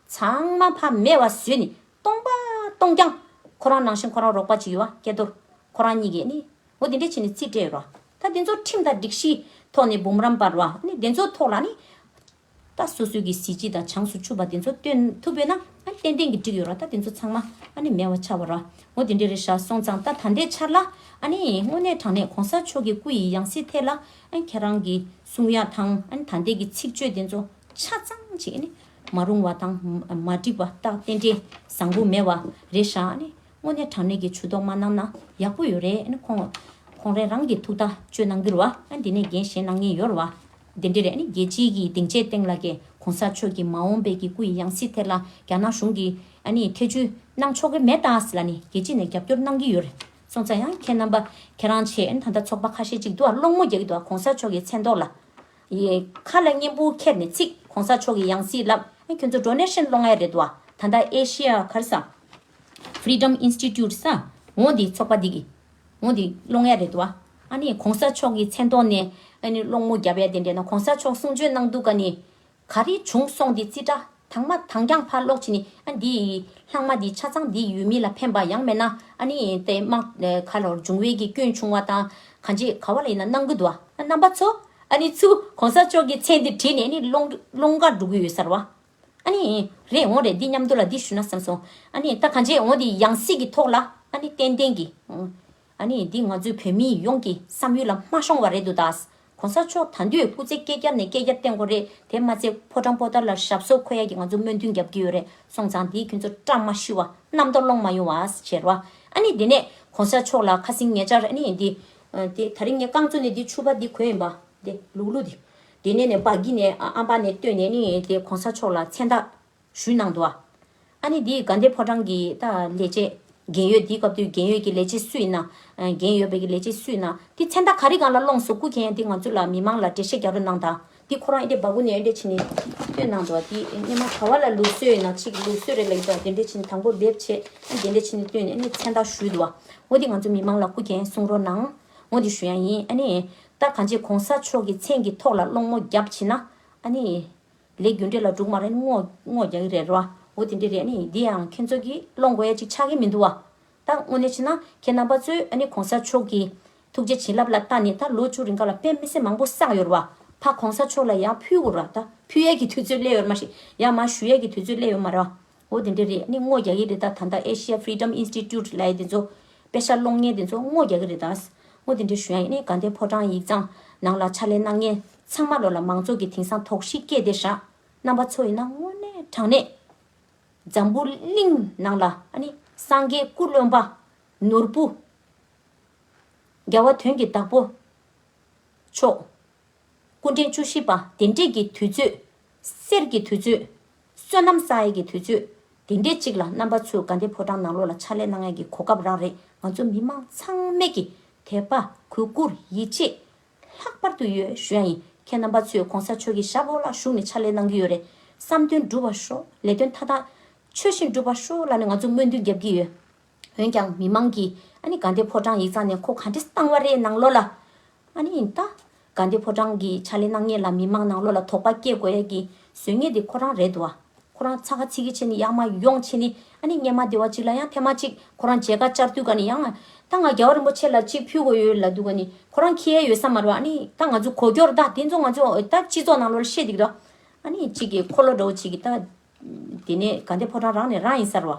ཚང་མ་ཕ་མེས་བ་བཟོས་ནས་སྟོང་པ་སྟོང་རྐྱང། ཁོ་རང་ནང་བཞིན་ཁོ་རང་རོགས་པ་གཅིག་ཡོད་བ་སྐལ་རྡོར་ཁོ་རང་གཉིས་ཀས་ནི་འོ་དེ་འདྲས་བྱས་ནས་རྩིས་སྤྲད་ཡོད་རོགས་ད་དེ་ཚོ་ཁྲིམས་དང་སྒྲིག་གཞིའི་ཐོག་ནས་འབུམ་རམས་པར་བ་ནི་དེ་ཚོའི་ཐོག་ལ་ནི་ད་སོ་སོའི་གི་གཟི་བརྗིད་དང་བྱང་སུ་ཆུབ་པ་དེ་ཚོ་སྟོན་ཐུབ་ཡོད་ན་ཏན་ཏན་གི་འགྲིག་ཡོད་རོགས་ད་དེ་ཚོ་ཚང་མ་ནི་མེས་བ་ཆགས་པ་རོགས་འོ་དེ་འདྲས་རེད་ཤག་སོང་ཙང་ད་ད་ལྟའི་ཆར་ལ་ནི་དངོས་གནས་དྲང་གནས་གོང་ས་མཆོག་གི་སྐུ་ཡི་ཡང་སྲིད་ཐད་ལ་ཨ་ཁྱེད་རང་གི་གསུང་ཡག་དང་ད་ལྟའི་གི་ཚིག་བརྗོད་དེ་ཚོ་ཆ་ཚང་ཅིག་ནི་མ་རུང་བ་དང་མ་འགྲིག་པ་རྟགས་རྟེན་འབྲེལ་བཟང་པོ་མེད་བ་རེད་ཤག་ནི་དངོས་གནས་དྲང་གནས་ཀྱི་ཇུས་གཏོགས་མ་གནང་ན་ཡག་པོ་ཡོད་རེད་ནི་ཁོང་ཁོང་རེ་རང་གི་ཐུགས་ཐག་གཅོད་གནང་རྒྱུར་བ་འདི་ནས་འགན་བཞེས་གནང་ཉེ་ཡོར་བ་འདི་འདྲི་རེད་ནི་རྒྱལ་སྤྱིའི་གི་སྡིངས་ཆའི་སྟེང་ལ་གི་གོང་ས་མཆོག་གི་མ་འོངས་པའི་གི་སྐུ་ཡི་ཡང་སྲིད་ཐད་ལ་རྒྱ་ནག་གཞུང་གི་ཨ་ནི་ཐེ་བྱུས་གནང་ཆོག་གི་མེད་ད་ལ་ནི་རྒྱལ་སྤྱི་ནས་རྒྱབ་སྐྱོར་གནང་གི་ཡོད་རེད་སོང་ཙང་ཡང་ཁྱེད་རྣམ་པ་ཁྱེད་རང་ཆེད་ད་ལྟ་ཚོགས་པ་ཁ་ཤས་ཅིག་འདུག་ཨ་སློང་མོ་རྒྱག་གི་འདུག་ཨ་གོང་ས་མཆོག་གི་མཚན་རྟོགས་ལ། ཡི། ཁ་ལ་སྙན་པོ་ཁྱེར་ནས་ཚིག་གོང་ས་མཆོག་གི་ཡང་སྲིད་ལབ་ཨ་ཁྱོད་ཚོ་འགྲོ་ནས་ཧྲེན་སློང་ཨེ་རེད་འདུག་ཨ་ད་ལྟ་ཨེ་ཤི་ཡ་གར་ས། Freedom Institute ས། ངོ་འདི་ཚོགས་པ་འདི་གི། ངོ་འདི་སློང་ཨེ་རེད་འདུག་ཨ། ཨ་ནི་གོང་ས་མཆོག་གི་མཚན་རྟོགས་ནས་ཨ་ནི་སློང་མོ་རྒྱབ་ཨེ་དེ་འདྲས་ན་གོང་ས་མཆོག་གསུང་ཆོས་གནང་འདུག་ག་ནི། ག་རེ་བྱུང་སོང་འདི་རྩིས་ཁྲ་དང་མ་དང་རྒྱང་ཕར་སློག་བྱས་ནས་ཨ་འདི་ལྷག་མ་འདི་ཆ་ཚང་འདི་ཡུལ་མི་ལ་ཕན་པ་ཡང་མེད་ན་ཨ་ནི་དེ་དམག་ག་ལོར་འབྱུང་བས་ཀྱི་སྐྱོན་ཆུང་བ་དང་ག་འབྱེད་ག་བ་ལ་ཡིན་ན་གནང་གི་འདུག་ཨ་རྣམ་པ་ཚོ་ཨ་ནི་ཚུ་གོང་ས་མཆོག་གི་མཚན་འདི་བྲིས་ནས་ཨ་ནི་ཀློང་དགའ་འགྲོ་གི་ཡོད་ས་རེད་བ། ཨ་ནི་རེད་འོང་རེད་འདི་མཉམ་དུ་ལ་འདི་ཞུ་ན་བསམ་སོང་ཨ་ནི་ད་ག་འབྱེད་འོང་འདི་ཡང་སྲིད་ཀྱི་ཐོག་ལ་ཨ་ནི་ཏན་ཏན་གྱི་ཨ་ནི་འདི་ང་ཚོའི་བོད་མི་ཡོངས་ཀྱི་བསམ་ཡུལ་ལ་མ་ཤོང་བ་རེད་འདུག་ད། གོང་ས་མཆོག་ད་འདུས་སྐུ་ཚེ་བསྐལ་བརྒྱར་ནས་བསྐལ་བརྒྱར་བརྟན་དགོས་རེད་དེ་མ་ཚད་ཕོ་བྲང་པོ་ཏཱ་ལ་ཞབས་སོར་འཁོད་ཡ་གྱི་ང་ཚོ་སྨོན་འདུན་རྒྱབ་ཀྱི་ཡོད་རེད་སོང་ཙང་དེ་ཁྱོད་ཚོ་བཀྲ་མ་ཤིས་བ་རྣམ་དོ་སློང་མ་ཡོང་བ་བྱེད་རོགས་ཨ་ནི་དེ་ནས་གོང་ས་མཆོག་ལ་ཁ་སིང་ངེ་ཅར་ཨ་ནི་འདི། དེ་ད་རིང་ངས་རྐང་བཙུགས་ནས་འདི་ཆུ་བ་འདི་གོན་ཡིན་པ་དེ་ལུག་ལུག་དེ། དེ་ནས་ནས་བག་གི་ནས་ཨ་འབའ་ནས་བཏོན་ནས་ནི་དེ་གོང་ས་མཆོག་ལ་མཚན་རྟགས། ཞུས་གནང་འདུག་ཨ་ནི་འདི་དགའ་ལྡན་ཕོ་བྲང་གི་ད་ལས་བྱེད། རྒན་ཡོལ་འདི་སྐབས་དུས་རྒན་ཡོལ་གྱི་ལས་བྱེད་སུ་ཡིན་ན། རྒན་ཡོལ་བས་ཀྱི་ལས་བྱེད་སུ་ཡིན་ན་འདི་མཚན་རྟགས་ག་རེ་གང་ལ་སློངས་སོ་སྐུ་མཁྱེན་ཡང་འདི་ང་ཚོ་ལ་མི་མང་ལ་འགྲེལ་བཤད་རྒྱག་རོགས་གནང་དང་འདི་ཁོ་རང་ཨི་འདྲེ་འབའ་གུ་ནས་ཨི་འདྲེ་བྱེད་ནི་བསྟོད་གནང་འདུག་འདི་སྙེ་མ་ག་བ་ལ་ལུགས་སྲོལ་ཡིན་ན་ཆིག་ལུགས་སྲོལ་རེ་ལ་ཡོད་དང་འདི་འདྲེ་བྱེད་ནི་དང་པོ་འབེབས་བྱེད་ཨ་འདི་འདྲེ་བྱེད་ནི་བསྟོད་ནས་ཨ་ནི་མཚན་རྟགས་ཞུས་འདུག་ངོ་འདི་ང་ཚོ་མི་མང་ལ་སྐུ་མཁྱེན་གསུང་རོགས་གནང་ངོ་འདི་ཞུ་ཡང་ཡིན་ཨ་ནི་རྟགས་གང་བྱེད་གོང་ས་མཆོག་གི་མཚན་གྱི་ཐོག་ལ་སློངས་མོ་རྒྱབ་བྱེད་ན་ཨ་ནི། ལས་རྒྱུ་འབྲས་ལ་འབྲུག་མ་རེད་སྔོག་རྒྱག་གི་རེད་བ་འོ་དེ་འདྲ་རེད་ནི་འདི་ཡང་ཁྱེད་ཚོ་གིས་བློ་མགོ་ཡ་གཅིག་ཆག་གི་མི་འདུག་བ། ད་དངོས་གནས་བྱས་ན་ཁྱེད་རྣམ་པ་ཚོས་ཨ་ནི་གོང་ས་མཆོག་གིས། ཐུགས་རྗེ་བྱིན་རླབས་ལ་ལྟ་ནས་ད་ལོ་བཅུ་རིང་ཁ་ལ་དཔེ་མི་སེ་མང་པོ་བསགས་ཡོད་བ། ཕ་གོང་ས་མཆོག་ལ་ཡ་ཕུལ་བོ་ར་ད་ཕུལ་ཡས་ཀྱི་དུས་ཚོད་སླེ་ཡོད་མ་ཤེས་ཡ་མ་ཞུ་ཡས་ཀྱི་དུས་ཚོད་སླེ་ཡོད་མ་ར་བ། ཨོ་དེ་འདྲ་རེད་ནི་སྔོ་རྒྱག་གི་རེད་ད་ད་ལྟ་ཨེ་ཤེ་ཡ་ཕི་རིདམ་ཨིན་སི་ཏི་ཏུད་ལས་དེ་ཚོ། དཔེ་ཤར་སློང་མཁན་དེ་ཚོ་སྔོ་རྒྱག་གི་རེད་ད། སྔོ་དེ་འདྲ་ཞུ་ཡ་ཡིན་ནི་དགའ་ལྡན་ཕོ་བྲང་ཡིག་ཚང། ནང་ལ་ཕྱག་ལས་གནང་མཁན། ཚང་མ་ལོ་ལ་མང་ཚོགས་ཀྱི་དེང་སང་དོགས་གཞི་སྐྱེས་ཏེ་ཧྲ། རྣམ་པ་ཚོ་ཡིན་ན་དངོས་གནས་དྲང་གནས། འཛམ་བུ་གླིང་ནང་ལ་ཨ་ནི་སངས་རྒྱས་སྐུ་བློན་པ། ནོར་བུ། རྒྱལ་བ་དོན་གྱི་བདག་པོ། མཆོག། སྐུ་འཕྲེང་བཅུ་བཞི་པ་དེ་འབྲེལ་གྱི་དུས་ཚོད། གསེར་གྱི་དུས་ཚོད། བསོད་ནམས་ས་ཡ་གྱི་དུས་ཚོད། དེ་འདྲའི་ཅིག་ལ་རྣམ་པ་ཚོས་དགའ་ལྡན་ཕོ་བྲང་ནང་ལོགས་ལ་ཕྱག་ལས་གནང་ཡས་ཀྱི་གོ་སྐབས་རག་རེད་ང་ཚོ་མི་མང་ཚང་མས་ཀྱི་དད་པ་གུས་བཀུར་ཡིད་ཆེས་ལྷག་པར་དུ་ཡོད་ཞུ་ཡ་ཡིན་ཁྱེད་རྣམ་པ་ཚོས་གོང་ས་ཆོས་ཀྱི་ཞབས་འོག་ལ་བཞུགས་ནས་ཕྱག་ལས་གནང་གི་ཡོད་རེད་བསམ་དོན་འགྲུབ་པ་ཤོག་ལས་དོན་མཐའ་དག་ཆོས་བཞིན་འགྲུབ་པ་ཤོག་ལ་ནས་ང་ཚོ་སྨོན་འདུན་རྒྱབ་ཀྱི་ཡོད། འོན་ཀྱང་མི་མང་གིས་ཨ་ནི་དགའ་ལྡན་ཕོ་བྲང་ཡིག་ཚང་ནས་ཁོ་ག་འདྲས་བཏང་བ་རེད་ནང་ལོགས་ལ། ཨ་ནི་ཡིན་ད། དགའ་ལྡན་ཕོ་བྲང་གི་ཕྱག་ལས་གནང་ཉེས་ལ་མི་མང་ནང་ལོགས་ལ་དོགས་པ་སྐྱེ་དགོས་ཡ་གི་ཟོལ་ངན་དེ་ཁོ་རང་རེད་དོ་ཨ། ཁོ་རང་ཚ་ག་ཚིག་གི་ཆེ་ནི་ཡག་མ་ཡོང་ཆེ་ནི་ཨ་ནི་སྙན་མ་བདེ་བ་ཅིག་ལ་ཡང་ཕན་མ་ཅིག་ཁོ་རང་མཇལ་ཁ་བཅར་དུས་ག་ནི་ཡང། ད་ང་རྒྱལ་བ་རིན་པོ་ཆེ་ལ་ཅིག་ཕུལ་དགོས་ཡོད་ལ་འདུག་ག་ནི་ཁོ་རང་ཁྱི་ཡའི་ཡོད་ས་མ་རེད་ཨ་ནི་ད་ང་ཚོ་གོ་སྐྱོར་ད་དེ་ཚོ་ང་ཚོ་ད་སྤྱི་ཚོགས་ནང་ལོགས་ལ་བཤད་འདི་གི་དོ། ཨ་ནི་ཅིག་གི་འཁོར་ལོ་འདྲ་བོ་ཅིག་གི་ད། དེ་ནས་དགའ་ལྡན་ཕོ་བྲང་རང་ནས་རང་ཡིན་ས་རེད་ཨ།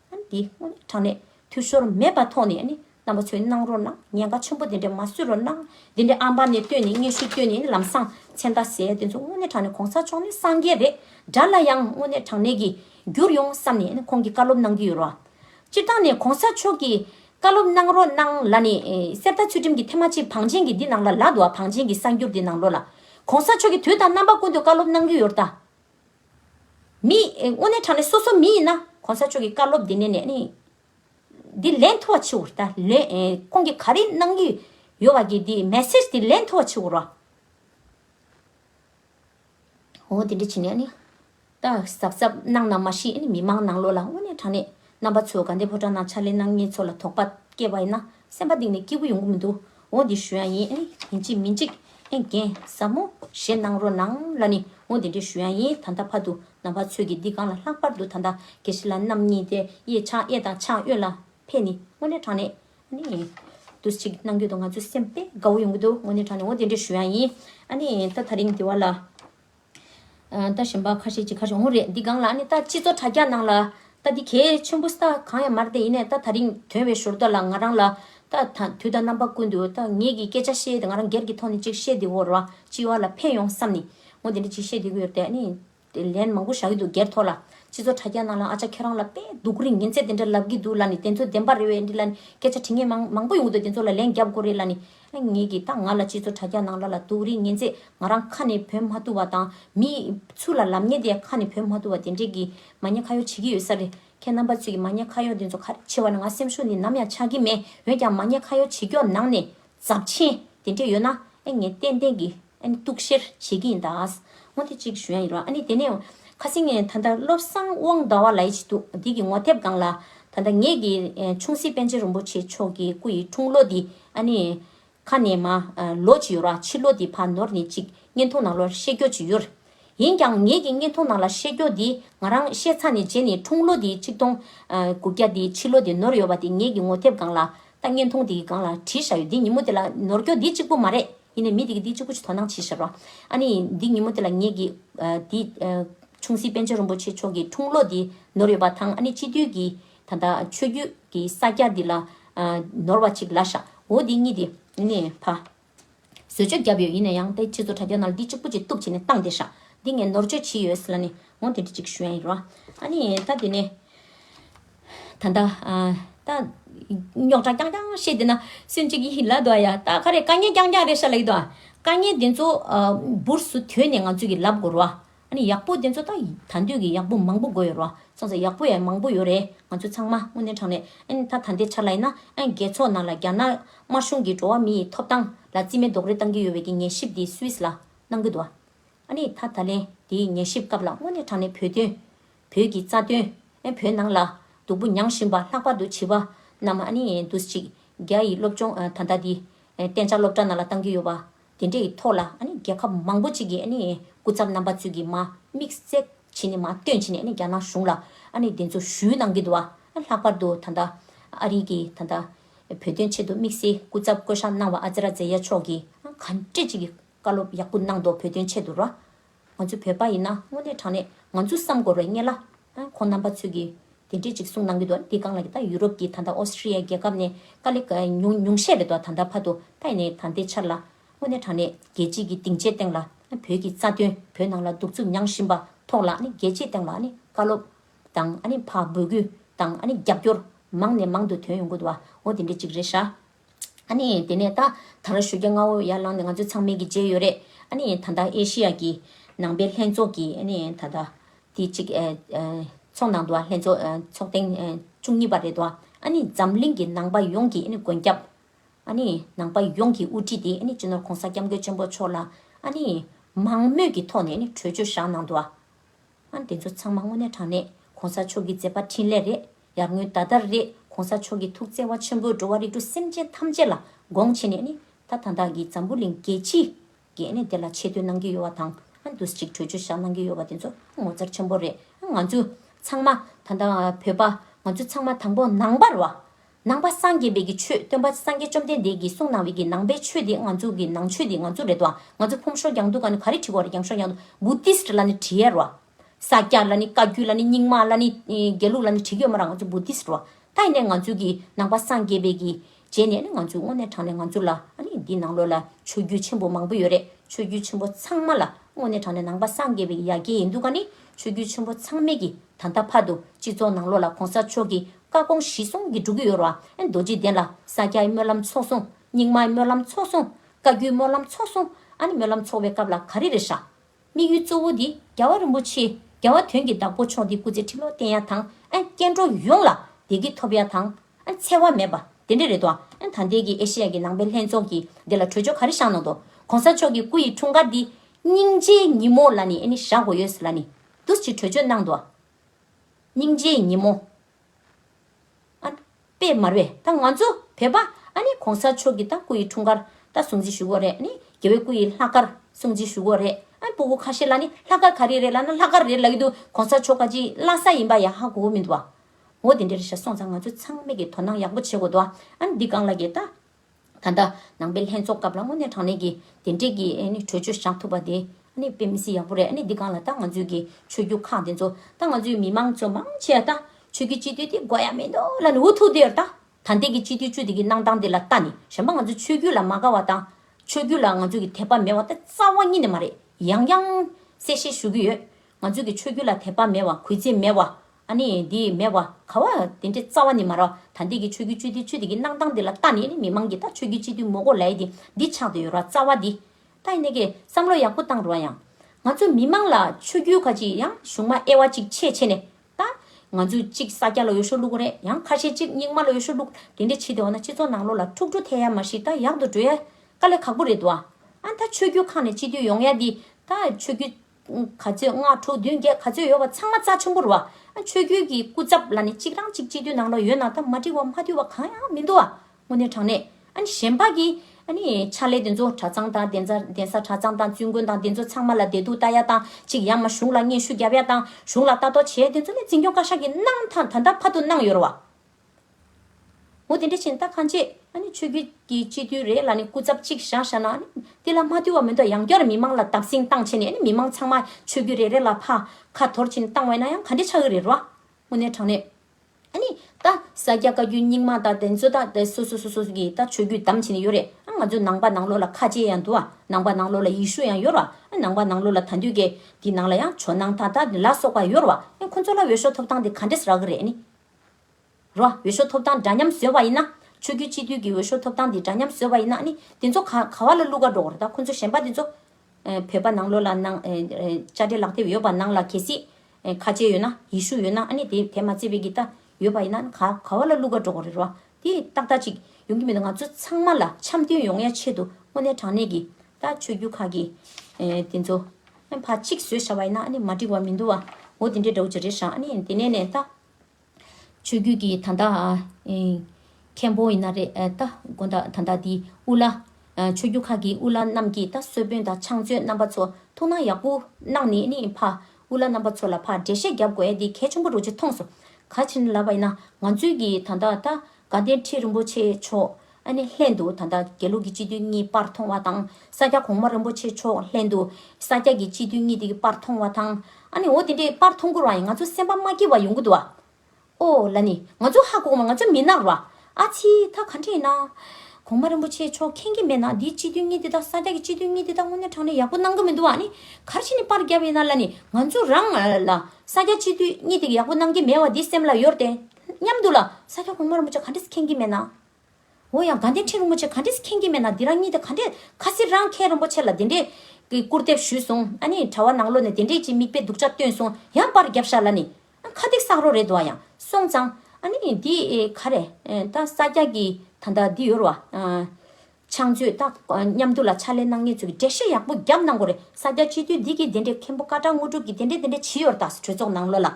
འདི་དྲང་ནས་འཐུས་ཤོར་མེད་པ་ཐོག་ནས་རྣམ་པ་ཚོས་གནང་རོགས་གནང་ཉེན་ཁ་ཆེན་པོ་དེ་འདྲ་མ་བཟོས་རོགས་གནང་འདི་འདྲ་ཨམ་པ་ནས་བཏོན་ནས་སྙན་ཞུ་བཏོན་ནས་ལམ་སང་མཚན་རྟགས་གསལ་དེ་ཚོ་དངོས་གནས་དྲང་ནས་གོང་ས་མཆོག་ནི་སངས་རྒྱས་རེད་དགྲ་ལ་ཡང་དངོས་གནས་དྲང་གནས་ཀྱི་འགྱུར་ཡོང་བསམ་ནས་ཁོང་གིས་བཀའ་སློབ་གནང་གི་ཡོད་རོགས་སྤྱིར་བཏང་ནས་གོང་ས་མཆོག་གིས་བཀའ་སློབ་གནང་རོགས་གནང་ལ་ནི་གསེར་རྟ་ཚུལ་ཁྲིམས་ཀྱི་ཐེ་མ་ཅིག་བང་ཆེན་གྱི་འདི་གནང་ལ་ལ་དུ་བ་བང་ཆེན་གྱི་གསར་འགྱུར་འདི་གནང་རོགས་ལ་གོང་ས་མཆོག་གིས་དུས་དང་རྣམ་པ་ཀུན་ཏུ་བཀའ་སློབ་གནང་གི་ཡོད་རྟ། མི། དངོས་གནས་དྲང་ནས་སོ་སོ་མི་ཡིན་ན། གོང་ས་མཆོག་གི་བཀའ་སློབ་འདི་ནས་ནས་ནི། འདི་ལན་མཐོ་བ་ཆེ་བོར་བལྟ། ལན། ཁོང་གིས་ག་རེ་གནང་གི། ཡོད་བ་ཀྱི་འདི Message འདི་ལན་མཐོ་བ་ཆེ་བོར་བ། འོ་འདི་འདྲ་བྱེད་ནས་ནི། བལྟ། ཟབ་ཟབ་གནང་ན་མ་ཤེས་ནི་མི་མང་ནང་ལོག་ལ་དངོས་གནས་དྲང་ནས། རྣམ་པ་ཚོས་ག་འདི་ཕོ་བྲང་ནང་ཕྱག་ལེན་གནང་མཁན་ཚོ་ལ་དོགས་པ་སྐྱེས་པ་ཡིན་ན་སེམས་པ་གཏིང་ནས་སྐྱིད་པོ་ཡོང་གི་མི་འདུག་འོ་འདི་ཞུ་ཡ་ཡིན་ཨེ་ཡིན་གཅིག་མིན་གཅིག་ཨེ་རྒན་ཟབ་མོ་ཞེ་གནང་རོགས་གནང་ལ་ནི་འོ་འདི་འདྲས་ཞུ་ཡ་ཡིན་ད་ལྟ་ཕ་འདུག་ནམ་ཕ་ཚོས་གི་འདི་གང་ལ་ལྷག་པར་འདུག་ད་ལྟ་གེ་ཧྲི་ལ་རྣམ་གཉིས་དེ་ཡེ་ཕྱག་གཡས་དང་ཕྱག་གཡོན་ལ་ཕེ་ནི་དངོས་གནས་དྲང་གནས་ཨནི། འདུག་གཅིག་གནང་རྒྱུ་དང་ང་ཚོས་སེམས་པས་དགའ་བོ་ཡོང་གི་འདུག་དངོས་གནས་དྲང་གནས་འོ་འདི་འདྲས་ཞུ་ཡ་ཡིན་ཨནི། ད་ད་རིང་འདི་བ་ལ། རྟ་བཞིན་པ་ཁ་ཤས་ཀྱི་ཁ་ཞོག་མོ་རེད་འདི་སྒང་ལ་ཨ་ནི་རྟ་སྤྱི་གཙོ་དྲ་རྒྱ་ནང་ལ་རྟ་འདི་གལ་ཆེན་པོ་ས་གང་ཡང་མར་དེ་ཡིན་ནས་རྟ་ད་རིང་དོན་བའི་ཞོར་དུ་ལ་ང་རང་ལ་རྟ་དང་དུས་དང་རྣམ་པ་ཀུན་ཏུ་རྟ་ངེད་ཀྱིས་སྐད་ཆ་བཤད་དེ་ང་རང་སྒེར་གྱི་ཐོག་ནས་ཅིག་བཤད་དེ་འོར་བ་སྤྱི་བ་ལ་ཕན་ཡོང་བསམ་ནས་ངོ་དེ་འདྲ་ཅིག་བཤད་དེ་གི་ཡོད་རེད་ཨ་ནི། ལན་མང་པོ་བཞག་གི་འདུག་སྒེར་ཐོག་ལ་སྤྱི་གཙོ་དྲ་རྒྱ་ནང་ལ་ཨ་ཅག་ཁྱེད་རང་ལ་དཔེ་སྡུག་རིགས་ངན་ཚད་དེ་འདྲ་ལབ་གི་འདུག་ལ་ནི་དེ་ཚོ་བདེན་པ་རེད་བས་འདི་ལ་ནི་སྐད་ཆ་དྲི་ངན་མང་མང་པོ་ཡོང་གི་འདུག་དེ་ཚོ་ལ་ལན་རྒྱབ་དགོས་རེད་ལ་ནི་ཁྱེད་གཉིས་ཀྱིས་ད་ང་ལ་ཅི་ཚོ་དྲ་རྒྱ་ནང་ལ་ལ་འདུག་རིག་ངན་ཚེ་ང་རང་ཁ་ནས་བོད་མ་ཏུ་བ་དང་མི། ཚུ་ལ་ལམ་ཉེ་དེ་ཁ་ནས་བོད་མ་ཏུ་བ་དེ་འདྲེ་གི་མ་ཉེ་ཁ་ཡོག་བྱེད་ཀྱི་ཡོད་ས་རེད་ཁྱེད་རྣམ་པ་ཚོས་ཀྱི་མ་ཉེ་ཁ་ཡོག་དེ་ཚོ་ཁ་རེད་བྱེད་བ་ན་ང་སེམས་ཤུགས་ནི་ནམ་ཡང་ཆག་གི་མེད་འོན་ཀྱང་མ་ཉེ་ཁ་ཡོག་བྱེད་ཀྱོག་ནང་ནས་རྫབ་ཆེན་དེ་འདྲེ་ཡོད་ན་ཨེ་ངས་ཏན་ཏན་གྱི། ཨ་ནི་གཏུག་བཤེར་བྱེད་ཀྱི་ཡིན་དཱ། ངོ་དེབ་ཅིག་ཞུ་ཡ་ཡིན་རུང་ཨ་ནི་དེ་ནས། ཁ་སིང་ངས་ད་ལྟ་བློ་བཟང་དབང་ཟླ་བ་ལ་ཡིད་ཆེས་འདུག་འདི་གི་ངོ་དེབ་སྒང་ལ། ད་ལྟ་ངེད་ཀྱི་ཆུང་སྲིད་པཎ་ཆེན་རིན་པོ་ཆེ་མཆོག་གི་སྐུ་ཡི་འཁྲུངས་ལོ་འདི་ཨ་ནི། ཁ་ནས་མ། ལོ་གཅིག་ཡོད་ར་ཕྱི་ལོ་འདི་ཕ་ནོར་ནི་གཅིག་བརྙན་ཐུང་ནང་ལོར་བཤད་རྒྱོ་བྱེད་ཡོད། ཡིན་ཀྱང་ངེད་ཀྱི་བརྙན་ཐུང་ནང་ལ་བཤད་རྒྱོ་འདི་ང་རང་བཤད་ཚ་ནི་རྗེས་ནི་འཁྲུངས་ལོ་འདི་གཅིག་སྟོང། དགུ་བརྒྱ་འདི་ཕྱི་ལོ་འདི་ནོར་ཡོད་པ་འདི་ངེད་ཀྱི་ངོ་དེབ་སྒང་ལ། ད་བརྙན་ཐུང་འདི་གི་སྒང་ལ་བྲིས་བཞག་ཡོད་འདི་ཉིན་མོ་དེ་ལ་ནོར་རྒྱོ་འདི་གཅིག་པུ་མ་རེད། ཡིན་ནས་མི་དེ་གིས་འདི་ཅི་ཁུ་ཅི་དོ་སྣང་བྱེད་ཞབས་རོ། ཨ་ནི། འདི་ཉིན་མོ་དེ་ལ་ངེད་ཀྱི། དེ། ཆུང་སྲིད་པན་ཆེན་རིན་པོ་ཆེ་མཆོག་གིས་འཁྲུངས་ལོ་དེ་ནོར་ཡོད་པ་དང་ཨ་ནི་སྤྱི་འཐུས་ཀྱི། ད་ལྟ་ཆོས་རྒྱུད་ཀྱི་ས་སྐྱ་འདི་ལ། ནོར་བ་ཅིག་ལ་ཤག་འོ་འདི་གཉིས་དེ། ཨ་ནི། ཕ། བཟོད་གཅོད་བརྒྱབ་ཡོད་ཡིན་ན་ཡང་དེ་ཁྱེད་ཚོ་དྲ་རྒྱ་ནང་ལ་འདི་ཅི་ཁུ་ཅི་བཏུབ་བྱས་ནས་བཏང་སྟེ་ཤག་འདི་ངས་ནོར་བཅོས་བྱས་ཡོད་ཟེར་ལ་ནི་འོ་དེ་འདྲ་ཅིག་ཞུ་ཡ་ཡིན་རོ། ཨ་ནི། ད་དེ་ནས། ད་ད། ད། རྙོག་དྲ་རྐྱང་རྐྱང་བཤད་དེ་ན་སུན་ཅིག་ཡིད་ལ་འདུག་ཡ་ད་ག་རེ་དཀའ་ངལ་རྐྱང་རྐྱང་རེད་ཤ་ལ་ཡི་འདུག་དཀའ་ངལ་དེ་ཚོ་འབུར་སུ་དོད་ནས་ང་ཚོས་ཀྱི་ལབ་དགོས་རོ། ཨ་ནི་ཡག་པོ་དེ་ཚོ་ད་ད་འདོད་ཀྱི་ཡག་པོ་མང་པོ་དགོས་ཡོད་རོ། ཚང་ཚང་ཡག་པོ་ཡ་མང་པོ་ཡོད་རེད་ང་ཚོ་ཚང་མ་སྔོན་ནས་དྲང་ནས་ཨ་ནི་ད་ད་ལྟའི་ཆར་ལ་ཡིན་ན་ཨ་རྒྱལ་ཚོགས་ནང་ལ་རྒྱ་ནག་དམར་གཞུང་གིས་འགྲོ་བ་མི་ཡི་ཐོབ་ཐང་ལ་རྩིས་མེད་རྡོག་རོལ་བཏང་གི་ཡོད་བས་ཀྱི་ཉན་ཞིབ་དེ་སུའི་ལ་གནང་གི་འདུག་ཨ་ནི་ད་ད་ལན་དེའི་ཉན་ཞིབ་སྐབས་ལ་སྔོན་ནས་དྲང་ནས་བོད་དོན་བོད་ཀྱི་རྩ་དོན། བོད་ནང་ལ། སྡུག་པོ་མྱངས་བཞིན་པ་ལྷག་པར་དུ་བྱིས་པ། རྣམས་ཨ་ནི། འདུས་གཅིག། རྒྱ་ཡི་སློབ་སྦྱོང་ད་ལྟ་འདི། གཏན་ཆགས་སློབ་གྲྭ་ནང་ལ་བཏང་གི་ཡོད་པ། དེ་འདྲའི་ཡི་ཐོག་ལ་ཨ་ནི་རྒྱལ་ཁབ་མང་པོ་ཅིག་གི་ཨ་ནི། སྐུ་ཚབ་རྣམ་པ་ཚོས་ཀྱི་མ་དམིགས་བསལ་བྱེད་ནི་མ་བཏོན་བྱེད་ནི་ཨ་ནི་རྒྱ་ནག་གཞུང་ལ་ཨ་ནི་བདེན་འཚོལ་ཞུས་གནང་གི་འདུག་བ། ལྷག་པར་དུ་ད་ལྟ། ཨ་རིའི་གི་ད་ལྟ། བོད་དོན་ཆེད་དུ་དམིགས་བསལ་སྐུ་ཚབ་བསྐོས་ཤག་གནང་བ་ཨ་ཛེ་ར་ཛེ་ཡ་མཆོག་གི། ག་འདྲེ་ཅིག་གི། བཀའ་སློབ་ཡག་པོ་གནང་འདུག་བོད་དོན་ཆེད་དུ་ར། ང་ཚོ་བོད་པ་ཡིན་ན་དངོས་གནས་དྲང་གནས་ང་ཚོ་བསམ་དགོས་རེད་བསྙད་ལ། ཁོང་རྣམ་པ་ཚོས་ཀྱི་དེ་འདྲས་ཅིག་གསུང་གནང་གི་འདུག་འདི་གང་ལ་ཡིན་ད་ཡུ་རོབ་ཀྱི་ད་ལྟ་ཨོ་སི་ཀྲི་ཡ་རྒྱལ་ཁབ་ནས་དཀའ་ལས་ཉུང་ཉུང་བཤད་རེད་དོ་ད་ལྟ་ཕ་དུ་ཕ་ཡིན་ནའི་ད་འདི་ཆར་ལ། དངོས་གནས་དྲང་གནས་རྒྱལ་སྤྱིས་ཀྱི་སྡིངས་ཆའི་སྟེང་ལ་བོད་ཀྱི་རྩ་དོན་བོད་ནང་ལ་གདུག་རྩུབ་མྱངས་བཞིན་པ་ཐོག་ལ་རྒྱལ་སྤྱིའི་སྟེང་ལ་བཀའ་སློབ། དང། འཕགས་འབུལ་གུས། དང། རྒྱབ་སྐྱོར། མང་ནས་མང་དུ་དོན་ཡོང་གི་འདུག་བ་ཨོ་དེ་འདྲས་ཅིག་རེད་ཤག། ཨ་ནི་དེ་ནས་ད་ད་ར་ཞོ་རྒྱ་རྔ་བོ་ཡར་ལངས་ནས་ང་ཚོ་ཚང་མེད་ཀྱི་བརྗེད་ཡོད་རེད་ཨ་ནི་ད་ད་ཨེ་ཤི་ཡ་ཀྱི་ནང་པའི་ལྷན་ཚོགས་ཀྱི་ཨ་ནི་ད་ད་དེ་གཅིག་ཚོགས་ནང་དུ་ཨ་ལྷན་ཚོགས་ཚོགས་ཐེངས་བཅུ་གཉིས་པ་རེད་ཨ་ནི་འཛམ་གླིང་གི་ནང་པ་ཡོངས་ཀྱི་ཨ་ནི་མགོན་སྐྱབས་ཨ་ནི་ནང་པ་ཡོངས་ཀྱི་དབུ་ཁྲིད་དེ་ཨ་ནི་སྤྱི་ནོར་གོང་ས་སྐྱབས་མགོན་ཆེན་པོ་མཆོག་ལ་ཨ་ནི་མང་མོས་ཀྱི་ཐོག་ནས་ཨ་ནི་གྲོས་ཆོད་བཞག་གནང་འདུག་ཨ། ཨ་འདི་ཚོ་ཚང་མ་དངོས་གནས་དྲང་གནས་གོང་ས་མཆོག་གི་མཛད་པ་འཕྲིན་ལས་རེད་ཡར་སྔོན་ད་ལྟར་རེད་གོང་ས་མཆོག་གི་ཐུགས་བརྩེ་བ་ཆེན་པོས་འགྲོ་བ་རིགས་དྲུག་སེམས་ཅན་ཐམས་ཅད་ལ་དགོངས་བྱས་ནས་ནི་ད་དང་བདག་གིས་འཛམ་བུ་གླིང་རྒྱལ་སྤྱིའི་གི་ནི་དེ་ལ་ཆེད་དོན་གནང་གི་ཡོད་བ་དང་ཨ་འདུ་ཅིག་གྲོས་ཆོད་བཞག་གནང་གི་ཡོད་བ་དེ་ཚོ་ཨ་ངོ་མཚར་ཆེན་པོ་རེད་ཨ་ང་ཚོ་ཚང་མ་ད་ད་བོད་པ་ང་ཚོ་ཚང་མ་དང་པོ་ནང་པར་བ་ནང་པ་སངས་རྒྱས་འབེལ་གྱི་ཆོས་སྟོན་པ་སངས་རྒྱས་བཅོམ་ལྡན་འདས་ཀྱིས་གསུངས་གནང་བའི་གི་ནང་པའི་ཆོས་དེ་ང་ཚོ་གི་ནང་ཆོས་དེ་ང་ཚོ་རེད་དོ། ང་ཚོ་ཕོམ་ཤོར་རྒྱང་འདུག་ག་ནི་ག་རེ་བྲིས་གོ་རེ་རྒྱང་ཤོར་རྒྱང་འདུག Buddhist ལ་ནི་བྲིས་ཡས་རོ། ས་སྐྱ་ལ་ནི་བཀའ་བརྒྱུད་ལ་ནི་རྙིང་མ་ལ་ནི་དགེ་ལུགས་ལ་ནི་བྲིས་ཡོད་མ་རང་ང་ཚོ Buddhist རོ། ད་ཡིན་ནས་ང་ཚོ་གི་ནང་པ་སངས་རྒྱས་འབེལ་གྱིས་རྗེས་ནས་ནི་ང་ཚོ་དངོས་གནས་དྲང་ནས་ང་ཚོ་ལ་ནི་འདི་ནང་ལོ་ལ་ཆོས་བརྒྱུད་ཆེན་པོ་མང་པོ་ཡོད་རེད་ཆོས་བརྒྱུད་ཆེན་པོ་ཚང་མ་ལ་དངོས་གནས་དྲང་ནས་ནང་པ་སངས་རྒྱས་འབེལ་གྱི་ཡ་གྱལ་ཡིན་འདུག་ག་ནི་ཆོས་བརྒྱུད་ཆེན་པོ་ཚང་མས་གི་ད་ལྟ་བར་དུ་སྤྱི་ཚོགས་ནང་ལོ་ལ་གོང་ས་མཆོག་གི་བཀའ་དགོངས་གཞི་གསུམ་གྱི་འབྲུ་གུ་གཡོར་བ། རྡོ་རྗེ་གདན་ལ། ས་སྐྱའི་སྨོན་ལམ་ཚོགས་གསུང། རྙིང་མའི་སྨོན་ལམ་ཚོགས་གསུང། བཀའ་བརྒྱུད་སྨོན་ལམ་ཚོགས་གསུང། ཨ་ནི་སྨོན་ལམ་ཚོགས་པའི་སྐབས་ལ་ག་རེ་རེ་བཞག། དམིགས་ཡུལ་གཙོ་བོ་འདི་རྒྱལ་བ་རིན་པོ་ཆེ། རྒྱལ་བ་དོན་གྱི་བདག་པོ་མཆོག་འདི་སྐུ་ཚེ་ཁྲི་ལོ་བརྟན་ཡ་དང། སྐྱེ་འགྲོ་ཡོངས་ལ་བདེ་སྐྱིད་ཐོབ་ཡ་དང། འཚེ་བ་མེད་པ། དེ་འདྲ་རེད་དོ། ད་ལྟའི་གི་ཨེ་ཤེ་ཡ་གི་ནང་པའི་ལྷན་ཚོགས་ཀྱི་དེ་ལ་གྲོས་ཆོད་ག་རེ་བཞག་གནང་འདུག་གོང་ས་མཆོག་གི་སྐུ་ཡི་འཁྲུངས་སྐར་འདི། སྙིང་རྗེའི་ཉིན་མོ་ལ་ནི་ཨེ་ནི་བཞག་དགོས་ཡོད་ལ་ནི། འདུ་བྱེད་གྲོས་ཆོད་གནང་འདུག། སྙིང་རྗེའི་ཉིན་མོ། ཨ་ནི། པད་མར་བས་ད་ང་ཚོ་བོད་པ། ཨ་ནི་གོང་ས་མཆོག་གིས་ད་སྐུ་ཡི་འཁྲུངས་སྐར། ད་སྲུང་བརྩི་ཞུ་གོ་རེད་ཨ་ནི། རྒྱལ་བའི་སྐུ་ཡི་ལྷག་དཀར། སྲུང་བརྩི་ཞུ་གོ་རེད་ཨ་ནི། སྤུ་གུ་ཁ་ཤས་ལ་ནི་ལྷག་དཀར་ག་རེ་རེད་ལ་ན་ལྷག་དཀར་རེད་ལ་གི་འདུག་གོང་ས་མཆོག་ཁ་ཅིག་བླ་ས་ཡིན་པ་ཡ་ཧ་གོ་གོ་མི་འདུག་བ། འོ་དེ་འདྲེར་ཤ་སོང་ཙང་ང་ཚོས་ཚང་མེད་ཀྱི་དོ་སྣང་ཡག་པོ་བྱེད་གོ་འདུག་བ། ཨ་ནི་འདི་གང་ལ་གི་ད། ད་ལྟ་ནང་པའི་ལྷན་ཚོགས་སྐབས་ལ་དངོས་གནས་དྲང་གནས་ཀྱི་དེ་འབྲེལ་གྱི་གྲོས་ཆོད་བཞག་ཐུབ་པ་དེ་དཔེ་མི་སྲིད་ཡག་པོ་རེད་འདི་གང་ལ་ལྟ་ང་ཚོའི་གི་ཆོས་རྒྱུད་ཁག་དེ་ཚོ་ལྟ་ང་ཚོའི་མི་མང་ཚོ་མང་ཆེ་ལྟ་ཆོས་རྒྱུད་སྤྱི་འཐུས་དེ་དགོས་ཡ་མེད་འདུག་ལ་ནི་འུ་ཐུག་དེར་ལྟ་ད་འདས་ཀྱི་སྤྱི་འཐུས་བཅུ་དེ་གི་གནང་སྟངས་དེ་ལ་ལྟ་ནི་གཞན་པ་ང་ཚོ་ཆོས་རྒྱུད་ལ་མ་དགའ་བ་དང་ཆོས་རྒྱུད་ལ་ང་ཚོ་གི་དད་པ་མེད་བ་དེ་རྩ་བ་ཉིད་ནས་མ་རེད་ཡང་ཡང་གསལ་བཤད་ཞུ་གི་ཡོད་ང་ཚོ་གི་ཆོས་རྒྱུད་ལ་དད་པ་མེད་བ་གུས་བརྩི་མེད་བ་ཨ་ནི་འདི་མེད་བ། ག་བ། དེ་འདྲའི་རྩ་བ་ནི་མ་རོ། ད་འདི་གི་ཆོས་ཀྱི་སྤྱོད་དུས་ཚོད་དེ་གི་གནང་སྟངས་འདི་ལ་ལྟ་ནི་མི་མང་གི་ད་ཆོས་ཀྱི་སྤྱི་དུས་མོ་གོ་ལའི་དེ་འདི་ཆགས་དུ་ཡོད་རོ་རྩ་བ་འདི། ད་ཡིན་ནའི་གི་བསམ་བློ་ཡག་པོ་བཏང་རོ་ཡང། ང་ཚོ་མི་མང་ལ་ཆོས་རྒྱུད་ཁ་ཅིག་ཡང་གཞུང་མ་ཨེ་བ་ཅིག་ཆེས་ཆེ་ནས་ད། ང་ཚོས་གཅིག་ས་སྐྱ་ལ་ཡོ་ཤོ་བླུག་གོ་རེད་ཡང་ཁ་ཤས་གཅིག་རྙིང་མ་ལ་ཡོ་ཤོ་བླུག་དེ་འདྲའི་བྱེད་དེ་འོ་ན་སྤྱི་ཚོགས་ནང་ལོ་ལ་ཕྲུག་ཕྲུག་ཐལ་ཡ་མ་ཞིག་ད་ཡག་ཏུ་འགྲོ་ཡ་དཀའ་ལས་ཁག་པོ་རེད་དོ། ཨ་ད་ཆོས་རྒྱུད་ཁག་ནས་སྤྱི་དུས་ཡོང་ཡ་འདི་ད་ཆོས་རྒྱུད། ག་ཚོད་ལྔ་དྲུག་བདུན་བརྒྱད་ག་ཚོད་ཡོད་པ་ཚང་མ་རྩ་ཆེན་པོར་བ། ཆོས་བརྒྱུད་ཀྱི་སྐུ་ཚབ་ལ་ནི་གཅིག་རང་གཅིག་གཅིག་བསྡུས་ནང་ལ་ཡོད་ན་ད་མ་འདྲི་བ་མ་འདུལ་བ་གང་ཡང་མི་འདུག་ཨ། དངོས་གནས་དྲང་གནས། གཞན་ཕ་གི། ཕྱག་ལས་དེ་ཚོ་གྲྭ་ཚང་དང་གདན་ས་གྲྭ་ཚང་དང་བཙུན་དགོན་དང་དེ་ཚོ་ཚང་མ་ལ་བདེ་སྡུག་ལྟ་ཡ་དང་གཅིག་ཡང་མ་གཞུང་ལ་སྙན་ཞུ་བརྒྱབ་ཡ་དང་གཞུང་ལ་ལྟ་རྟོག་བྱེད་ཡ་དེ་ཚོ་ལས་འཛིན་སྐྱོང་བཀའ་ཤག་གིས་གནང་དང་ད་ལྟ་ཕ་ཏུ་གནང་ཡོད་ར་བ། མོ་དེ་འདྲ་ཕྱིན་ད་གང་བྱེད། ཨ་ནི་ཆོས་རྒྱུད་ཀྱི་སྤྱི་འཐུས་རེ་ལ་ནི་སྐུ་ཚབ་གཅིག་བཞག་བཞག་ན་ནི་དེ་ལ་མ་འཐུས་བ་མི་འདུག་ཡང་བསྐྱར་མི་མང་ལ་བདག་སྲིང་བཏང་བྱས་ནས་ནི་མི་མང་ཚང་མ་ཆོས་རྒྱུད་རེ་རེ་ལ་ཕ་ཁ་དོར་བྱིན་བཏང་བས་ན་ཡང་ག་འདྲས་ཆགས་ཀྱི་རེད་རོ། དངོས་གནས་དྲང་གནས། ཨ་ནི་ད་ས་སྐྱ་བཀའ་བརྒྱུད་རྙིང་མ་དང་བདེན་གསོལ་དང་ད་སོ་སོ་སོ་སོ་གིས་ད་ཆོས་རྒྱུད་བདམས་བྱེད་ནི་ཡོད་རེད་ཨ་ང་ཚོའི་ནང་པ་ནང་ལོག་ལ་ཁ་ལྕེ་ཡང་འདུག་ཨ་ནང་པ་ནང་ལོག་ལ་ཡི་ཤུ་ཡང་ཡོད་རོ་ཨ་ནང་པ་ནང་ལོག་ལ་ད་འདུས་སྐད་དེ་ནང་ལ་ཡང་ཇོ་ནང་དང་ད་ལ་སོགས་པ་ཡོད་རོ་ཨ་ཁོ་ཚོ་ལ་འོས་ཤོག་ཐོབ་སྟངས་དེ་ག་འདྲས་རག་གི་རེད་ཨ་ནི། རོ། འོས་ཤོག་ཐོབ་སྟངས་འདྲ་མཉམ་བཟོས་པ་ཡིན་ན། ཆོས་རྒྱུད་སྤྱི་འཐུས་ཀྱི་འོས་ཤོག་ཐོབ་སྟངས་དེ་འདྲ་མཉམ་བཟོས་པ་ཡིན་ན་ནི། དེ་ཚོ་ག་ག་བ་ལ་བསླུ་ག་འགྲོ་གོ་ད་ཁོ་ཚོ་གཞན་པ་དེ་ཚོ། བོད་པ་ནང་ལོག་ལ་ནང་དཔྱ་ཁྲལ་ལག་དེབ་ཡོད་པ་ནང་ལ་གལ་སྲིད། ཁ་ལྕེ་ཡོད་ན་ཡི་ཤུ་ཡོད་ན་ནི་དེ་དེ་མ་བརྩེ་བས་ཀྱི་ད་ཡོད་པ་ཡིན་ན་ག་ག་བ་ལ་བསླུ་ག་འགྲོ་གོ་རེད་རོ། དེ་ཏག་ཏག་ཅིག་ཡོང་གི་མི་འདུག་ང་ཚོ་ཚང་མ་ལ་འཆམ་མཐུན་ཡོང་ཡ་ཆེད་དུ་དངོས་གནས་དྲང་གནས་ཀྱི་ད་ཆོས་རྒྱུད་ཁག་གི། དེ་ཚོ། ཕ་གཅིག་བཟོས་བཞག་པ་ཡིན་ན་ནི་མ་འགྲིག་བ་མི་འདུག་བ་འོ་དེ་འདྲའི་འདྲ་བོ་ཅིག་རེད་ཤག་ནི་དེ་ནས་ནས་ད། ཆོས་རྒྱུད་ཀྱི་ད་ལྟ། མཁན་པོ་ཡིན་ན་རེད་ད། དགོན་བདག་ད་ལྟ་འདི་དབུ་བླ། ཆོས་རྒྱུད་ཁག་གི་དབུ་བླ་རྣམས་ཀྱིས་ད་གསོལ་དཔོན་དང་ཕྱག་མཛོད་རྣམ་པ་ཚོ་ཐུགས་སྣང་ཡག་པོ་གནང་ནས་ནི་ཕ། དབུ་བླ་རྣམ་པ་ཚོ་ལ་ཕ་འབྲེལ་བཤད་རྒྱབ་དགོས་འདི་གལ་ཆེན་པོ་རུ་ཆེ་མཐོང་སོང། ག་ཕྱིར་ལབ་པ་ཡིན་ན་ང་ཚོའི་གི་ད་ལྟ་ད། དགའ་ལྡན་ཁྲི་རིན་པོ་ཆེ་མཆོག། ཨ་ནི་ལྷན་དུ་ད་ལྟ་དགེ་ལུགས་ཀྱི་སྤྱི་འཐུས་གཉིས་སྤར་མཐོང་བ་དང་ས་སྐྱ་གོང་མ་རིན་པོ་ཆེ་མཆོག་ལྷན་དུ་ས་སྐྱ་ཀྱི་སྤྱི་འཐུས་གཉིས་དེ་གི་སྤར་མཐོང་བ་དང་ཨ་ནི་འོ་དེ་འདྲའི་སྤར་མཐོང་སྐོར་བ་ཡིན་ང་ཚོ་སེམས་པ་མ་སྐྱིད་བ་ཡོང་གི་འདུག་ཨ། ཨོ་ལ་ནི་ང་ཚོ་ཧ་གོ་མ་ང་ཚོ་མི་ནག་རོ་ཨ། ཨ་ཕྱི་ད་ག་འདྲ་ཡིན་ན། གོང་མ་རིན་པོ་ཆེ་མཆོག་མཁྱེན་གྱི་མེད་ན་དེའི་སྤྱི་འཐུས་གཉིས་དེ་དག་ས་སྐྱ་ཀྱི་སྤྱི་འཐུས་གཉིས་དེ་དག་དངོས་གནས་དྲང་གནས་ཡག་པོ་གནང་གི་མི་འདུག་ཨ་ནི་གར་ཕྱི་ནས་པར་བརྒྱབ་ཡིན་ན་ལ་ནི་ང་ཚོ་རང་ཨ་ལ་ས་སྐྱ་སྤྱི་འཐུས་གཉིས་དེ་གི་ཡག་པོ་གནང་གྱི་མེད་བ་དེ་སེམས་ལ་ཡོར་ཏེ་སྙམ་འདུག་ལ་ས་སྐྱ་གོང་མ་རིན་པོ་ཆེ་ག་འདྲས་མཁྱེན་གྱི་མེད་ན། འོ་ཡང་དགའ་ལྡན་ཁྲི་རིན་པོ་ཆེ་ག་འདྲས་མཁྱེན་གྱི་མེད་ན་འདི་རང་གཉིས་དེ་ག་འདྲས་ཁ་སེར་རང་མཁྱེན་རིན་པོ་ཆེ་ལ་དེ་འདྲས། སྐུར་འདེབས་ཞུས་སོང་ཨ་ནི་གྲྭ་བ་ནང་ལོ་ནས་དེ་འདྲས་ཀྱི་མིག་དཔེ་སྡུག་ཅག་སྟོན་སོང་ཡང་པར་རྒྱབ་ཤ་ལ་ནི། ཨ་ཁ་སྡིག་བསགས་རོགས་རེད་འདུག་ཡང་སོང་ཙང་ཨ་ནི་འདི་ག་རེ་ད་ས་སྐྱ་གི་ད་ལྟ་འདི་ཡོད་རོ་ཨ། ཆང་བཅོས་ད་མཉམ་དུ་ལ་ཕྱག་ལས་གནང་ངེས་ཚུལ་གྱི་འགྲེལ་བཤད་ཡག་པོ་བརྒྱབ་གནང་གོ་རེ་ས་སྐྱ་སྤྱི་འཐུས་འདི་གི་དེ་འདྲས་མཁན་པོ་ཀ་བྲག་དངོས་གྲུབ་ཀྱི་དེ་འདྲས་དེ་འདྲས་བྱི་ཡོར་ད་གྲོས་ཚོགས་ནང་ལོ་ལ།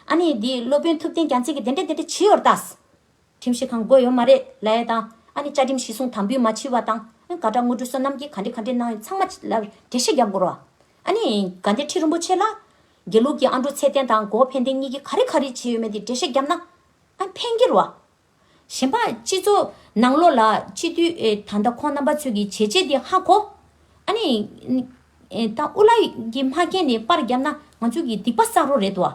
ཨ་ནི་འདི་སློབ་དཔོན་ཐུབ་བསྟན་རྒྱ་མཚན་གྱི་དེ་འདྲས་དེ་འདྲས་བྱི་ཡོར་ད། ཁྲིམས་ཞིབ་ཁང་དགོས་ཡོད་མ་རེད་ལ་ཡ་དང། ཨ་ནི་བཅའ་ཁྲིམས་ཞིས་གསུངས་དམ་འབུལ་མ་བྱིས་བ་དང། ག་དགྲ་དངོས་གྲུ་བསོད་ནམས་ཀྱིས་ག་འདྲི་ག་འདྲི་གནང་ཡོད་ཚང་མ་ལ་འགྲེལ་བཤད་རྒྱབ་དགོས་རོ། ཨ་ནི། ག་འདྲི་ཁྲི་རིན་པོ་ཆེ་ལ། དགེ་ལུགས་ཀྱི་ཨ་འབྲུག་ཚེ་བརྟན་དང་གོ་ཕན་ལྡན་གཉིས་ཀྱིས་ག་རེ་ག་རེ་བྱས་ཡོད་མེད་འདི་འགྲེལ་བཤད་རྒྱབ་ན། ཨ་ནི་ཕན་གྱི་རོ། གཞན་པ་སྤྱི་ཚོགས་ནང་ལོག་ལ་སྤྱི་འཐུས་ད་ལྟ་ཁོང་རྣམ་པ་ཚོས་ཀྱི་བྱས་རྗེས་འདི་ཧ་གོ། ཨ་ནི། ད་དབུ་བླ་ཡིས་མ་ཁེངས་ནས་པར་རྒྱབ་ན་ང་ཚོས་ཀྱི་སྡིག་པ་བསགས་རོགས་རེད་དོ།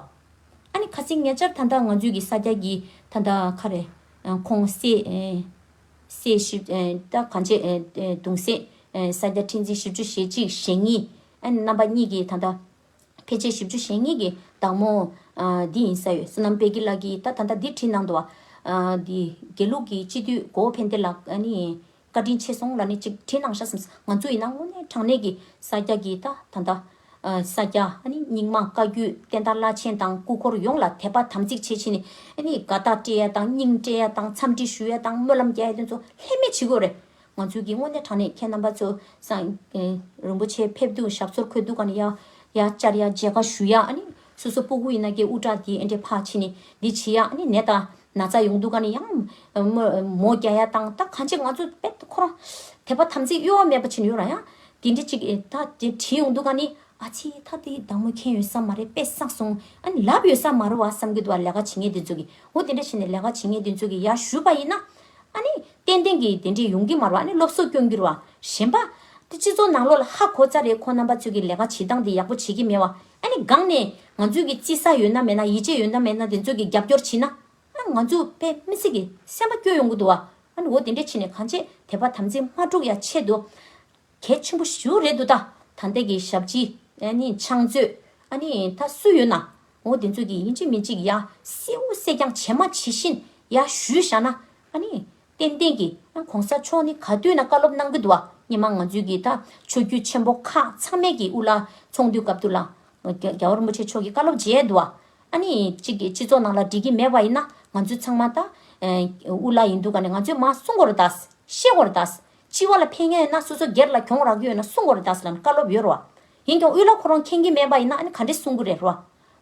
ཨ་ནི་ཁ་སིང་ངེ་ཅར་ཐ་མདའ་ང་ཚོས་ཀྱི་ས་སྐྱ་ཀྱི་ཐ་མདའ་ཁ་རེད། ཁོང་སེས་ཞིབ་ལྟ་གང་བྱས་དུང་སེས་ས་སྐྱ་ཁྲི་འཛིན་བཞི་བཅུ་ཞེ་གཅིག་ཞེ་གཉིས་ཨ་ནི་རྣམ་པ་གཉིས་ཀྱི་ཐ་མདའ་ཕལ་ཆེར་བཞི་བཅུ་ཞེ་གཉིས་ཀྱི་བདག་མོ་འདི་ཡིན་ས་ཡོད་བསོད་ནམས་དཔལ་སྐྱིད་ལགས་ཀྱིས་ད་ཐ་མདའ་འདི་བྲིས་གནང་འདུག་བ། དགེ་ལུགས་ཀྱི་སྤྱི་འཐུས་གོ་བོ་ཕན་བདེ་ལགས་ཨ་ནི་བཀའ་དྲིན་ཆེ་སོང་ལ་ནི་ཅིག་དྲིན་གནང་ཤག་སམ། ང་ཚོ་ཡིན་ན་དངོས་གནས་དྲང་གནས་ཀྱི་ས་སྐྱ་ཀྱི་ད་ད་ད། ས་སྐྱ་ཨ་ནི་རྙིང་མ་བཀའ་བརྒྱུད་བསྟན་དར་བླ་ཆེན་དང་སྐུ་འཁོར་ཡོངས་ལ་དད་པ་དམ་ཚིག་ཆེ་བཞིན་ཨ་ནི་དགའ་རྟགས་སྤྲད་ཡ་དང་སྙིང་སྤྲད་ཡ་དང་འཚམས་འདྲི་ཞུ་ཡ་དང་སྨོན་ལམ་རྒྱ་ཡ་དོན་ཚོ་ལྷད་མེད་བྱེད་དགོས་རེད། ང་ཚོའི་གི་དངོས་གནས་དྲང་གནས་ཁྱེད་རྣམ་པ་ཚོ་སང། རིན་པོ་ཆེ་ཕེབས་དུས་ཞབས་སོར་འཁོད་འདུག་ག་ནི་ཡ། ཡ་བཅར་ཡ་མཇལ་ཁ་ཞུ་ཡ་ཨ་ནི་སོ་སོ་སྤོ་གུ་ཡིན་ན་གི་དབུ་སྐྲ་དེ་ཨེ་འདྲས་ཕ་ཕྱི་ནི་འདི་བྱེད་ཡ་ཨ་ནི་ནད་ད། ན་ཚ་ཡོང་འདུག་ག་ནི་ཡང། མོ་རྒྱ་ཡ་དང་ད་གང་ཆེ་ང་ཚོ་དཔེ་ཁོ་རང། དད་པ་དམ་ཚིག་གཡོ་བ་མེད་པ་བྱིན་ཡོད་རང་ཡང། དེ་འདྲི་ཅིག་ད་དེ་དྲིས་ཡོང་འདུག་ག་ནི། ཨ་ཕྱི་ད་དེ་བདག་མོ་མཁྱེན་ཡོད་ས་མ་རེད་དཔེ་བསགས་སོང། ཨ་ནི་ལབ་ཡོད་ས་མ་རེད་བ་བསམ་གྱི་འདུག་བ་ལས་ཀ་བྱེད་ངེས་དེ་ཚོ་གི། འོ་དེ་འདྲ་བྱས་ནས་ལས་ཀ་བྱེད་ངེས་དེ་ཚོ་གི་ཡར་ཞུས་པ་ཡིན་ན། ཨ་ནི། ཏན་ཏན་གྱི་དེ་འདྲི་ཡོང་གི་མ་རེད་བ་ཨ་ནི་སློབ་གསོ་སྐྱོང་རྒྱུར་བ། གཞན་པ། དེ་སྤྱི་ཚོགས་ནང་ལོག་ལ་ཧ་གོ་ཚར་རེད་ཁོ་རྣམ་པ་ཚོས་གི་ལས་ཀ་བྱེད་སྟངས་དེ་ཡག་པོ་བྱེད་ཀྱི་མེད་བ། ཨ་ནི་སྒང་ནས་ང་ཚོས་ཀྱི་བརྩི་ས་ཡོད་ན་མེད་ན་ཡིད་ཆེས་ཡོད་ན་མེད་ན་དེ་ཚོས་ཀྱི་རྒྱབ་སྐྱོར་བྱེད་ན། ཨ་ང་ཚོས་པའི་མི་སེར་གྱི་སེམས་པ་སྐྱོ་ཡོང་གི་འདུག་ཨ་ནི་འོ་དེ་འདྲས་བྱེད་ནས་གང་བྱེད་དེ་བར་དམ་འཛིན་མ་དཀྲུག་ཡ་ཆེད་དུ། གལ་ཆེན་པོ་ཞུ་རེད་འདུག་ད་ད་ལྟའི་ཀྱི་ཞབས་ཕྱི། ཨ་ནི་ཆང་མཛོད། ཨ་ནི་ད་སུ་ཡོད་ན། འོ་དེ་ཚོས་ཀྱི་ཡིན་གཅིག་མིན་གཅིག་ཡ་སེའུ་སེ་རྐྱང་བྱེད་མ་བྱེད་བཞིན་ཡ་ཞུས་བཞག་ན། ཨ་ནི་ཏན་ཏན་གྱི་ཨ་གོང་ས་མཆོག་ནི་ག་དུས་ན་བཀའ་སློབ་གནང་གི་འདུག་བ་ཉི་མ་ང་ཚོའི་གི་ད་ཆོས་རྒྱུད་ཆེན་པོ་ཁག་ཚང་མས་གི་དབུ་ལ་ཚོགས་འདུའི་སྐབས་དུ་ལ་རྒྱ་བ་རིན་པོ་ཆེ་མཆོག་གི་བཀའ་སློབ་མཇལ་འདུག་བ་ཨ་ནི་ཅིག་གི་སྤྱི་ཚོགས་ནང་ལ་འགྲིག་གི་མེད་བ་ཡིན་ན་ང་ཚོའི་ཚང་མ་ད་དབུ་ལ་ཡིན་འདུག་ག་ནི་ང་ཚོས་མ་གསུང་གོ་རུ་ད་ཤེས་གོ་རུ་ད་སྤྱི་བ་ལ་ཕན་ཡོན་ཡོད་ན་སོ་སོ་སྒེར་ལ་གྱོང་རག་རྒྱུ་ཡོད་ན་གསུང་གོ་རུ་ད་ལ་ནི་བཀའ་སློབ་ཡོད་རུ་བ་ཡིན་ཀྱང་དབུ་ལ་ཁོ་རང་མཁྱེན་གྱི་མེད་བ་ཡིན་ན་ཨ་ནི་ག་འདྲས་གསུང་གི་རེད་རུ་བ་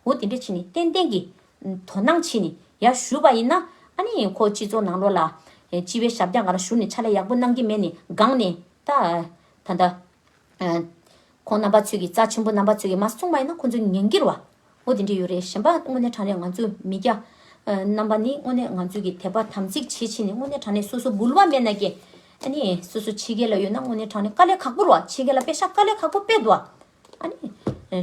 འོ་དེ་འདྲས་ཕྱིན་ནི་ཏན་ཏན་གྱི་དོ་སྣང་བྱས་ནས་ཡར་ཞུས་པ་ཡིན་ན། ཨ་ནི་ཁོ་སྤྱི་ཚོགས་ནང་ལོགས་ལ། སྤྱི་བའི་ཞབས་བཀྱག་ང་རང་ཞུ་ནས་ཕྱག་ལས་ཡག་པོ་གནང་གི་མེད་ནས་སྒང་ནས། ད་ལྟ། ཁོང་རྣམ་པ་ཚོས་ཀྱི་རྩ་ཆེན་པོ་རྣམ་པ་ཚོས་ཀྱི་མ་གསུངས་པ་ཡིན་ན་ཁོང་ཚོ་ཉན་གིར་བ། འོ་དེ་འདྲས་ཡོད་རེད་གཞན་པ་དངོས་གནས་དྲང་གནས་ང་ཚོས་མི་སྐྱ། རྣམ་པ་ནི་དངོས་གནས་ང་ཚོས་ཀྱི་དད་པ་དམ་ཚིག་ཆེ་ཆེ་ནས་དངོས་གནས་དྲང་གནས་སོ་སོ་འབུལ་བ་མེད་ན་ཀྱེ། ཨ་ནི་སོ་སོ་ཕྱི་རྒྱལ་ལ་ཡོད་ན་དངོས་གནས་དྲང་གནས་དཀའ་ལས་ཁག་པོར་བ་ཕྱི་རྒྱལ་ལ་པེ་ཤ་དཀའ་ལས་ཁག་པོ་པེད་བ། ཨ་ནི།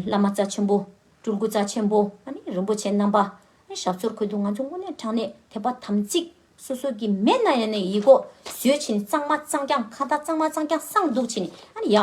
བླ་མ་རྩ་ཆེན་པོ། སྤྲུལ་སྐུ་རྩ་ཆེན་པོ་རིན་པོ་ཆེ་རྣམ་པ། ཞབས་མཚོར་འཁོད་འདུག་ང་ཚོ་དངོས་གནས་དྲང་གནས་དད་པ་དམ་ཚིག་སོ་སོ་གི་མེད་ན་ཡང་ནས་ཡིག་སྒོ་བཟོས་ཕྱིན་གཙང་མ་གཙང་རྐྱང་ཁ་བརྡ་གཙང་མ་གཙང་རྐྱང་གསང་འདུག་ཕྱིན་ནས་ཡ།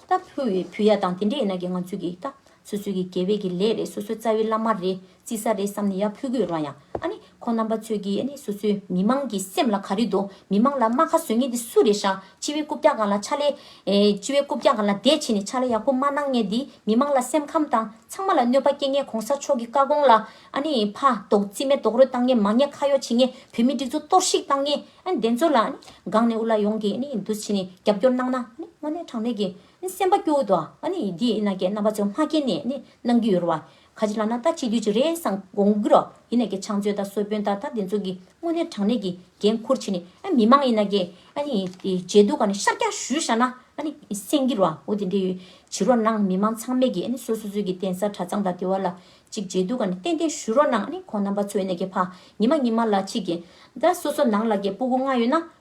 ད་ཕུ་བའི་བུ་ཡ་དང་དེ་འདྲ་ཡིན་ན་ཀྱེ་ང་ཚོས་ཀྱི་ད། སོ་སོའི་ཀྱི་དགེ་བས་ཀྱི་ལས་རེད་སོ་སོའི་རྩ་བའི་བླ་མ་རེད་རྩིས་ས་རེད་བསམ་ནས་ཡ་ཕུ་དགོས་རང་ཡང་ཨ་ནི། ཁོང་རྣམ་པ་ཚོས་ཀྱིས་ནི་སོ་སོའི་མི་མང་གི་སེམས་ལ་ག་རེ་འདུག་མི་མང་ལ་རྨ་ཁ་བཟོས་ངེས་འདི་སུ་རེད་ཤག་སྤྱི་བའི་རྐུབ་བཀྱག་གང་ལ་ཕྱག་ལས། སྤྱི་བའི་རྐུབ་བཀྱག་གང་ལ་དད་བྱེད་ནས་ཕྱག་ལས་ཡག་པོ་མ་གནང་ངེས་འདི་མི་མང་ལ་སེམས་ཁམས་དང་ཚང་མ་ལ་གནོད་པ་སྐྱེལ་ངེས་གོང་ས་མཆོག་གི་བཀའ་དགོངས་ལ་ཨ་ནི་ཕ་དོག་རྩིས་མེད་རྡོག་རོལ་བཏང་ངེས་མ་ངེས་ཁ་གཡོག་བྱེད་ངེས་བོད་མི་སྒྲིག་འཛུགས་གཏོར་བཤིག་བཏང་ངེས་ཨ་ནི་བདེན་འཚོལ་ལ་ཨ་ནི་སྒང་ནས་དབུ་བླ་ཡོངས་ཀྱིས་ཨ་ནི་འདུ་བྱེད་ནས་རྒྱབ་སྐྱོར་གནང་ན་ཨ་ནི་དངོས་གནས་དྲང་གནས་ཀྱི་ཨ་ནི་སེམས་པ་སྐྱོ་འོད་དོ་ཨ་ནི་འདི་ཨི་ན་ཀྱི་རྣམ་པ་ཚོ་སྔ་རྐྱེན་ནས་ཨ་ནི་གནང་གི་ཡོད་རོ་བ། ཁ་ཅིག་ལ་ན་ད་ཅིག་དུས་ཅིག་རེད་བསམ་དགོངས་ཀི་རོགས་ཡིན་ནའི་གི་ཆང་བཅོས་དང་སོལ་པོན་ད་ད་དེ་ཚོ་གི་དངོས་གནས་དྲང་གནས་གི་འགན་འཁུར་བྱེད་ནི་ཨ་མི་མང་ཡིན་ན་གི་ཨ་ནི་མཇལ་དུ་ག་ནི་ཤར་རྒྱག་ཞུས་བཞག་ན་ཨ་ནི་སེང་གི་རོགས་འོ་དེ་འདྲས་ཡོད་བྱི་རོགས་གནང་མི་མང་ཚང་མས་གི་ཨ་ནི་སོ་སོ་ཚོད་གི་གདན་ས་གྲ་ཚང་དང་དེ་བ་ལ་ཅིག་མཇལ་དུ་ག་ནི་ཏན་ཏན་ཞུས་རོགས་གནང་ཨ་ནི་ཁོང་རྣམ་པ་ཚོས་ནས་གི་ཕ་ཉི་མ་ཉི་མ་ལ་ཅིག་གི་ད་སོ་སོ་ནང་ལ་གི་སྤུ་གུ་ལྔ་ཡོད་ན་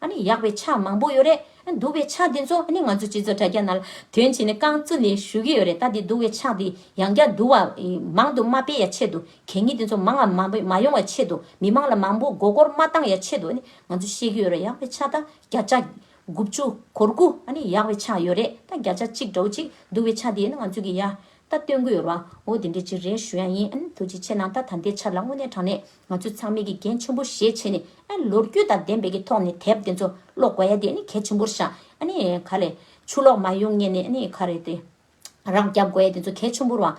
ཨ་ནི་ཡག་པའི་ཆ་མང་པོ་ཡོད་རེད་ཨ་འདུག་པའི་ཆ་དེ་ཚོ་ཨ་ནི་ང་ཚོ་སྤྱི་ཚོགས་དྲ་རྒྱ་ནང་དོན་བྱས་ནས་རྐང་བཙུགས་ནས་ཞུ་གི་ཡོད་རེད་ད་དེ་འདུག་པའི་ཆ་དེ་ཡང་བསྐྱར་འདུག་བ་མང་དུ་མ་སྤེལ་ཡ་ཆེད་དུ་གད་སྙིགས་དེ་ཚོ་མང་ང་མ་ཡོང་བ་ཆེད་དུ་མི་མང་ལ་མང་པོ་མགོ་སྐོར་མ་བཏང་ཡ་ཆེད་དུ་ཨ་ནི་ང་ཚོ་བཤད་གི་ཡོད་རེད་ཡག་པའི་ཆ་ད་བརྒྱ་ཆ། དགུ་བཅུ། གོར་དགུ་ཨ་ནི་ཡག་པའི་ཆ་ཡོད་རེད་ད་བརྒྱ་ཆ་གཅིག་འདྲ་བོ་གཅིག་འདུག་པའི་ཆ་དེ་ཨ་ནི་ང་ཚོས་གི་ཡ་ད་སྟོན་གི་ཡོད་རེད་བ་འོ་དེ་འདྲ་གཅིག་རེད་ཞུ་ཡ་ཡིན་ཨ་ནི་ཐུགས་རྗེ་ཆེ་གནང་ད་ད་འདའི་ཆ་ལ་དངོས་གནས་དྲང་གནས་ང་ཚོས་ཚང་མས་དགེ་རྒན་ཆེན་པོ་ཞེས་བྱས་ནས་ལོ་རྒྱུས་དང་ལྡན་པའི་གི་ཐོག་ནས་དེབ་དེ་ཚོ་ཀློག་དགོས་ཡ་དེ་ནི་གལ་ཆེན་པོར་བཞག་ག་ལས། ཆུ་ལོག་མ་ཡོང་ངེས་ནས་ག་རེ་དེ་རང་རྒྱབ་དགོས་ཡ་དེ་ཚོ་གལ་ཆེན་པོར་བའང་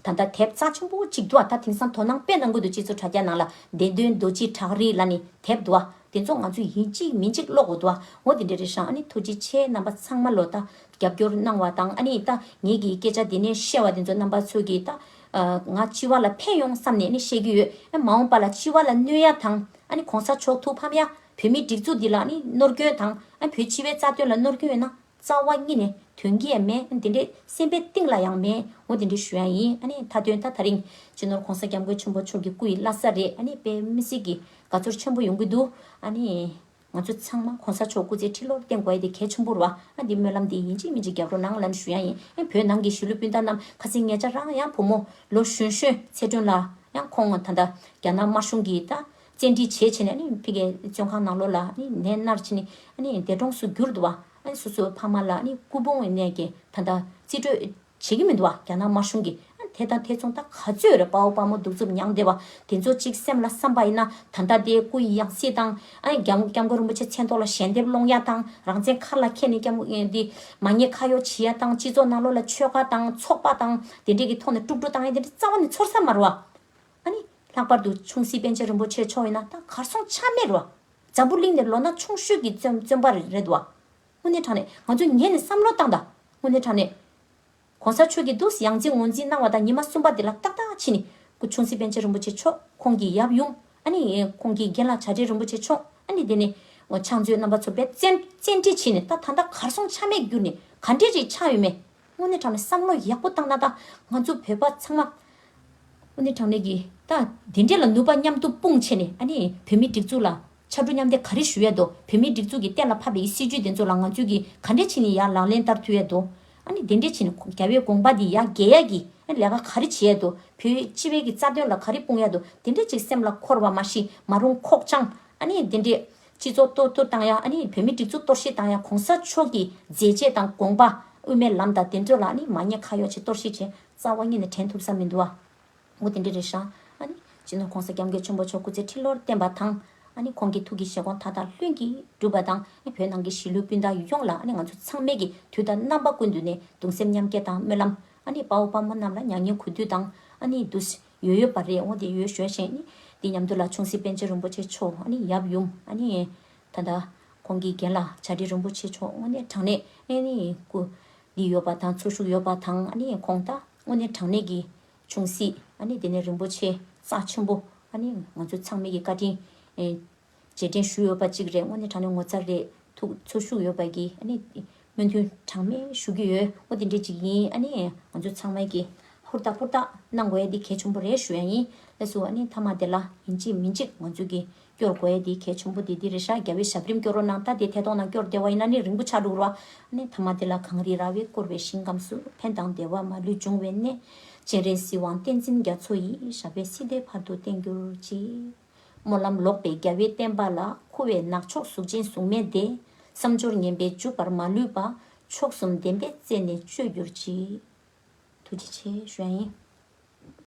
ད་ལྟ་དེབ་རྩ་ཆེན་པོ་གཅིག་འདུག་ད་དེང་སང་དོ་སྣང་དཔེ་གནང་དགོས་འདུག་ཅེས་ཚོ་དྲ་རྒྱ་ནང་ལ་བདེན་དོན་རྡོ་རྗེའི་བྲག་རི་ལ་ནི་དེབ་འདུག་དེ་ཚོ་ང་ཚོས་ཡིན་གཅིག་མིན་གཅིག་ཀློག་དགོས་འདུག་ངོ་དེ་འདྲ་རེད་བཞག་ཐུགས་རྗེ་ཆེ་རྣམ་པ་ཚང་མ་ལོ་ད་རྒྱབ་སྐྱོར་གནང་བ་དང་ད་ངེད་ཀྱི་སྐད་ཆ་དེ་ནས་བཤད་བ་དེ་ཚོ་རྣམ་པ་ཚོས་གི་ད་ང་སྤྱི་བ་ལ་ཕན་ཡོང་བསམ་ནས་ནི་བཤད་ཀྱི་ཡོད། མ་འོངས་པ་ལ་སྤྱི་བ་ལ་གནོད་ཡ་དང། ཨ་ནི་གོང་ས་མཆོག་ཐུགས་ཕམ་ཡ། བོད་མིའི་སྒྲིག་འཛུགས་འདི་ལ་ནི་ནོར་སྐྱོན་དང། བོད་སྤྱི་བའི་རྩ་དོན་ལ་ནོར་སྐྱོན་ཡོད་ན། རྩ་བ་གཉིས་ནས་དོན་གྱི་ཡ་མེད་དེ་འདྲའི་སེམས་པའི་གཏིང་ལ་ཡང་མེད། ངོ་དེ་འདྲའི་ཞུ་ཡ་ཡིན། ཨ་ནི་མཐའ་དོན་ད་ད་རིང། སྤྱི་ནོར་གོང་ས་སྐྱབས་མགོན་ཆེན་པོ་མཆོག་གི་སྐུ་ཡི་བླ་ས་རེད། ཨ་ནི་དཔེ་མི་སྲིད་ཀྱི་དགའ་ཚོར་ཆེན་པོ་ཡོང་གི་འདུག། ཨ་ནི། ང་ཚོ་ཚང་མ་གོང་ས་མཆོག་སྐུ་ཚེ་ཁྲི་ལོར་བརྟན་དགོས་དེ་གལ་ཆུང་པོར་བ་ཨ་འདི་སྨོན་ལམ་འདི་ཡིན་གཅིག་མིན་གཅིག་རྒྱབ་རོགས་གནང་ལན་ཞུ་ཡང་ཡིན་ཨེ་བོད་ནང་གི་གཞིས་ལུས་སྤུན་ཟླ་རྣམས་ཁ་ཚིག་ངེད་ཅག་རང་ཡང་བུ་མོ་ལོ་གཞོན་གཞོན་ཚེ་སྒྲོན་ལ་ཡང་ཁོང་ད་ལྟ་རྒྱ་ནག་དམར་གཞུང་གིས་ད་བཙན་ཁྲིད་བྱེད་བྱེད་ནས་ཕི་གའི་བཙོན་ཁང་ནང་ལོ་ལ་ནས་མནར་ཕྱིན་ནས་འདས་གྲོངས་སུ་གྱུར་འདུག་བ་ཨ་སོ་སོའི་ཕ་མ་ལ་སྐུ་ཕུང་ནས་ཀྱི་ད་ལྟ་རྩིས་སྤྲོད། བྱེད་ཀྱི་མི་འདུག་བ་རྒྱ་ནག་དམར་གཞུང་གིས་དེ་དང་དེ་མཚུངས་ད་ག་ཚོད་རེད་དཔའ་བོ་དཔའ་མོ་གདུག་རྩུབ་མྱངས་བསྡད་པ་དེ་ཚོ་གཅིག་སེམས་ལ་བསམ་པ་ཡིན་ན་ད་ལྟ་དེ་སྐུ་ཡི་ཡང་སྲིད་དང། རྒྱ་ངུ་སྐྱབས་མགོན་རིན་པོ་ཆེ་མཚན་ཐོག་ལ་ཞལ་འདེབས་སློང་ཡ་དང་རང་བཙན་མཁར་ལ་ཁྱེད་ནས་སྐྱབས་མགོན་ཨེ་འདི། མ་ཉེས་ཁ་གཡོག་བྱེད་ཡ་དང་སྤྱི་ཚོགས་ནང་ལོག་ལ་ཆོལ་ཁ་དང་ཚོགས་པ་དང་དེ་འདྲས་ཀྱི་ཐོག་ནས་དཀྲུག་དཀྲུག་བཏང་ཡ་དེ་འདྲས་རྩ་བ་ནས་ཚོར་ས་མ་རུ་བ། ཨ་ནི། ལྷག་པར་དུ་ཆུང་སྲིད་པན་ཆེན་རིན་པོ་ཆེ་མཆོག་ཡིན་ན་ད་གར་སོང་ཆ་མེད་རུ་བ། འཛམ་བུ་གླིང་ནས་ལོ་ན་ཆུང་ཤོས་ཀྱི་བཙོན་པ་རེད་བ། དངོས་གནས་དྲང་གནས་ང་ཚོས་ངས་ནི་བསམ་བློ་བཏང་དང། དངོས་གནས་དྲང་གནས། གོང་ས་མཆོག་གིས་ཏུའུ་སི་ཡང་རྗེ་ངོ་འཛིན་གནང་བ་དང་ཉི་མ་གསུམ་པ་དེ་ལ་ཏག་ཏག་ཕྱིན་ནི། སྐུ་ཆུང་སི་པན་ཆེན་རིན་པོ་ཆེ་མཆོག་ཁོང་གི་ཡབ་ཡུམ། ཨ་ནི། ཁོང་གི་རྒན་ལགས་བྱ་བྲལ་རིན་པོ་ཆེ་མཆོག་ཨ་ནི་དེ་ནི། ཕྱག་མཛོད་རྣམ་པ་ཚོ་པས་བཙན། བཙན་ཁྲིད་ཕྱིན་ནི་ད་ད་ལྟ་གར་སོང་ཆ་མེད་གྱུར་ནི་ག་འདྲས་རེད་ཆགས་ཡོད་མེད། དངོས་གནས་དྲང་གནས་བསམ་བློ་ཡག་པོ་བཏང་ན་ད་ང་ཚོ་བོད་པ་ཚང་མ། དངོས་གནས་དྲང་གནས་ཀྱི་ད་དེ་འདྲས་ལ་ནུས་པ་མཉམ་དུ་སྤུངས་བྱས་ནི་ཨ་ནི་བོད་མི་སྒྲིག་འཛུགས་ལ་ཕྱར་གྲུ་མཉམ་འདེགས་ག་རེ་ཞུ་ཡས་འདུག་བོད་མིའི་སྒྲིག་འཛུགས་ཀྱི་གཏན་ལ་ཕབ་པའི་སྲིད་ཇུས་དེ་ཚོ་ལ་ང་ཚོས་ཀྱི་ག་འདྲས་བྱས་ནས་ཡ་ལང་ལེན་བསྟར་ཐུབ་ཡས་འདུག་ཨ་ནི་དེ་འདྲས་བྱས་ནས་རྒྱ་བོད་དགོངས་པ་དེ་ཡ་འགལ་ཡས་ཀྱི་ཨ་ནི་ལས་ཀ་ག་རེ་བྱེད་ཡས་འདུག་བོད་སྤྱི་བའི་ཀྱི་རྩ་དོན་ལ་ག་རེ་སྤུངས་ཡས་འདུག་དེ་འདྲས་ཅིག་སེམས་ལ་འཁོར་བ་མ་ཤི་མ་རུང་ཁོག་བཅང་ཨ་ནི་དེ་འདྲས། སྤྱི་ཚོགས་གཏོར་ཐུར་བཏང་ཡས་ཨ་ནི་བོད་མིའི་སྒྲིག་འཛུགས་གཏོར་བཤིག་བཏང་ཡས་གོང་ས་མཆོག་ཀྱི་མཛད་རྗེས་དང་དགོངས་པ་དབུ་མའི་ལམ་དང་དེ་ཚོ་ལ་ཨ་ནི་མ་ཉེས་ཁ་གཡོག་བྱེད་གཏོར་བཤིག་བྱེད་རྩ་བ་གཉིས་ནས་དྲན་ཐུབ་ས་མི་འདུག་ཨ། མགོ་དེ་འདྲ་རེ་བཞག་ཨ་ནི། སྤྱི་ནོར ྋགོང་ས ྋསྐྱབས་མགོན་ཆེན་པོ་མཆོག་སྐུ་ཚེ་ཁྲི་ལོར་བརྟན་པ་དང། ཨ་ནི་ཁོང་གི་ཐུགས་ཀྱི་བཞེད་དགོངས་མཐའ་དག་ལྷུན་གྱིས་གྲུབ་པ་དང། བོད་ནང་གི་གཞིས་ལུས་སྤུན་ཟླ་ཡུལ་ཡོངས་ལ་ཨ་ནི་ང་ཚོ་ཚང་མས་ཀྱི་དུས་ལྟར་རྣམ་པ་ཀུན་ཏུ་ནས་གདུང་སེམས་མཉམ་སྐྱེད་དང་སྨོན་ལམ། ཨ་ནི་དཔའ་བོ་དཔའ་མོ་རྣམས་ལ་མྱ་ངན་གུས་འདུད་དང། ཨ་ནི་དུ། ཡོད་ཡོད་པ་རེད་འོང་དེ་ཡོད་ཞོལ་ཞེས་ནི། འདི་མཉམ་དུ་ལ་ཆུང་སྲིད་པཎ་ཆེན་རིན་པོ་ཆེ་མཆོག་ཨ་ནི་ཡབ་ཡུམ་ཨ་ནི། ད་ལྟ། ཁོང་གི་རྒན་ལ་བྱ་བྲལ་རིན་པོ་ཆེ་མཆོག་དངོས་གནས་དྲང་གནས་ཨ་ནི། སྐུ། འདི་ཡོད་པ་དང་ཚོར་ཤུགས་ཡོད་པ་དང་ཨ་ནི་ཁོང་ལྟ་དངོས་གནས་དྲང་གནས་ཀྱི། ཆུང་སྲིད། ཨ་ནི་དེ་ནས་རིན་པོ་ཆེ། རྩ་ཆེན་པོ། ཨ་ནི། ང་ཚོ་ཚང་མིག་གི་བཀའ་དྲིན། རྗེས་དྲན་ཞུ་ཡོད་པ་གཅིག་རེད་སྔོན་ནས་དྲང་ནས་ངོ་ཚ་རེད། ཐུགས་ཚོར་ཞུ་ཡོད་པ་གི་ཨ་ནི། སྨོན་མཐུན་གྲངས་མེད་ཞུ་གི་ཡོད་ཨོ་དེ་འདྲས་ཅིག་ཡིན་ཨ་ནི། ང་ཚོ་ཚང་མས་གི། ཧུར་ཐག་ཧུར་ཐག། གནང་དགོས་ཡ་འདི་གལ་ཆུང་པོ་རེད་ཞུ་ཡ་ཡིན། ལས་སུ་ཨ་ནི་མཐའ་མ་དེ་ལ། ཡིན་གཅིག་མིན་གཅིག་ང་ཚོས་གི། སྐྱོར་དགོས་ཨེ་འདི་གལ་ཆུང་པོ་འདི་འདི་རེད་ཤག་རྒྱ་བོད་ཞབས་རིམ་སྐྱོར་རོགས་གནང་ད་དེ་ཐད་གཏོང་ན་སྐྱོར་བདེ་བ་ཡིན་ན་ནི་རིང་པོ་ཆགས་འགྲོ་རོ། ཨནི་ཐ་མ་འདི་ལ་གངས་རི་ར་བས་བསྐོར་བའི་ཞིང་ཁམས་སུ་ཕན་དང་བདེ་བ་མ་ལུས་འབྱུང་བའི་གནས། སྤྱན་རས་གཟིགས་དབང་བསྟན་འཛིན་རྒྱ་མཚོ་ཡིས་ཞབས་པད་སྲིད་བདེ་བར་དུ་བརྟན་གྱུར་ཅིག། སྨོན་ལམ་ལོག་པའི་རྒྱ་བོད་བསྟན་པ་ལ་འཁུ་བའི་ནག་ཕྱོགས་གཟུགས་ཅན་གཟུགས་མེད་འདས། བསམ་སྦྱོར་ངན་པས་འཇུག་པར་མ་ལུས་པ། མཆོག་གསུམ་བདེན་པའི་རྩེ་ནས་སྤྱོད་གྱུར་ཅིག། ཐུགས་རྗེ་ཆེ་ཞུ་ཡ་ཡིན།